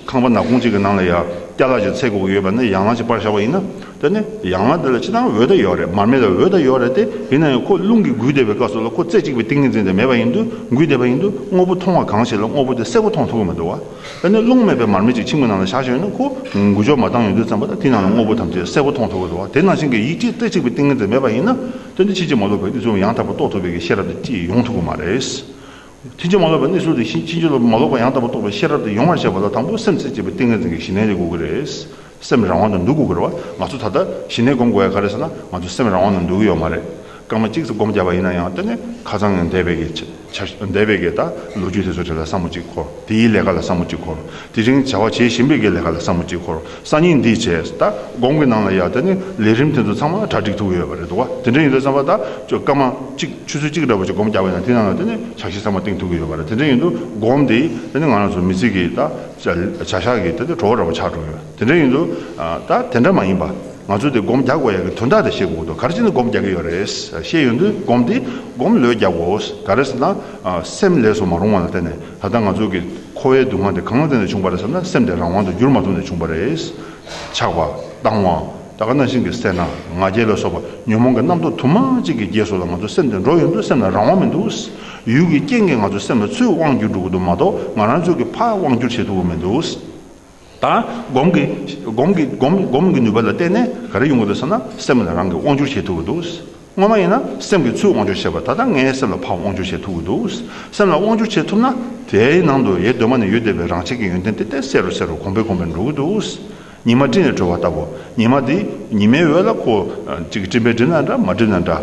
ཁང་པ་ནག་ཁུང་གཅིག་གི་ནང་ལ་ཡང་སྐྱ་ལག་གཅིག་ཚད་དགུ་དགུ་ཡོད་པ་ནི་ཡང་ལག་གཅིག་སྤར་བཞག་པ་ཡིན་ན། དེ་ནི་ཡང་ལག་དེ་ལ་ཅི་ལྟའང་འོད་དང་ཡོ་རེད་མར་མེ་ལ་འོད་དང་ཡོ་རེད་དེ། ཡིན་ན་ཡང་ཁོ་རླུང་གིས་འགུལ་བསྡད་པའི་སྐབས་སུ་ལ་ཁོ་རྩེ་གཅིག་པའི་ཏིང་ངེ་འཛིན་དེ་མེད་པ་ཡིན་དུས་འགུལ་བསྡད་པ་ཡིན་དུས་དངོས་པོ་མཐོང་བ་གང་ཞིག་ལ་དངོས་པོ་དེ་གསལ་པོ་མཐོང་ཐུབ་ཀྱི་མི་འདུག་བ། དེ་ནི་རླུང་མེད་པའི་མར་མེ་ཅིག་ཁྱིམ་གྱི་ནང་ལ་བཞག་ཞོར་ནས་ཁོ་འགུལ་ཕྱོགས་མ་བཏང་ཡོང་དུས་ཙམ་པོ་ལ་དེའི་ནང་ལ་དངོས་པོ་ཐམས་ཅད་གསལ་པོ་མཐོང་ཐུབ་ཀྱི་འདུག་བ། དེ་ནང་བཞིན་གྱི་ཡིད་ཀྱི་རྩེ་གཅིག་པའི་ཏིང་ངེ་འཛིན་མེད་པ་ཡིན་ན། དོན་དེ་ཕྱིན་ཅི་མ་ལོག་པའི་དབུས་གཙང་བོ་ཡང་དག་པར་རྟོགས་ཐུབ་པའི་གྱི་ཤེས་རབ་དེ་ཅིས་ཡོང་ཐུབ་ཀྱི་མ་རེད། ཐེག་ཆེན་མ་ལོག་པའི་གནས་ཚུལ་དེ་བཞིན་ཕྱིན་ཅི་ལོག་པའི་མ་ལོག་པ་ཡང་དག་པར་རྟོགས་པའི་ཤེས་རབ་དེ་ཡོང་བར་བྱེད་པ་ལ་དང་པོ་སེམས་ཚེ་བཅད་པའི་ཏིང་ངེ་འཛིན་གྱི་ཞི་གནས་རེ་དགོས་ཀྱི་རེད། སེམས་རང་དབང་དུ་འདུག་དགོས་ཀྱི་རེད་བ། ང་ཚོ་ད་ལྟ་ཞི་གནས་སྒོམ་དགོས་ཡ་ག་རེད་ཟེར་ན་ང་ཚོ་སེམས་རང་དབང་དུ་འདུག་གི་ཡོད་མ་རེད། སྐར་མ་གཅིག་ཙམ་སྒོམ་བརྒྱབ་པ་ཡིན་ན་ཡང་དེ་ནི་ཁ་ཚང་ངས་འདས་པའི་གི་འདས་པའི་གི་ད་ལོ་རྒྱུས་དེ་ཚོ་དེ་ལ་བསམ་བོ་གཅིག་འཁོར་དེའི་ལས་ཀ་ལ་བསམ་བོ་གཅིག་འཁོར་དེ་རིང་བྱ་བ་བྱེད་བཞིན་པའི་གི་ལས་ཀ་ལ་བསམ་བོ་གཅིག་འཁོར། སང་ཉིན་འདི་བྱས་ད་དགོང་གི་ནང་ལ་ཡག་ད་ནི་ལས་རིམ་དེ་ཚོ་ཚང་མ་གྲ་སྒྲིག་ཐུབ་ཡོད་པ་རེད་འདུག་དེ་འདྲ་ཡིན་དུ་བསམ་པ་ད་ཆོད་སྐར་མ་གཅིག་ཆུ་ཚོད་གཅིག་འདྲ་པོ་ཆོད་སྒོམ་རྒྱག་པའི་ནང་དེ་ནང་ལ་ད་ནི་ཇག་ཤི་ཚང་མ་སྟེང་ཐུག་གི་ཡོད་པ་རེད་དེ་འདྲ་ཡིན་དུ་སྒོམ་དེ་ད་ནི་ང་རང་ཚོ་མི་ཚིག་གི་ད་བྱ་ཞག་གི་ད་ནི་བྲོ་བ་འདྲ་པོ་ཆགས་འགྲོ་གི་ཡོད་དེ་འདྲ་ཡིན་དུ་ད་དེ་འདྲ་མ་ཡིན་པ་ང་ཚོ་དེ་སྒོམ་རྒྱག་དགོས་ཡག་གི་དོན་དག་དེ་ཤེས་དགོས་འདུག་ག་རེ་བྱས་ནས་སྒོམ་རྒྱག་གི་ཡོད་རེད་ཤེས་ཡོད་དུ་སྒོམ་དེ་སྒོམ་ལོས་རྒྱག་དགོས་ག་རེ་ཟེར་ན་སེམས་ལས་སུ་མ་རུང་བ་ལ་བརྟེན་ནས། ད་ལྟ་ང་ཚོ་གི་ཁོ་བོའི་སྡུག་བསྔལ་དེ་གང་ལ་བརྟེན་ནས་བྱུང་བ་རེད་བསམ་ན་སེམས་དེ་རང་དབང་དུ་འགྱུར་མ་ཐུབ་ནས་བྱུང་བ་རེད། ཆགས་པ། བཏང་བ། ད་ག་རྣ་ཤིང་གི་སེར་སྣ། ང་རྒྱལ་ལ་སོགས་པ་ཉོན་མོངས་ཀྱི་རྣམ་རྟོག་དུ་མ་གཅིག་གིས་རྒྱས་སོ་ལ་ང་ཚོ་སེམས་དེ་འགྲོ་ཡོང་དུས་སེམས་ལ་རང་དབང་མི་འདུག། ཡུལ་གྱི་རྐྱེན་གྱིས་ང་ཚོའི་སེམས་ལ་ཚུར་དབང་བསྒྱུར་འགྲོ་དགོས་འདུག་མ་གཏོགས་ང་རང་ཚོས་ཀྱི་ཕར་དབང་བསྒྱུར་བྱེད་ཐུབ་ཀྱི་མི་འདུག། དང། སྒོམ་གྱི་སྒོམ་གྱི་སྒོམ་སྒོམ་གྱི་ནུས་པ་ལ་བརྟེན་ནས་ག་རེ་ཡོང་གི་འདུག་ཟེར་ན་སེམས་ལ་རང་གིས་དབང་བསྒྱུར་བྱེད་ཐུབ་ཀྱི་འདུག་སྔོན་མ་ཡིན་ན་སེམས་ཀྱིས་ཚུར་དབང་བསྒྱུར་བྱེད་པ་ད་ལྟ་ངའི་སེམས་ལ་ཕར་དབང་བསྒྱུར་བྱེད་ཐུབ་ཀྱི་འདུག་སེམས་ལ་དབང་བསྒྱུར་བྱེད་ཐུབ་ན་དེའི་ནང་དུ་ཡེ་གདོད་མ་ནས་ཡོད་བསྡད་པའི་རང་བྱེད་ཀྱི་ཡོན་ཏན་དེ་བརྟན་གསལ་རུ་གསལ་རུ་གོང་འཕེལ་གོང་འཕེལ་འགྲོ་གི་འདུག་ཉི་མ་སྤྲིན་ལས་གྲོལ་བ་ལྟ་བུ་ཉི་མ་དེ་ཉི་མའི་འོད་ལ་ཁོ་གཅིག་སྤྲིན་པས་བསྒྲིབས་ན་འདྲ་མ་བསྒྲིབས་ན་འདྲ།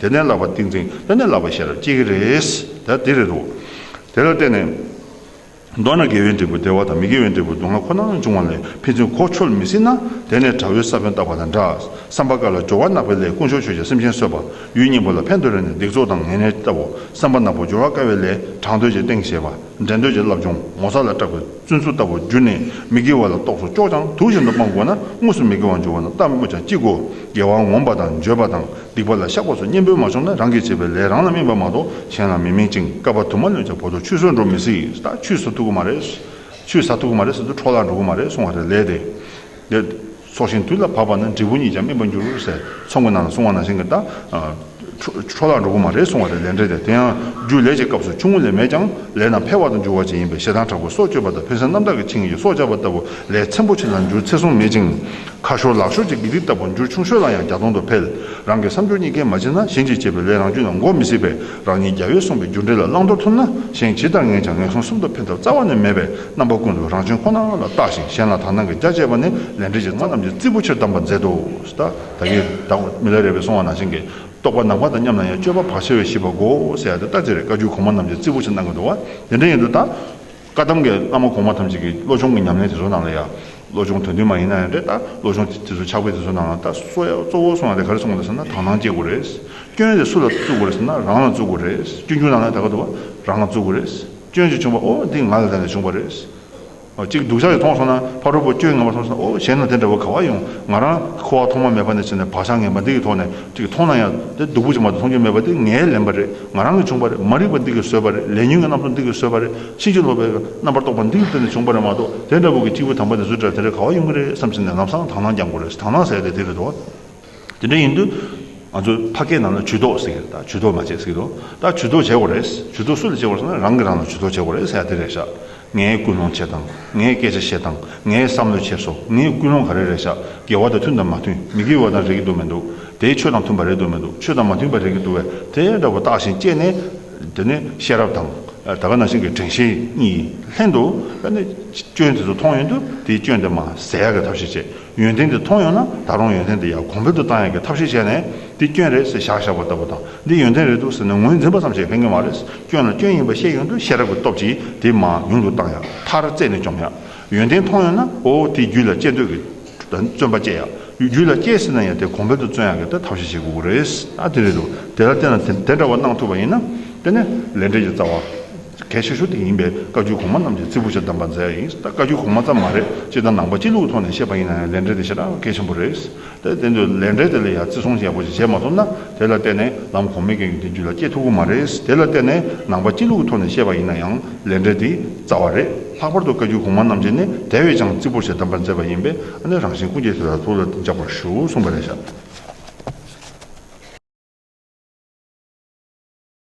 དེ་ནས་ལག་པ་ཏིང་འཛིན་བསྟན་ནས་ལག་པ་ཤེས་རབ་བསྐྱེད་ཀྱི་རེད། དེ་རེད་དོ། དེ་ལ་བརྟེན་ནས། མདོར་ན་དགེ་བའི་འབྲས་བུ་བདེ་བ་དང་མི་དགེ་བའི་འབྲས་བུ་སྡུག་བསྔལ་ཁོ་ན་འབྱུང་བ་ལས་ཕན་ཚུན་གོ་འཆོལ་མི་སྲིད་ན། དེ་ནས་དགྲ་བོའི་ས་བོན་བཏགས་པ་དང་འདྲ། བསམ་པ་དཀར་ལ་སྦྱོར་བ་གནག་པའི་ལས་དཀོན་མཆོག་ཆོས་ཀྱི་སེམས་ཅན་གསོད་པ། ཡུལ་སྙིང་པོ་ལ་ཕན་འདོད་རེ་ནས་སྡིག་ཚོགས་དང་ངན་ནེར་བཏབ་བོ། བསམ་པ་ནག་པོ་སྦྱོར་བ་དཀར་བའི་ལས་དྲང་འདོད་ཀྱི་སྟེང་བྱེད་པ། འགྲན་འདོད་ཀྱི་རླབས་འབྱུང་ངོ་ཚ་ལ་སྐྲག་པའི་བཙུན་ཚུགས་ལྟ་བུར་གྱུར་ནས་མི་དགེ་བ་ལ་རྟོག་སོ་ཅོག་ལྗང་དུག་བཞིན་དུ་སྤང་དགོས་ན་དངོས་སུ་མི་དགེ་བ་འབྱུང་བ་ན་ལྟ་སྨོས་ཀྱང་ཅི་དགོས་དགེ་བ་ངོམས་པ་དང་འགྱོད་པ་དང། སྡིག་པ་ལ་བཤགས་པ་སོགས་གཉེན་པོའི་མ་ཆོག་ན་རང་གིས་བྱས་པའི་ལས་རང་ལ་སྨིན་པ་མ་གཏོགས་གཞན་ལ་མི་སྨིན་ཅིང་བསྐལ་པ་དུ་མ་ལོན་ཅིང་བོ་དོར་ཆུད་ཟོས་འགྲོ་མི་སྲིད་ད་ཆུད་ཟ་ཐུབ་ཀྱི་མ་རེད། ཆུད་ཟ་ཐུབ་ཀྱི་མ་རེད་ཟེར་དུས་འཕྲོག་བརླག་འགྲོ་གི་མ་རེད་གསུང་བ་རེད་ལས་དེ། དེ། ཚོགས་ཞིང་དུས་ལ་བབ་པ་ན་འབྲས་བུ་ཉིད་ཀྱང་སྨིན་པར་འགྱུར་ཟེར་ཚོགས་མགོན་ནང་ལ་གསུང་བ་ནང་བཞིན་གྱི་ལྟར། འཕྲོག་བརླག་འགྲོ་གི་མ་རེད་གསུང་བ་རེད་ལས་འབྲས་དེ། དེ་ཡང་རྒྱུ་ལས་ཀྱི་སྐབས་སུ་ཆུང་ངུ་ལས་མེད་ཀྱང་ལས་རྣམས་འཕེལ་བ་དང་འགྱུར་བ་ཅན་ཡིན་པས་ཞེ་སྡང་དྲག་པོས་སྲོག་གཅོད་པ་དང་ཕན་སེམས་རྣམ་དག་གིས་འཆིང་བའི་སྲོག་ཆགས་པ་ལྟ་བུ་ལས་ཚན་པོ་ཆེ་ལ་འགྱུར་ཚེ་སྲུང་མེད་ཅིང། ཁ་ཤོར་ལག་ཤོར་གྱི་དགེ་སྡིག་ལྟ་བུར་འགྱུར་ཆུང་ཤོས་ལ་ཡང་བརྒྱ་སྟོང་དུ་འཕེལ། རང་གི་བསམ་སྦྱོར་གཉིས་ཀས་མ་བྱས་ན་གཞན་གྱིས་བྱས་པའི་ལས་རང་རྒྱུད་ལ་འགོག་མི་སྲིད་པས་རང་ཉིད་རྒྱ་ཡོད་གསུངས་པའི་རྒྱུ་འབྲས་ལ་བླང་དོར་ཐུབ་ན་གཞན་ཇི་ལྟར་ངན་ཀྱང་ངན་སོང་གསུམ་དུ་འཕེལ་ཐབས་རྩ་བ་ནས་མེད་པས་རྣམ་པ་ཀུན་ཏུ་རང་བྱུང་ཁོ་ན་ལ་བརྟགས་ཤིང་གཞན་ལ་དག་སྣང་གིས་རྒྱ་བཅད་པ་ནི་ལས་འབྲས་ཀྱི་རྩ་རྣམས་ཀྱི་རྩིས་པོ་ཕྱིར་བསྡམ་པར་མཛད་དོ། ད་གིན་བདག་གིས་མི་ལ་རས་པའི་སོང་བ་ནང་བཞིན་གྱི་རྟོག་པ་ནག་པ་དང་མཉམ་ན་ཡང་སྤྱོད་པ་བག་ཕྱེ་བས་ཞིབ་པར་གོ་ཟེར་ཡ་དེ་ལྟར་བྱས་པས་བཀའ་བརྒྱུད་གོང་མ་རྣམས་ཀྱི་རྩིས་པོ་ཕྱིར་གནང་གི་འདུག་བ་དེ་འདྲ་ཡིན་དུ་ད། བཀའ་གདམས་ཀྱི་བླ་མ་གོང་མ་ཐམས་ཅད་ཀྱིས་བློ་སྦྱོང་གི་ཉམས་ལེན་དེ་ཚོ་གནང་ལ་ཡ། བློ་སྦྱོང་དོན་མཐུན་མ་ཡིན་ན་ཡང་རེད་ད། བློ་སྦྱོང་དེ་ཚོ་ཕྱག་དཔེ་དེ་ཚོ་གནང་ལ་ད། གཙོ་བོ་སོང་ལ་དེ་ག་རེ་གསུང་དགོས་རེད་ཟེར་ན་དག་སྣང་སྐྱེ་དགོས་རེད། སྐྱོན་དེ་སུ་ལ་བཙུགས་དགོས་རེད་ཟེར་ན་རང་ལ་བཙུགས་དགོས་རེད། སྐྱོན་བཅུ་གནང་ལ་ད་ག་ཏུ་བ་རང་ལ་བཙུགས་དགོས་རེད། སྐྱོན་ཅིག་བྱུང་བ་ཨོ་འདི་ང་ལ་ད་ནས་བྱུང་བ་རེད། གཅིག་སྡུག་ཅག་ཡོད་མཐོང་སོང་ན་ཕ་རོལ་པོ་སྐྱོན་ངན་པ་མཐོང་སོང་ན་ཨོ་གཞན་ན་དེ་འདྲ་བ་ག་བ་ཡོང། ང་རང་ཁོ་བ་ཐོག་མ་མེད་པ་ནས་བྱས་ནས་བག་ཆགས་ངན་པ་འདི་ཡི་ཐོག་ནས། འདི་གི་མཐོང་ན་ཡང་དེ་སྡུག་པོ་ཅིག་མ་གཏོགས་མཐོང་རྒྱུ་མེད་པ་འདི་ངའི་ལན་པ་རེད་ང་རང་གིས་བྱུང་པ་རེད་མ་རིག་པ་འདི་གིས་བཟོས་པ་རེད་ལས་ཉོན་གྱི་རྣམ་རྟོག་འདི་གིས་བཟོས་པ་རེད་ཕྱིན་ཅི་ལོག་པའི་རྣམ་པར་རྟོག་པ་འདིའི་བརྟེན་ནས་བྱུང་པ་རེད་མ་གཏོགས་དེ་འདྲ་བོ་གི་སྐྱེས་བུ་དམ་པ་ནི་བཟོས་དྲགས་དེ་འདྲའི་ག་བ་ཡོང་གི་རེད་བསམ་བྱས་ནས་ལམ་སང་དག་སྣང་རྒྱག་མགོ་རེད་དག་སྣང་ཟེར་ཡ་དེ་དེ་རེད་དོ། དེ་འདྲ་ཡིན་དུས་ང་ཚོ་ཕ་སྐད་ནང་ན་ཇུས་གཏོགས་ཟེར་གི་རེད་དག་ཇུས་གཏོགས་མ་བྱེད་ཟེར་གི་རེད་དོ་དག་ཇུས་གཏོགས་བྱེད་དགོ་རེད་ཇུས་གཏོགས་སུ་ལ་བྱེད་དགོ་རེད་ཟེར་ན་རང་གིས་རང་ལ་ཇུས་གཏོགས་བྱེད་དགོ་རེད་ཟེར་ཡ་དེ་རེད་ཤག་ངས་སྐུལ་སློང་བྱས་དང་ངས་སྐད་ཆ་བཤད་དང་ངས་བསམ་བློ་བྱས་སོ་ངས་སྐུལ་སློང་ག་རེ་རེད་བྱ་དགེ་བ་དང་མཐུན་དང་མ་མཐུན་མི་དགེ་བ་དང་རེག་གི་འདུག་མི་འདུག་དེ་ཆོས་དང་མཐུན་པ་རེད་འདུག་མི་འདུག་ཆོས་དང་མ་མཐུན་པ་རེག་གི་འདུག་བས་དེ་འདྲ་བོ་བརྟགས་ཤིང་དཔྱད་ནས། དེ་ནི་ཤེས་རབ་དང། ད་ག་ནང་བཞིན་གྱི་དྲན་ཤེས་གཉིས་ལྷན་དུ། ལྷན་དུ། སྐྱོན་དེ་ཚོ་མཐོང་ཡོང་དུས་དེའི་སྐྱོན་དེ་མ་ཟད་ཡག་གི་ཐབས་ཤེས་བྱེད། ཡོན་ཏན་དེ་མཐོང་ཡོང་ན་ད་རུང་ཡོན་ཏན་དེ་ཡར་གོང་འཕེལ་དུ་བཏང་ཡག་གི་ཐབས་ཤེས་བྱས་ནས་འདི་སྐྱོན་རེད་ཟེར་བཞག་བཞག་པ་ལྟ་བུ་དང་འདི་ཡོན་ཏན་རེད་འདུག་ཟེར་ནས་ངོས་འཛིན་པ་ཙམ་བྱས་ཕན་གྱི་མ་རེད་སྐྱོན་ལ་སྐྱོན་ཡིན་པ་ཤེས་ཡོང་དུས་ཤེས་རབ་ཀྱི་སྟོབས་ཀྱིས་དེ་མང་ཉུང་དུ་བཏང་ཡག་མཐར་རྩད་ནས་བཅོམ་ཡག་ཡོན་ཏན་མཐོང་ཡོང་ན་ཨོ་དེ་རྒྱུད་ལ་སྐྱེ་འདོད་ཀྱི་བརྩོན་པ་བསྐྱེད་ཡག་རྒྱུད་ལ་སྐྱེས་ཟིན་ན་ཡང་དེ་གོང་འཕེལ་དུ་བརྩོན་ཡག་གི་ཐབས་ཤེས་བྱེད་དགོས་ཀྱི་རེད། ཨ་དེ་རེད་འདུག་དེ་ལ་བརྟེན་ན་དེ་འདྲ་བ་གནང་ཐུབ་པ་ཡིན་ན་དེ་ནི་ལས་འབྲས་ཀྱི་རྩ་བ། གལ་ཆེ་ཤོས་དེ་ཡིན་པས་བཀའ་བརྒྱུད་གོང་མ་རྣམས་ཀྱིས་རྩིས་པོ་ཆེར་གདམས་པ་མཛད་ཡིན། ད་བཀའ་བརྒྱུད་གོང་མ་ཙམ་མ་རེད་སྤྱིར་བཏང་ནང་པ་སྤྱི་ལུགས་ཐོག་ནས་བཤད་པ་ཡིན་ན་ཡང་ལས་འབྲས་དེ་ཞེ་དྲག་གལ་ཆེན་པོ་རེད། དེར་བརྟེན་དུ་ལས་འབྲས་དེ་ལ་ཡང་བརྩི་སྲུང་ཡག་པོ་ཞིག་བྱས་མ་ཐུབ་ན་དེ་ལ་བརྟེན་ནས་ལམ་གོང་མའི་འགན་ཡོད་དེ་རྒྱུད་ལ་སྐྱེ་ཐུབ་ཀྱི་མ་རེད། དེ་ལ་བརྟེན་ནས་ནང་པ་སྤྱི་ལུགས་ཐོག་ནས་བཤད་པ་ཡིན་ན་ཡང་ལས་འབྲས་དེ་རྩ་བ་རེད། ལྷག་པར་དུ་བཀའ་བརྒྱུད་གོང་མ་རྣམས་ཀྱིས་ནི་དེ་བས་ཀྱང་རྩིས་པོ་ཆེར་གདམས་པ་མཛད་པ་ཡིན་པས་ཨ་ནི་རང་བཞིན་ཀུན་གྱིས་དེ་དག་ཐུགས་ལ་འཇགས་པར་ཞུ་གསུངས་པ་ལས་ཤར།